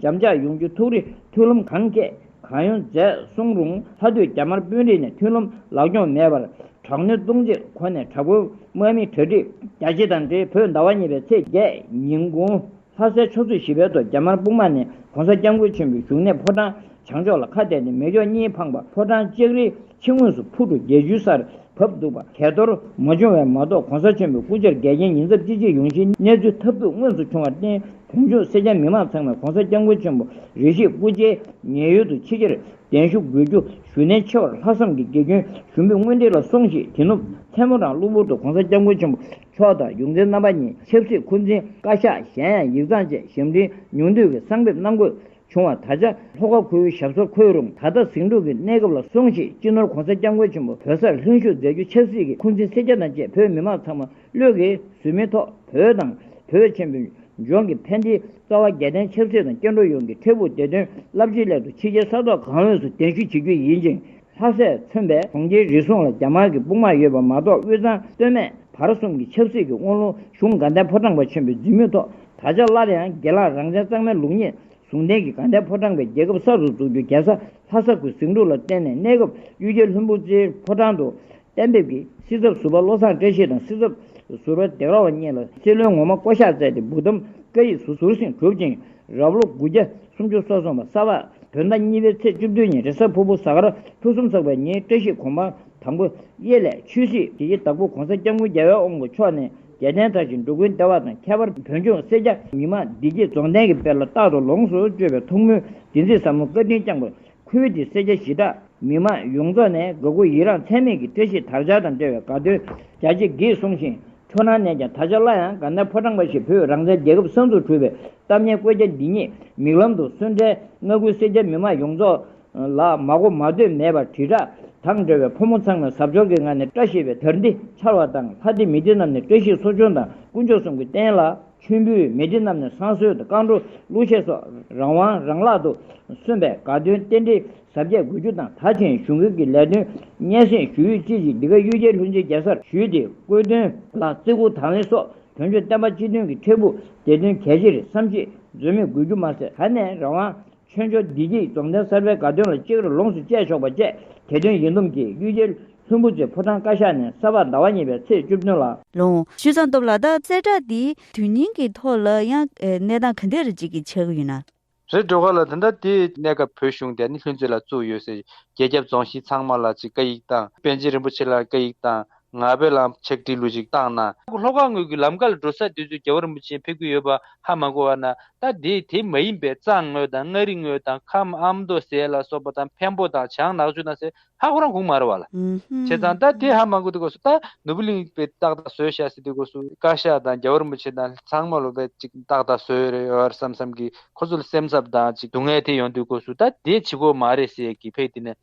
འཇམ་ཅག་ཡོང་རྒྱུ་ཐུགས་རེ་མཐུན་ལམ་གང་སྐྱེས། གང་ཡོང་མཛད་གསུང་རུང་ལྷ་སྟོད་རྒྱ་དམར་དཔོན་རིགས་ནས་མཐུན་ལུམ་ལག་རྐྱོང་མེད་པར་དྲག་གནོན་གཏོང་རྗེས་ཁོ་ནས་དྲག་པོའི་དམག་མི་གྲ་སྒྲིག་རྒྱ་ཆེ་དང་འབྲེལ་བོད་ཟླ་བ་གཉིས་པའི་ཚེས་བརྒྱད་ཉིན་དགུང་ལྷ་སའི་ཕྱོགས་ཚོད་བཞི་པའི་ཐོག་རྒྱ་དམར་དཔུང་དམག་ནས་གོང་ས་སྐྱབས་མགོན་ཆེན་པོའི་བཞུགས་གནས་ཕོ་བྲང་བྱང་ཕྱོགས་ལ་ཁ་གཏད་དེ་མེ་སྒྱོགས་གཉིས་འཕངས་པ་ཕོ་བྲང་ལྕགས་རི་ཕྱི་ངོས་སུ་ཕུར་གྲུ་བརྒྱད་ཅུའི་སར་བབས་འདུག་པ་གས་གཏོར་མ་བྱུང་བས་མ་གཏོགས་གོང་ས་ཆེན་པོའི་སྐུ་བཅར་འགལ་རྐྱེན་ཉིན་རྩ་གཅིག་རྗེས་ཡོང་གཞིའི་གནས་ཚུལ་ཐབས་སྡུག་དངོས་སུ་བྱུང་བར་བརྟེན་བོན་ཆོས་སེར་སྐྱ་མི་མང་ཚང་མས་གོང་ས་སྐྱབས་མགོན་ཆེན་པོ་རེ་ཞིག་སྐུ་བཅར་ཉེ་ཡོད་དུ་ཕྱི་གྱར་གདན་ཞུ་དགོས་རྒྱུ་ཞུ་ནན་ཆེ་བར་ལྷག་བསམ་གྱི་དགེ་སྐྱོན་ཞུ་འབུལ་དངོས་འབྲེལ་ལ་སོང་ཞིག་དེ་ནུབ་མཚན་མོ་རང་གློ་བུར་དུ་གོང་ས་སྐྱབས་མགོན་ཆེན་པོ་མཆོག་དང་ཡོངས་འཛིན་རྣམ་པ་གཉིས་ཆབ་སྲིད་འཁོན་འཛིན་བཀའ་ཤག་གཞན་ཡང་ཡིག་ཚང་བཅས་ཞབས་འདྲེན་ཉུང་བསྡུས་ཀྱི་གསང་ཕེབས་གནང་དགོས། བྱུང་བ་ད་ཆ་ལྷོ་ཁ་ཁུལ་ཞབས་སོར་འཁོད་རུང་ད་ལྟ་ཟིང་འཁྲུག་གི་གནས་སྐབས་ལ་སོང་ཞིང་སྤྱི་ནོར་གོང་ས་སྐྱབས་མགོན་ཆེན་པོ་བོད་སར་ལྷུན་བཞུགས་མཛད་རྒྱུ་ཆབ་སྲིད་ཀྱི་འཁུར་འཛིན་སེར་སྐྱ་དང་བཅས་བོད་མི་མང་ཚང་མ་བློས་འགེལ་ཟོལ་མེད་ཐོག་བོད་དང་བོད་ཆེན་པོའི་ལྗོངས་ཀྱི་ཕན་བདེའི་རྩ་བ་རྒྱལ་བསྟན་ཆབ་སྲིད་དང་སྐྱེ་འགྲོ་ཡོངས་ཀྱི་འཕྲལ་ཕུགས་བདེ་དོན་རླབས་ཆེན་སླད་དུ་ཕྱི་རྒྱལ་ས་ཐོག་གང་འོས་སུ་གདན་ཞུ་བྱེད་རྒྱུ་ཡིན་ཅིང། ལྷ་སས་མཚོན་པའི་གྲོང་ཁྱེར་རེ་ཟུང་ལ་རྒྱ་དམར་གྱི་དཔུང་དམག་ཡོད་པ་མ་གཏོགས་དབུས་གཙང་སྟོད་སྨད་བར་གསུམ་གྱི་ཆབ་སྲིད་ཀྱི་དབང་ལུང་གཞུང་དགའ་ལྡན་ཕོ་བྲང་པ་ཆེན་པོའི་རྫུན་སྨྲོས་ཐོག་ད་ཆ་སླར་ཡང་དགེ་ལགས་རང་བཙན་གཙང་མའི་ལུགས་རྙེད་ཟུང་ལྡན་གྱི་དགའ་ལྡན་ཕོ་བྲང་པའི་རྒྱལ་ཁབ་གསར་དུ་འཛུགས་རྒྱུ་རྒྱལ་ས་ལྷ་ས་ཁུལ་ཟིང་འཁྲུག་ལ་བརྟེན་ནས་གནས་སྐབས་གཡུལ་རྒྱལ་ལྷུན་པོ་རྩེའི་ཕོ་བྲང་དུ་གཏན་འབེབས་ཀྱིས་སྲིད་ཚབ་ཟུར་པ་བློ་བཟང་བཀྲ་ཤིས་དང་སྲིད་ཚབ་ཟུར་པ་འདེགས་ར་བ་གཉིས་ལ་སྲིད་བློན་ངོ་མ་བསྐོ་གཞག་བསྩལ་ཏེ་སྦུག་དམ་བཀའ་ཡིག་ཟུར་ཟུར་བཞིན་གྲུབ་ཅིང་རབ་ལོ་དགུ་བརྒྱ་སུམ་ཅུ་སོ་གསུམ་པ་ས་བག་བོད་ཟླ་གཉིས་པའི་ཚེས་བཅུ་བདུན་ཉིན་རེས་གཟའ་ཕུར་བུ་གཟའ་སྐར་ཕུན་སུམ་ཚོགས་པའི་ཉིན་བཀྲ་ཤིས་གོང་མ་དང་པོ་གཡས་ལས་ཆོས་སྲིད་ཀྱི་ཡི་དྭགས་པོ་གོང་ས་སྐྱབས་མགོན་རྒྱལ་བའི་དབང་པོ་མཆོག་ནས་རྒྱལ་བསྟན་དར་ཞིང་འགྲོ་ཀུན་བདེ་བ་དང་ཁྱད་པར་བོད་ལྗོངས་སེར་སྐྱ་ཉི་མ་བདེ་སྐྱིད་རྫོང་གཏན་གྱི་དཔལ་ལ་རྟག་ཏུ་ལོངས་སུ་སྤྱོད་པའི་ཐུགས་སྨོན་བདེན་ཚིག་ཟབ་མོ་བཀའ་དྲིན་བསྐྱངས་པ་ཁུལ་གྱི་སེར་སྐྱ་གཞི་བདག་མི་དམངས་ཡོངས་རྫོགས་ནས་དགའ་མགུ་ཡི་རངས་ཚད་མེད་ཀྱི་བཀྲ་ཤིས་དར་ཆ་དང་འབྲེལ་བའི་དགའ་སྟོན་རྒྱ་ཆེ་གེས་གསུངས་ཤིང་ཁྱོད་རང་ནས་ཀྱང་ད་ཆ་སླར་ཡང་དགའ་མདའི་ཕོ་བྲང་འབའ་ཞིག་བོད་རང་བཙན་རྒྱལ་ཁབ་གསར་འཛུགས་གྲུབ་པའི་སྟབས་ཉེས་བཀོད་རྒྱ་འདི་ཉིད་མིག་ལམ་དུ་སོན་འཕྲལ་མངའ་ཁུལ་སེར་སྐྱ་མི་དམངས་ཡོངས་རྫོགས་ལ་མ་གོ་མ་ཐོས་མེད་པར་དྲིལ་བསྒྲགས་དང་འབྲེལ་བའི་ཕོ་མོ་ཚང་མས་གཟབ་མཆོར་གྱི་ངང་ནས་བཀྲ་ཤིས་པའི་དར་འདི་འཕྱར་བ་དང་ལྷ་སྡེ་མི་སྡེ་རྣམས་ནས་བཀྲ་ཤིས་གསོ་སྦྱོང་དང་དཀོན་མཆོག་གསུམ་གྱི་རྟེན་ལ། མཆོད་འབུལ་མེ་དྲི་རྣམས་ནི་བསང་གསོལ་དང་བསྐང་བྲོ་གླུ་གཞས་སོགས་རང་དབང་རང་བརླག་ཏུ་སོན་པའི་དགའ་སྟོན་རྟེན་འབྲེལ་གཟབ་རྒྱས་དགོས་རྒྱུ་དང་ད་ཕྱིན་གཞུང་སྒེར་གྱི་ལས་དོན་སྙན་སེང་ཞུ་ཡུལ་བཅས་ཀྱི་འདི་ག་གཡུལ་རྒྱལ་ལྷུན་རྩེ་རྒྱལ་སར་ཞུས་ཏེ་བཀོད་དོན་ལ་བརྩི་བཀུར་དང་ལེན་སོགས་དོན་གཅོད་བསྟན་པ་སྤྱི་དོན་གྱི་འཕྲལ་ཕུགས་དེ་དོན་གལ་ཆེར་བསམ་གཞིགས་འཛོལ་མེད་དགོས་རྒྱུ་མ་ཟད་ད་ནས་རང་དབང་ཆོས་འབྱོར་བདེ་སྐྱིད་རྫོང་གདན་གསར་པའི་དགའ་སྟོན་ལ་ཅིག་རོ་ལོངས་སུ་སྤྱད་ཆོག་པ་བཅས་དེ་སྟོན་ཡིད་འདོམས་ཀྱིས་གཡུལ་རྒྱལ་ལྷུན་པོ་ཚེ་ཕོ་བྲང་བཀའ་ཤག་ནས་གསར་པར་ཟླ་བ་གཉིས་པའི་ཚེས་བཅུ་བདུན་ལ། ལོངས་སྤྱོད་གཙང་སྟོབས་ལ་དྭགས་གསལ་བསྒྲགས་འདི་དོན་སྙིང་གི་ཐོག་ལ་ཡང་གནས་སྟངས་ག་འདི་རུ་ཅིག་གི་ཆགས་ཡོད་ན། རེད་འགྲོ་ག་ལ་དེ་འདྲ་དེ། གནས་སྐབས་བོད་གཞུང་དེ་ནི་ལྷུན་རྩེ་ལ་བཙུགས་ཡོད་ཟེར་རྒྱལ་ཁྱབ་རྫོང་གཞིས་ཚང་མ་ལ་ཅིག་བཀའ་ཡིག་དང་པན་ཆེན་རིན་པོ་ཆེ་ལ་བཀའ་ཡིག་དང་ང་བོད་ལ་ཆིག་སྒྲིལ་ལུས་ཤིག་བཏང་ན། ལྷོ་ཁ་ངོས་ཀྱི་ལམ་ཁ་ལ་འགྲོ་ས་དེ་ཚོའི་རྒྱལ་བ་རིན་པོ་ཆེ་ཕེབས་ཀྱི་ཡོད་པ་ཧ་མ་གོ་བ་ན་ད་དེ་དེ་མ་ཡིན་པའི་གཙང་ངོས་དང་མངའ་རིས་ངོས་དང་ཁམས་ཨ་མདོ་ཟས་ལ་སོགས་པ་དང་འཕན་པོ་དང་བྱང་ནག་ཆུ་དང་ཟེར་ཧ་ཁོ་རང་གུང་མ་ར་བ་ལ་བྱས་ཙང་ད་དེ་ཧ་མ་གོ་དེ་སྐོར་སུ་ད་ནོར་བུ་གླིང་པའི་སྟག་ད་ཟོས་ཤ་ཟེར་དེ་སྐོར་སུ་བཀའ་ཤག་དང་རྒྱལ་བ་རིན་པོ་ཆེ་དང་ཚང་མ་ལོ་པའི་ཅིག་སྟག་ད་ཟོས་རེད་ཨོ་ཨར་བསམ་བསམ་གྱིས་ཁོ་ཚོ་ལ་སེམས་འཚབ་དང་ཅིག་སྡུག་བསྔལ་དེ་ཡོང་དུས་སྐོར་སུ་ད་དེ་བྱེད་དགོས་མ་རེད་ཟེར་གྱིས་ཕེབས་དེ་ནས་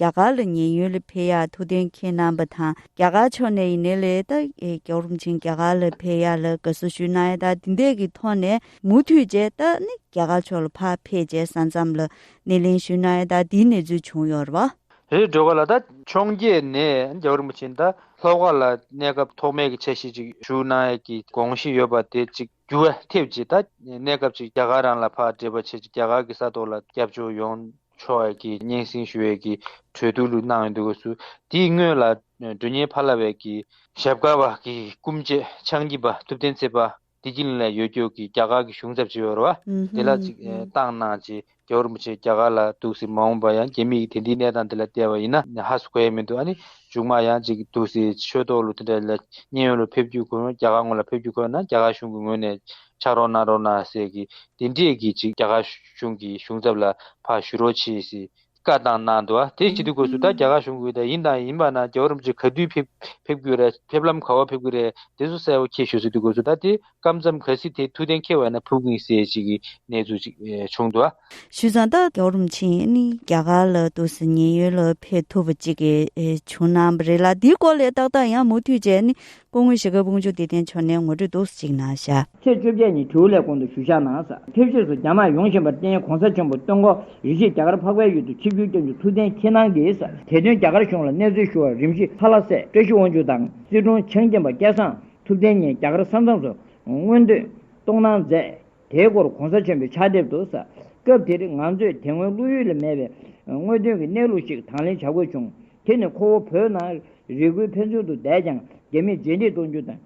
རྒྱ་གར་ལ་ཉེན་ཡོལ་འཕེལ་ཡག་ཐུགས་འདོན་མཁན་རྣམ་པ་དང་རྒྱ་གར་ཕྱོགས་ནས་ཡིན་ནའི་ལས་ལྟ་རྒྱ་རུམ་ཆེན་རྒྱ་གར་ལ་འཕེལ་ཡག་ལ་དགའ་བསུ་ཞུས་གནང་ཡ་ད་དེ་འད་ཀྱི་ཐོག་ནས་མུ་མཐུད་རྒྱས་བཏགས་ནི་རྒྱ་གར་ཕྱོགས་ལ་ཕར་འཕེལ་རྒྱས་ས་མཚམས་ལ་སྣེ་ལེན་ཞུས་གནང་ཡ་ད་དེའི་གནས་ཚུལ་བྱུང་ཡོད་རེད་བ། རེད་འགྲོ་ག་ལ་ད་འཕྱོངས་རྒྱས་ནས་རྒྱ་རུམ་ཆེན་ད་ལྷོ་ཁ་ལ་གནས་སྐབས་ཐོག་མེད་ཀྱི་ཆ་ཤས་ཅིག་ཞུས་གནང་ཡ་ཀྱི་དགོངས་གཞི་ཡོད་པ་དེ་ཅིག་རྒྱུ་བ་ཐེབས་ཀྱི་ད་གནས་སྐབས་ཅིག་རྒྱ་གར་རང་ལ་ཕར་འདྲེས་པ་བྱེད་ཀྱི་རྒྱ་གར་གྱི་ས་ཐོག་ལ་རྒྱབ་སྐྱོར་ཡོང་ཆོས་བར་གྱི་སྙན་གསེང་ཞུ་བའི་གི་གྲོས་བསྡུར་ལུགས་གནང་ཡོད་འདུག་གོ་སུ་དེའི་སྔོན་ལ་སྒྲོན་གཉེར་ཕ་ལ་བའི་གི་ཞབས་དཀར་བ་གི་སྐུ་མཆེད་ཕྱག་བགྱིས་པ་ཐུབ་བསྟན་ཚེ་པདྨ་བདེ་སྐྱིད་གླིང་ལ་ཡོད་སྐྱོར་གི་རྒྱ་གར་གི་གཞུང་ཚབ་ཇི་བོར་བ་དེ་ལ་ཚིག་བཏང་གནང་རྗེས་རྒྱ་བོར་མི་ཆེ་རྒྱ་གར་ལ་འདུག་སའི་མ་འོངས་པར་ཡང་རྒྱ་མི་ཡིས་དེ་འདིའི་གནས་སྟངས་དེ་ལ་བལྟས་པ་ཡིན་ན་ཧ་སུ་གོ་ཡ་མི་འདུག་ཨ་ནི་མཇུག་མ་ཡང་ཅིག་འདུག་སའི་ཆོས་ཐོག་ལུགས་དེ་འདྲ་ལ་མཉན་ཡོད་ལུགས་ཕེབས་རྒྱུ་དགོས་ན་རྒྱ་གར་ངོས་ལ་ཕེབས་རྒྱུ་དགོས་ན་རྒྱ་གར་གཞུང་གི་ངོས་ནས་ཕྱག་རོགས་གནང་རོགས་གནང་ཟེར་གི་དེ་འདྲས་གི་ཅིག་རྒྱ་གར། གཞུང་གི་གཞུང་ཚབ་ལ་ཕར་ཞུ་རོགས་བྱེད་ཞེས་བཀའ་བཏང་གནང་འདུག་བ་དེའི་ཕྱི་དྲིལ་སྒོས་སུ་ད་རྒྱ་གར་གཞུང་གི་ད་ཡིན་དང་ཡིན་པ་ན་རྒྱ་བོད་རིམ་གྱིས་ག་དུས་ཕེབས་རྒྱུ་རེད་ཕེབས་ལམ་ག་བོར་ཕེབས་ཀྱི་རེད་དེ་ཚོ་གསལ་བོ་ཁྱེད་ཞུ་སྲིད་དུ་དགོས་ཚུལ་ད་དེ་སྐབས་མཚམས་ག་སྲིད་དེ་ཐུགས་གཏན་འཁེལ་བས་ན་ཕུགས་ཀྱི་གསལ་བྱེད་ཀྱི་གནས་ཚུལ་ཅིག་བྱུང་འདུག་བ། ཞུས་ཙང་ད་རྒྱ་བོད་རིམ་གྱིས་ནི་རྒྱ་གར་ལ་དུས་སུ་ཉེན་ཡོད་ལ་ཕེབས་ཐུབ་པ་ཅིག་བྱུང་གནང་བ་རེད་ལ་དེའི་སྐོར་ལས་ཏག་ཏག་ཡང་མུ་མཐུད་བྱས་ནས་སྐུ་དངོས་གཞིས་ཀ་དཔུང་འཇུག་བདེ་ལྡན་ཕྱོགས་ནས་ངོ་སྤྲོད་འདུག་གཅིག་ནང་བཞག། ཚེས་བཅོ་བརྒྱད་ཉིན་དྲིའུ་ལས་གོང་དུ་ཞུ་བཞག་ནང་ཟགས་ཕེབས་ཕྱོགས་སུ་རྒྱ་དམག་ཡོང་བཞིན་པར་བརྟེན་གོང་ས་ཆེན་པོ་སྟོན་འགོ་རིག་བཞིས་རྒྱ་གར་འཕགས་པའི་ཡུལ་དུ་ཆིབས་བསྒྱུར་བསྐྱང་རྒྱུ་ཐུགས་གཏན་འཁེལ་གནང་གིས། དེ་བསྟུན་རྒྱ་གར་གཞུང་ལ་གནས་ཚུལ་ཞུ་བར་རིམ་བཞིན་ལྷ་ལྷ་སྲས་བཀྲ་ཤིས་དབང་ཕྱུག་དང་སྲིད་དྲུང་ཆང་སྐྱེམས་པ་སྐལ་བཟང་ཐུབ་བསྟན་གཉིས་རྒྱ་གར་ས་མཚམས་སུ་མངོན་འདོད་གཏོང་གནང་མཛད། དེའི་སྐོར་གོང་ས་ཆེན་པོའི་ཕྱག་དེབ་ཏུ། སྐབས་དེར་ང་ཚོས་དེ་སྔོན་བློ་ཡུལ་ལས་མེད་པའི་དངོས་དོན་གྱི་གནས་ལུགས་ཤིག་དང་ལེན་བྱ་དགོས་བྱུང། དེ་ནི་ཁོ་བོ་བོད་ནང་རི་ཁུལ་ཕན་ཚུན་དུ་བསྡད་ཀྱང་རྒྱ་མིས་རྗེས་འདེད་གཏོང་རྒྱུ་དང།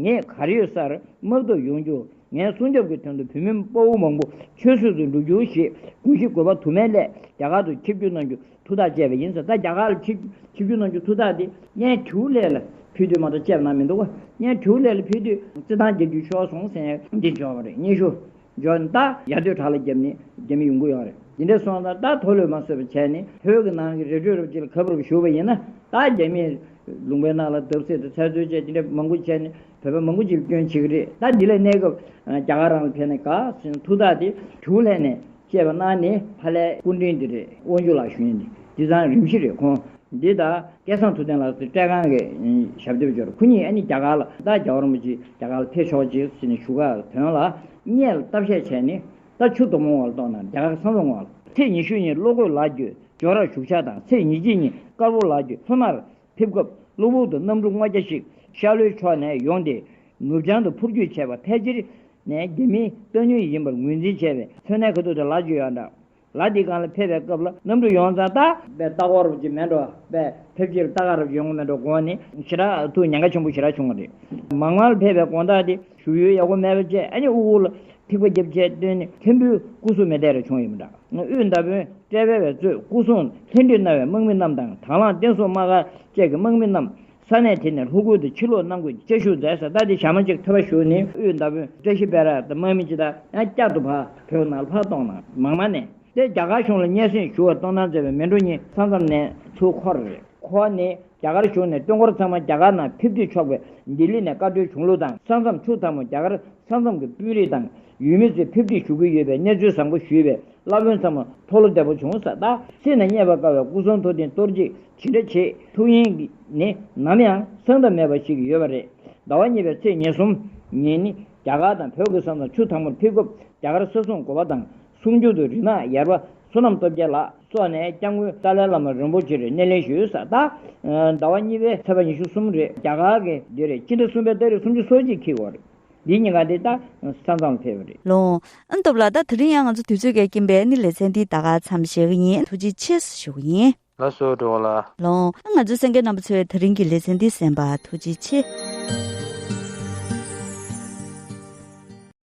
ངས་གར་ཡོད་སར་དམག་བཏོད་ཡོང་རྒྱུ། ངའི་སྲུང་སྐྱོབ་ཀྱི་དོན་དུ་བུད་མེད་དཔའ་བོ་མང་པོ་ཆོས་སྲིད་དུ་འགྲོ་རྒྱུ་ཞེས་དགོངས་གཞི་དགོས་པ་དུ་མའི་སླད་རྒྱ་གར་དུ་ཆིབས་བསྒྱུར་གནང་རྒྱུ། ཐུགས་ཐག་བཅད་པ་ཡིན་ཟེར་ད་རྒྱ་གར་ལ་ཆིབས་བསྒྱུར་གནང་རྒྱུའི་ཐུགས་ཐག་དེ་བརྙན་ཐུང་ལས་ལ་ཕུལ་དུས་མ་གཏོགས་བཅད་གནང་མི་འདུག་བརྙན་ཐུང་ལས་ལ་ཕུལ་དུས་རྩི་ཐང་རྒྱལ་རྒྱུད་ཤོར་སོང་ཟེར་འདི་འབྱོར་བ་རེད་སྙན་ཞུ་འབྱོར་ནས་ད་ཡར་སྡོད་བྲག་ལ་བརྒྱབ་ནས་རྒྱ་མི་ཡོང་གི་ཡོད་རེད་དེ་འདྲས་སོང་ཙང་ད་དོ་ལོས་མ་སོས་པ་བྱས་ནས་བོད་ཀྱི་ནང་གི་རི་ཁྲོད་རུ་སྤྱི་ལ་ག་བུར་བུར་བཞུར་བ་ཡིན་ན་ད་རྒྱ་མིས་ལུང་པའི་ནང་ལ་བརྡབ་གསིག་དང་ཚལ་རྩོད་བཅས་དེ་འདྲས་མང་པོ་བྱས་ནས་བོད་པ་མང་པོ་ཅིག་ལ་སྐྱོན་བྱེད་ཀྱི་རེད་ད་འདི་ལ་གནས་སྐབས་རྒྱ་གར་རང་ལ་ཕེབས་ནས་ག་ཚོད་ཡིན་ན་ཐུགས་ཐག་དེ་ཐུང་ལས་ནས། ཅེས་པ་གནང་ནས་ཕ་ལྷའི་སྐུ་མགྲིན་འདི་རེད་དབང་ཕྱུག་ལགས་ཞུས་ནས་དེ་ཚང་རིམ་བཞིན་རེད་ཁོང་འདི་ད་སྐལ་བཟང་ཐུབ་བསྟན་ལགས་སུ་སྤྲད་ཁང་གི་ཞབས་འདེབས་འབྱོར་ཁོ་གཉིས་ཨ་ནི་རྒྱ་གར་ལ་ད་རྒྱ་གར་མོ་ཅིག་རྒྱ་གར་ལ་ཕེབས་ཤོག་ཅིག་ཟེར་ནས་བཞུགས་སྒར་དོན་ལ་གཉེར་ལ་བསྟབ་བཤད་བྱས་ནས་ད་ཆུ་དོག་མོ་བ་ལ་ལྟོགས་ན་རྒྱ་གར་བསམ་བློ་ངོ། ཚེས་ཉི་ཤུ་ཉིན་བློ་གོས་ལགས་བརྒྱུད་ཇོ་རར་བཞུགས་ཕྱག་དང་ཚེས་ཉི་གཅིག་ཉིན་དཀར་པོ་ལགས་བརྒྱུད་ལྷོ་སྣར་ཕེབས་སྐབས་གློ་བུར་དུ་གནམ་གྲུ་སྔོ་སྐྱ་ཞིག་ཤར་ལྷོའི་ཕྱོགས་ནས་ཡོང་སྟེ། ནུབ་བྱང་དུ་འཕུར་སྐྱོད་བྱས་པ་ཕལ་ཆེར་ནས་རྒྱ་མིའི་སྟོན་ཉུལ་ཡིན་པར་ངོས་འཛིན་བྱས་པའི་མཚོན་ནད་ཁ་ཐུག་དེ་ལག་འཇུ་ཡག་འདྲ། ལ་དེའི་སྒང་ལ་ཕེབས་པའི་སྐབས་ལ་གནམ་གྲུ་ཡོངས་རྫོགས་རྟ། པའི་རྟ་ཁ་རུབ་ཀྱི་མེ་འགྲོ་བས་ཕེབས་ཕྱིར་རྟ་ཁ་རུབ་ཀྱི་ཡོང་སྒོ་མེ་འགྲོ་དགོངས་ནས། ཞི་རགས་ཐུག་ཉེན་ཁ་ཆེན་པོ་ཞི་རགས་བྱུང་བ་རེད། མང་མང་ལ་ཕེབས་པའི་དགོངས་དག་དེ། བཞུགས་ཡུལ་ཡག་པོ་མེད་པ་བཅས་ཨ་མྱེ་དབུལ་བོ་ལ་ཐིགས་པ་བརྒྱབ་བཅས་བཏོན་ནས་མཁན་པོའི་སྐུ་སྲུང་མི་དད་རེ་བྱུང་ཡོད་མི་འདྲ། དབུས་མདའ་དཔོན་བཀྲས་དཔལ་བས་གཙོས་སྐུ་སྲུང་ལྷན་བསྒྲིགས་གནང་བའི་དམག་མི་རྣམས་དང་དྭང་བླངས་བསྟན་སྲུང་དམག་སྒར་བཅས་ཀྱི་དམག་མི་རྣམས་ས་གནས་དེ་ནས་ལྷོ་ཁུལ་དུ་ཕྱིར་ལོག་གནང་དགོས་ཅེས་ཤུགས་མཛད་ས་ལྟ་དེ་ཞག་མ་གཅིག་ཐོལ་བར་བཞུགས་ནས་དབུས་མདའ་དཔོན་བཀྲ་ཤིས་དཔལ་རག་དང་དམག་མི་སྤྱི་དང་ཡང་བསྐྱར་དུ་བག་བོད་ནང་ལ་ཕར་གཏོང་གནང། མང་མ་ནས་ཏེ་རྒྱ་གར་གཞུང་ལ་སྙན་སེང་ཞུ་བར་གཏོང་གནང་མཛད་པའི་མི་འགྲོ་གཉིས་ས་མཚམས་ནས་ཚུར་འཁོར། ཁོ་བ་ནི་རྒྱ་གར་གཞུང་ནས་སྟོན་འཁོར་ཚང་མ་རྒྱ་གར་ནང་ཕེབས་དུས་ཆོག་པའི་ལྡི་ལི་ནས་བཀའ་འཁྲོལ་བྱུང་ལུགས་དང་ས་མཚམས་ཆུ་མཚམས་མོ་རྒྱ་གར་ས་མཚམས་ཀྱི་དཔོན་རིགས་དང་ཡུལ་མི་ཚོས་ཕེབས་དུས་ཞུ་གི་ཡོད་པའི་གནས་ཚུལ་བཟང་པོ་ཞུས་པས་བླ་དཔོན་ཚང་མ་ཐོག་ལོ་བདེ་པོ་བྱུང་ས་ད་སེམས་ནས་རྙེད་པར་དཀའ་བའི་སྐུ་གསུང་ཐུགས་རྟེན་གཏོར་རྗེས་ཇི་འདྲ་བྱེད་ཐུབ་ཡིན་ནི་ནམ་ཡང་གསང་ཐབས་མེད་པ་ཞིག་ཡོད་པ་རེད་ཟླ་བ་གཉིས་པའི་ཚེས་ཉེར་གསུམ་ཉིན་ནི་རྒྱ་གར་དང་བོད་ཀྱི་ས་མཚམས་ཆུ་དང་པོར་ཕེབས་སྐབས་རྒྱ་གར་ས་སྲུང་གོ་བ་དང་སྲུང་སྐྱོབ་དུ་རིག་ནག་ཡར་བ་བསོད་ནམས་སྟོབས་རྒྱལ་ལགས། སོགས་ནས་སྐྱབས་མགོན་ཏཱ་ལའི་བླ་མ་རིན་པོ་ཆེར་སྣེ་ལེན་ཞུས་ས་དང། ཟླ་བ་གཉིས་པའི་ཚེས་པ་ཉི་ཤུ་གསུམ་རེས་རྒྱ་གར་གྱི་བདེ་རེས་སྤྱི་ཟླ་གསུམ་པའི་སྟག་རིས་སུམ་ཅུ་སོ་གཅིག་འཁྱིལ་བར། འདི་གཉིས་ཀ་འདི་ལྟར་ས་མཚམས་ཕེབས་པ་རེད། ལོང། ཨུན་སྟོབས་ལགས་ད་དེ་རིང་ཡང་ང་ཚོ་དུས་ཚོད་འགལ་གྱིན་པས་ནི་ལེ་ཚན་འདི་ད་ག་ཚམ་བཞེས་གི་ཡིན་ཐུགས་རྗེ་ཆེ་ཞུ་གི་ཡིན། ལ་གསོལ་འགྲོ་བ་ལ། ལོང། ང་ཚོའི་སེང་གེ་རྣམ་པ་ཚོས་དེ་རིང་གི་ལེ་ཚན་འདི་གསན་པ་ཐུགས་རྗེ་ཆེ།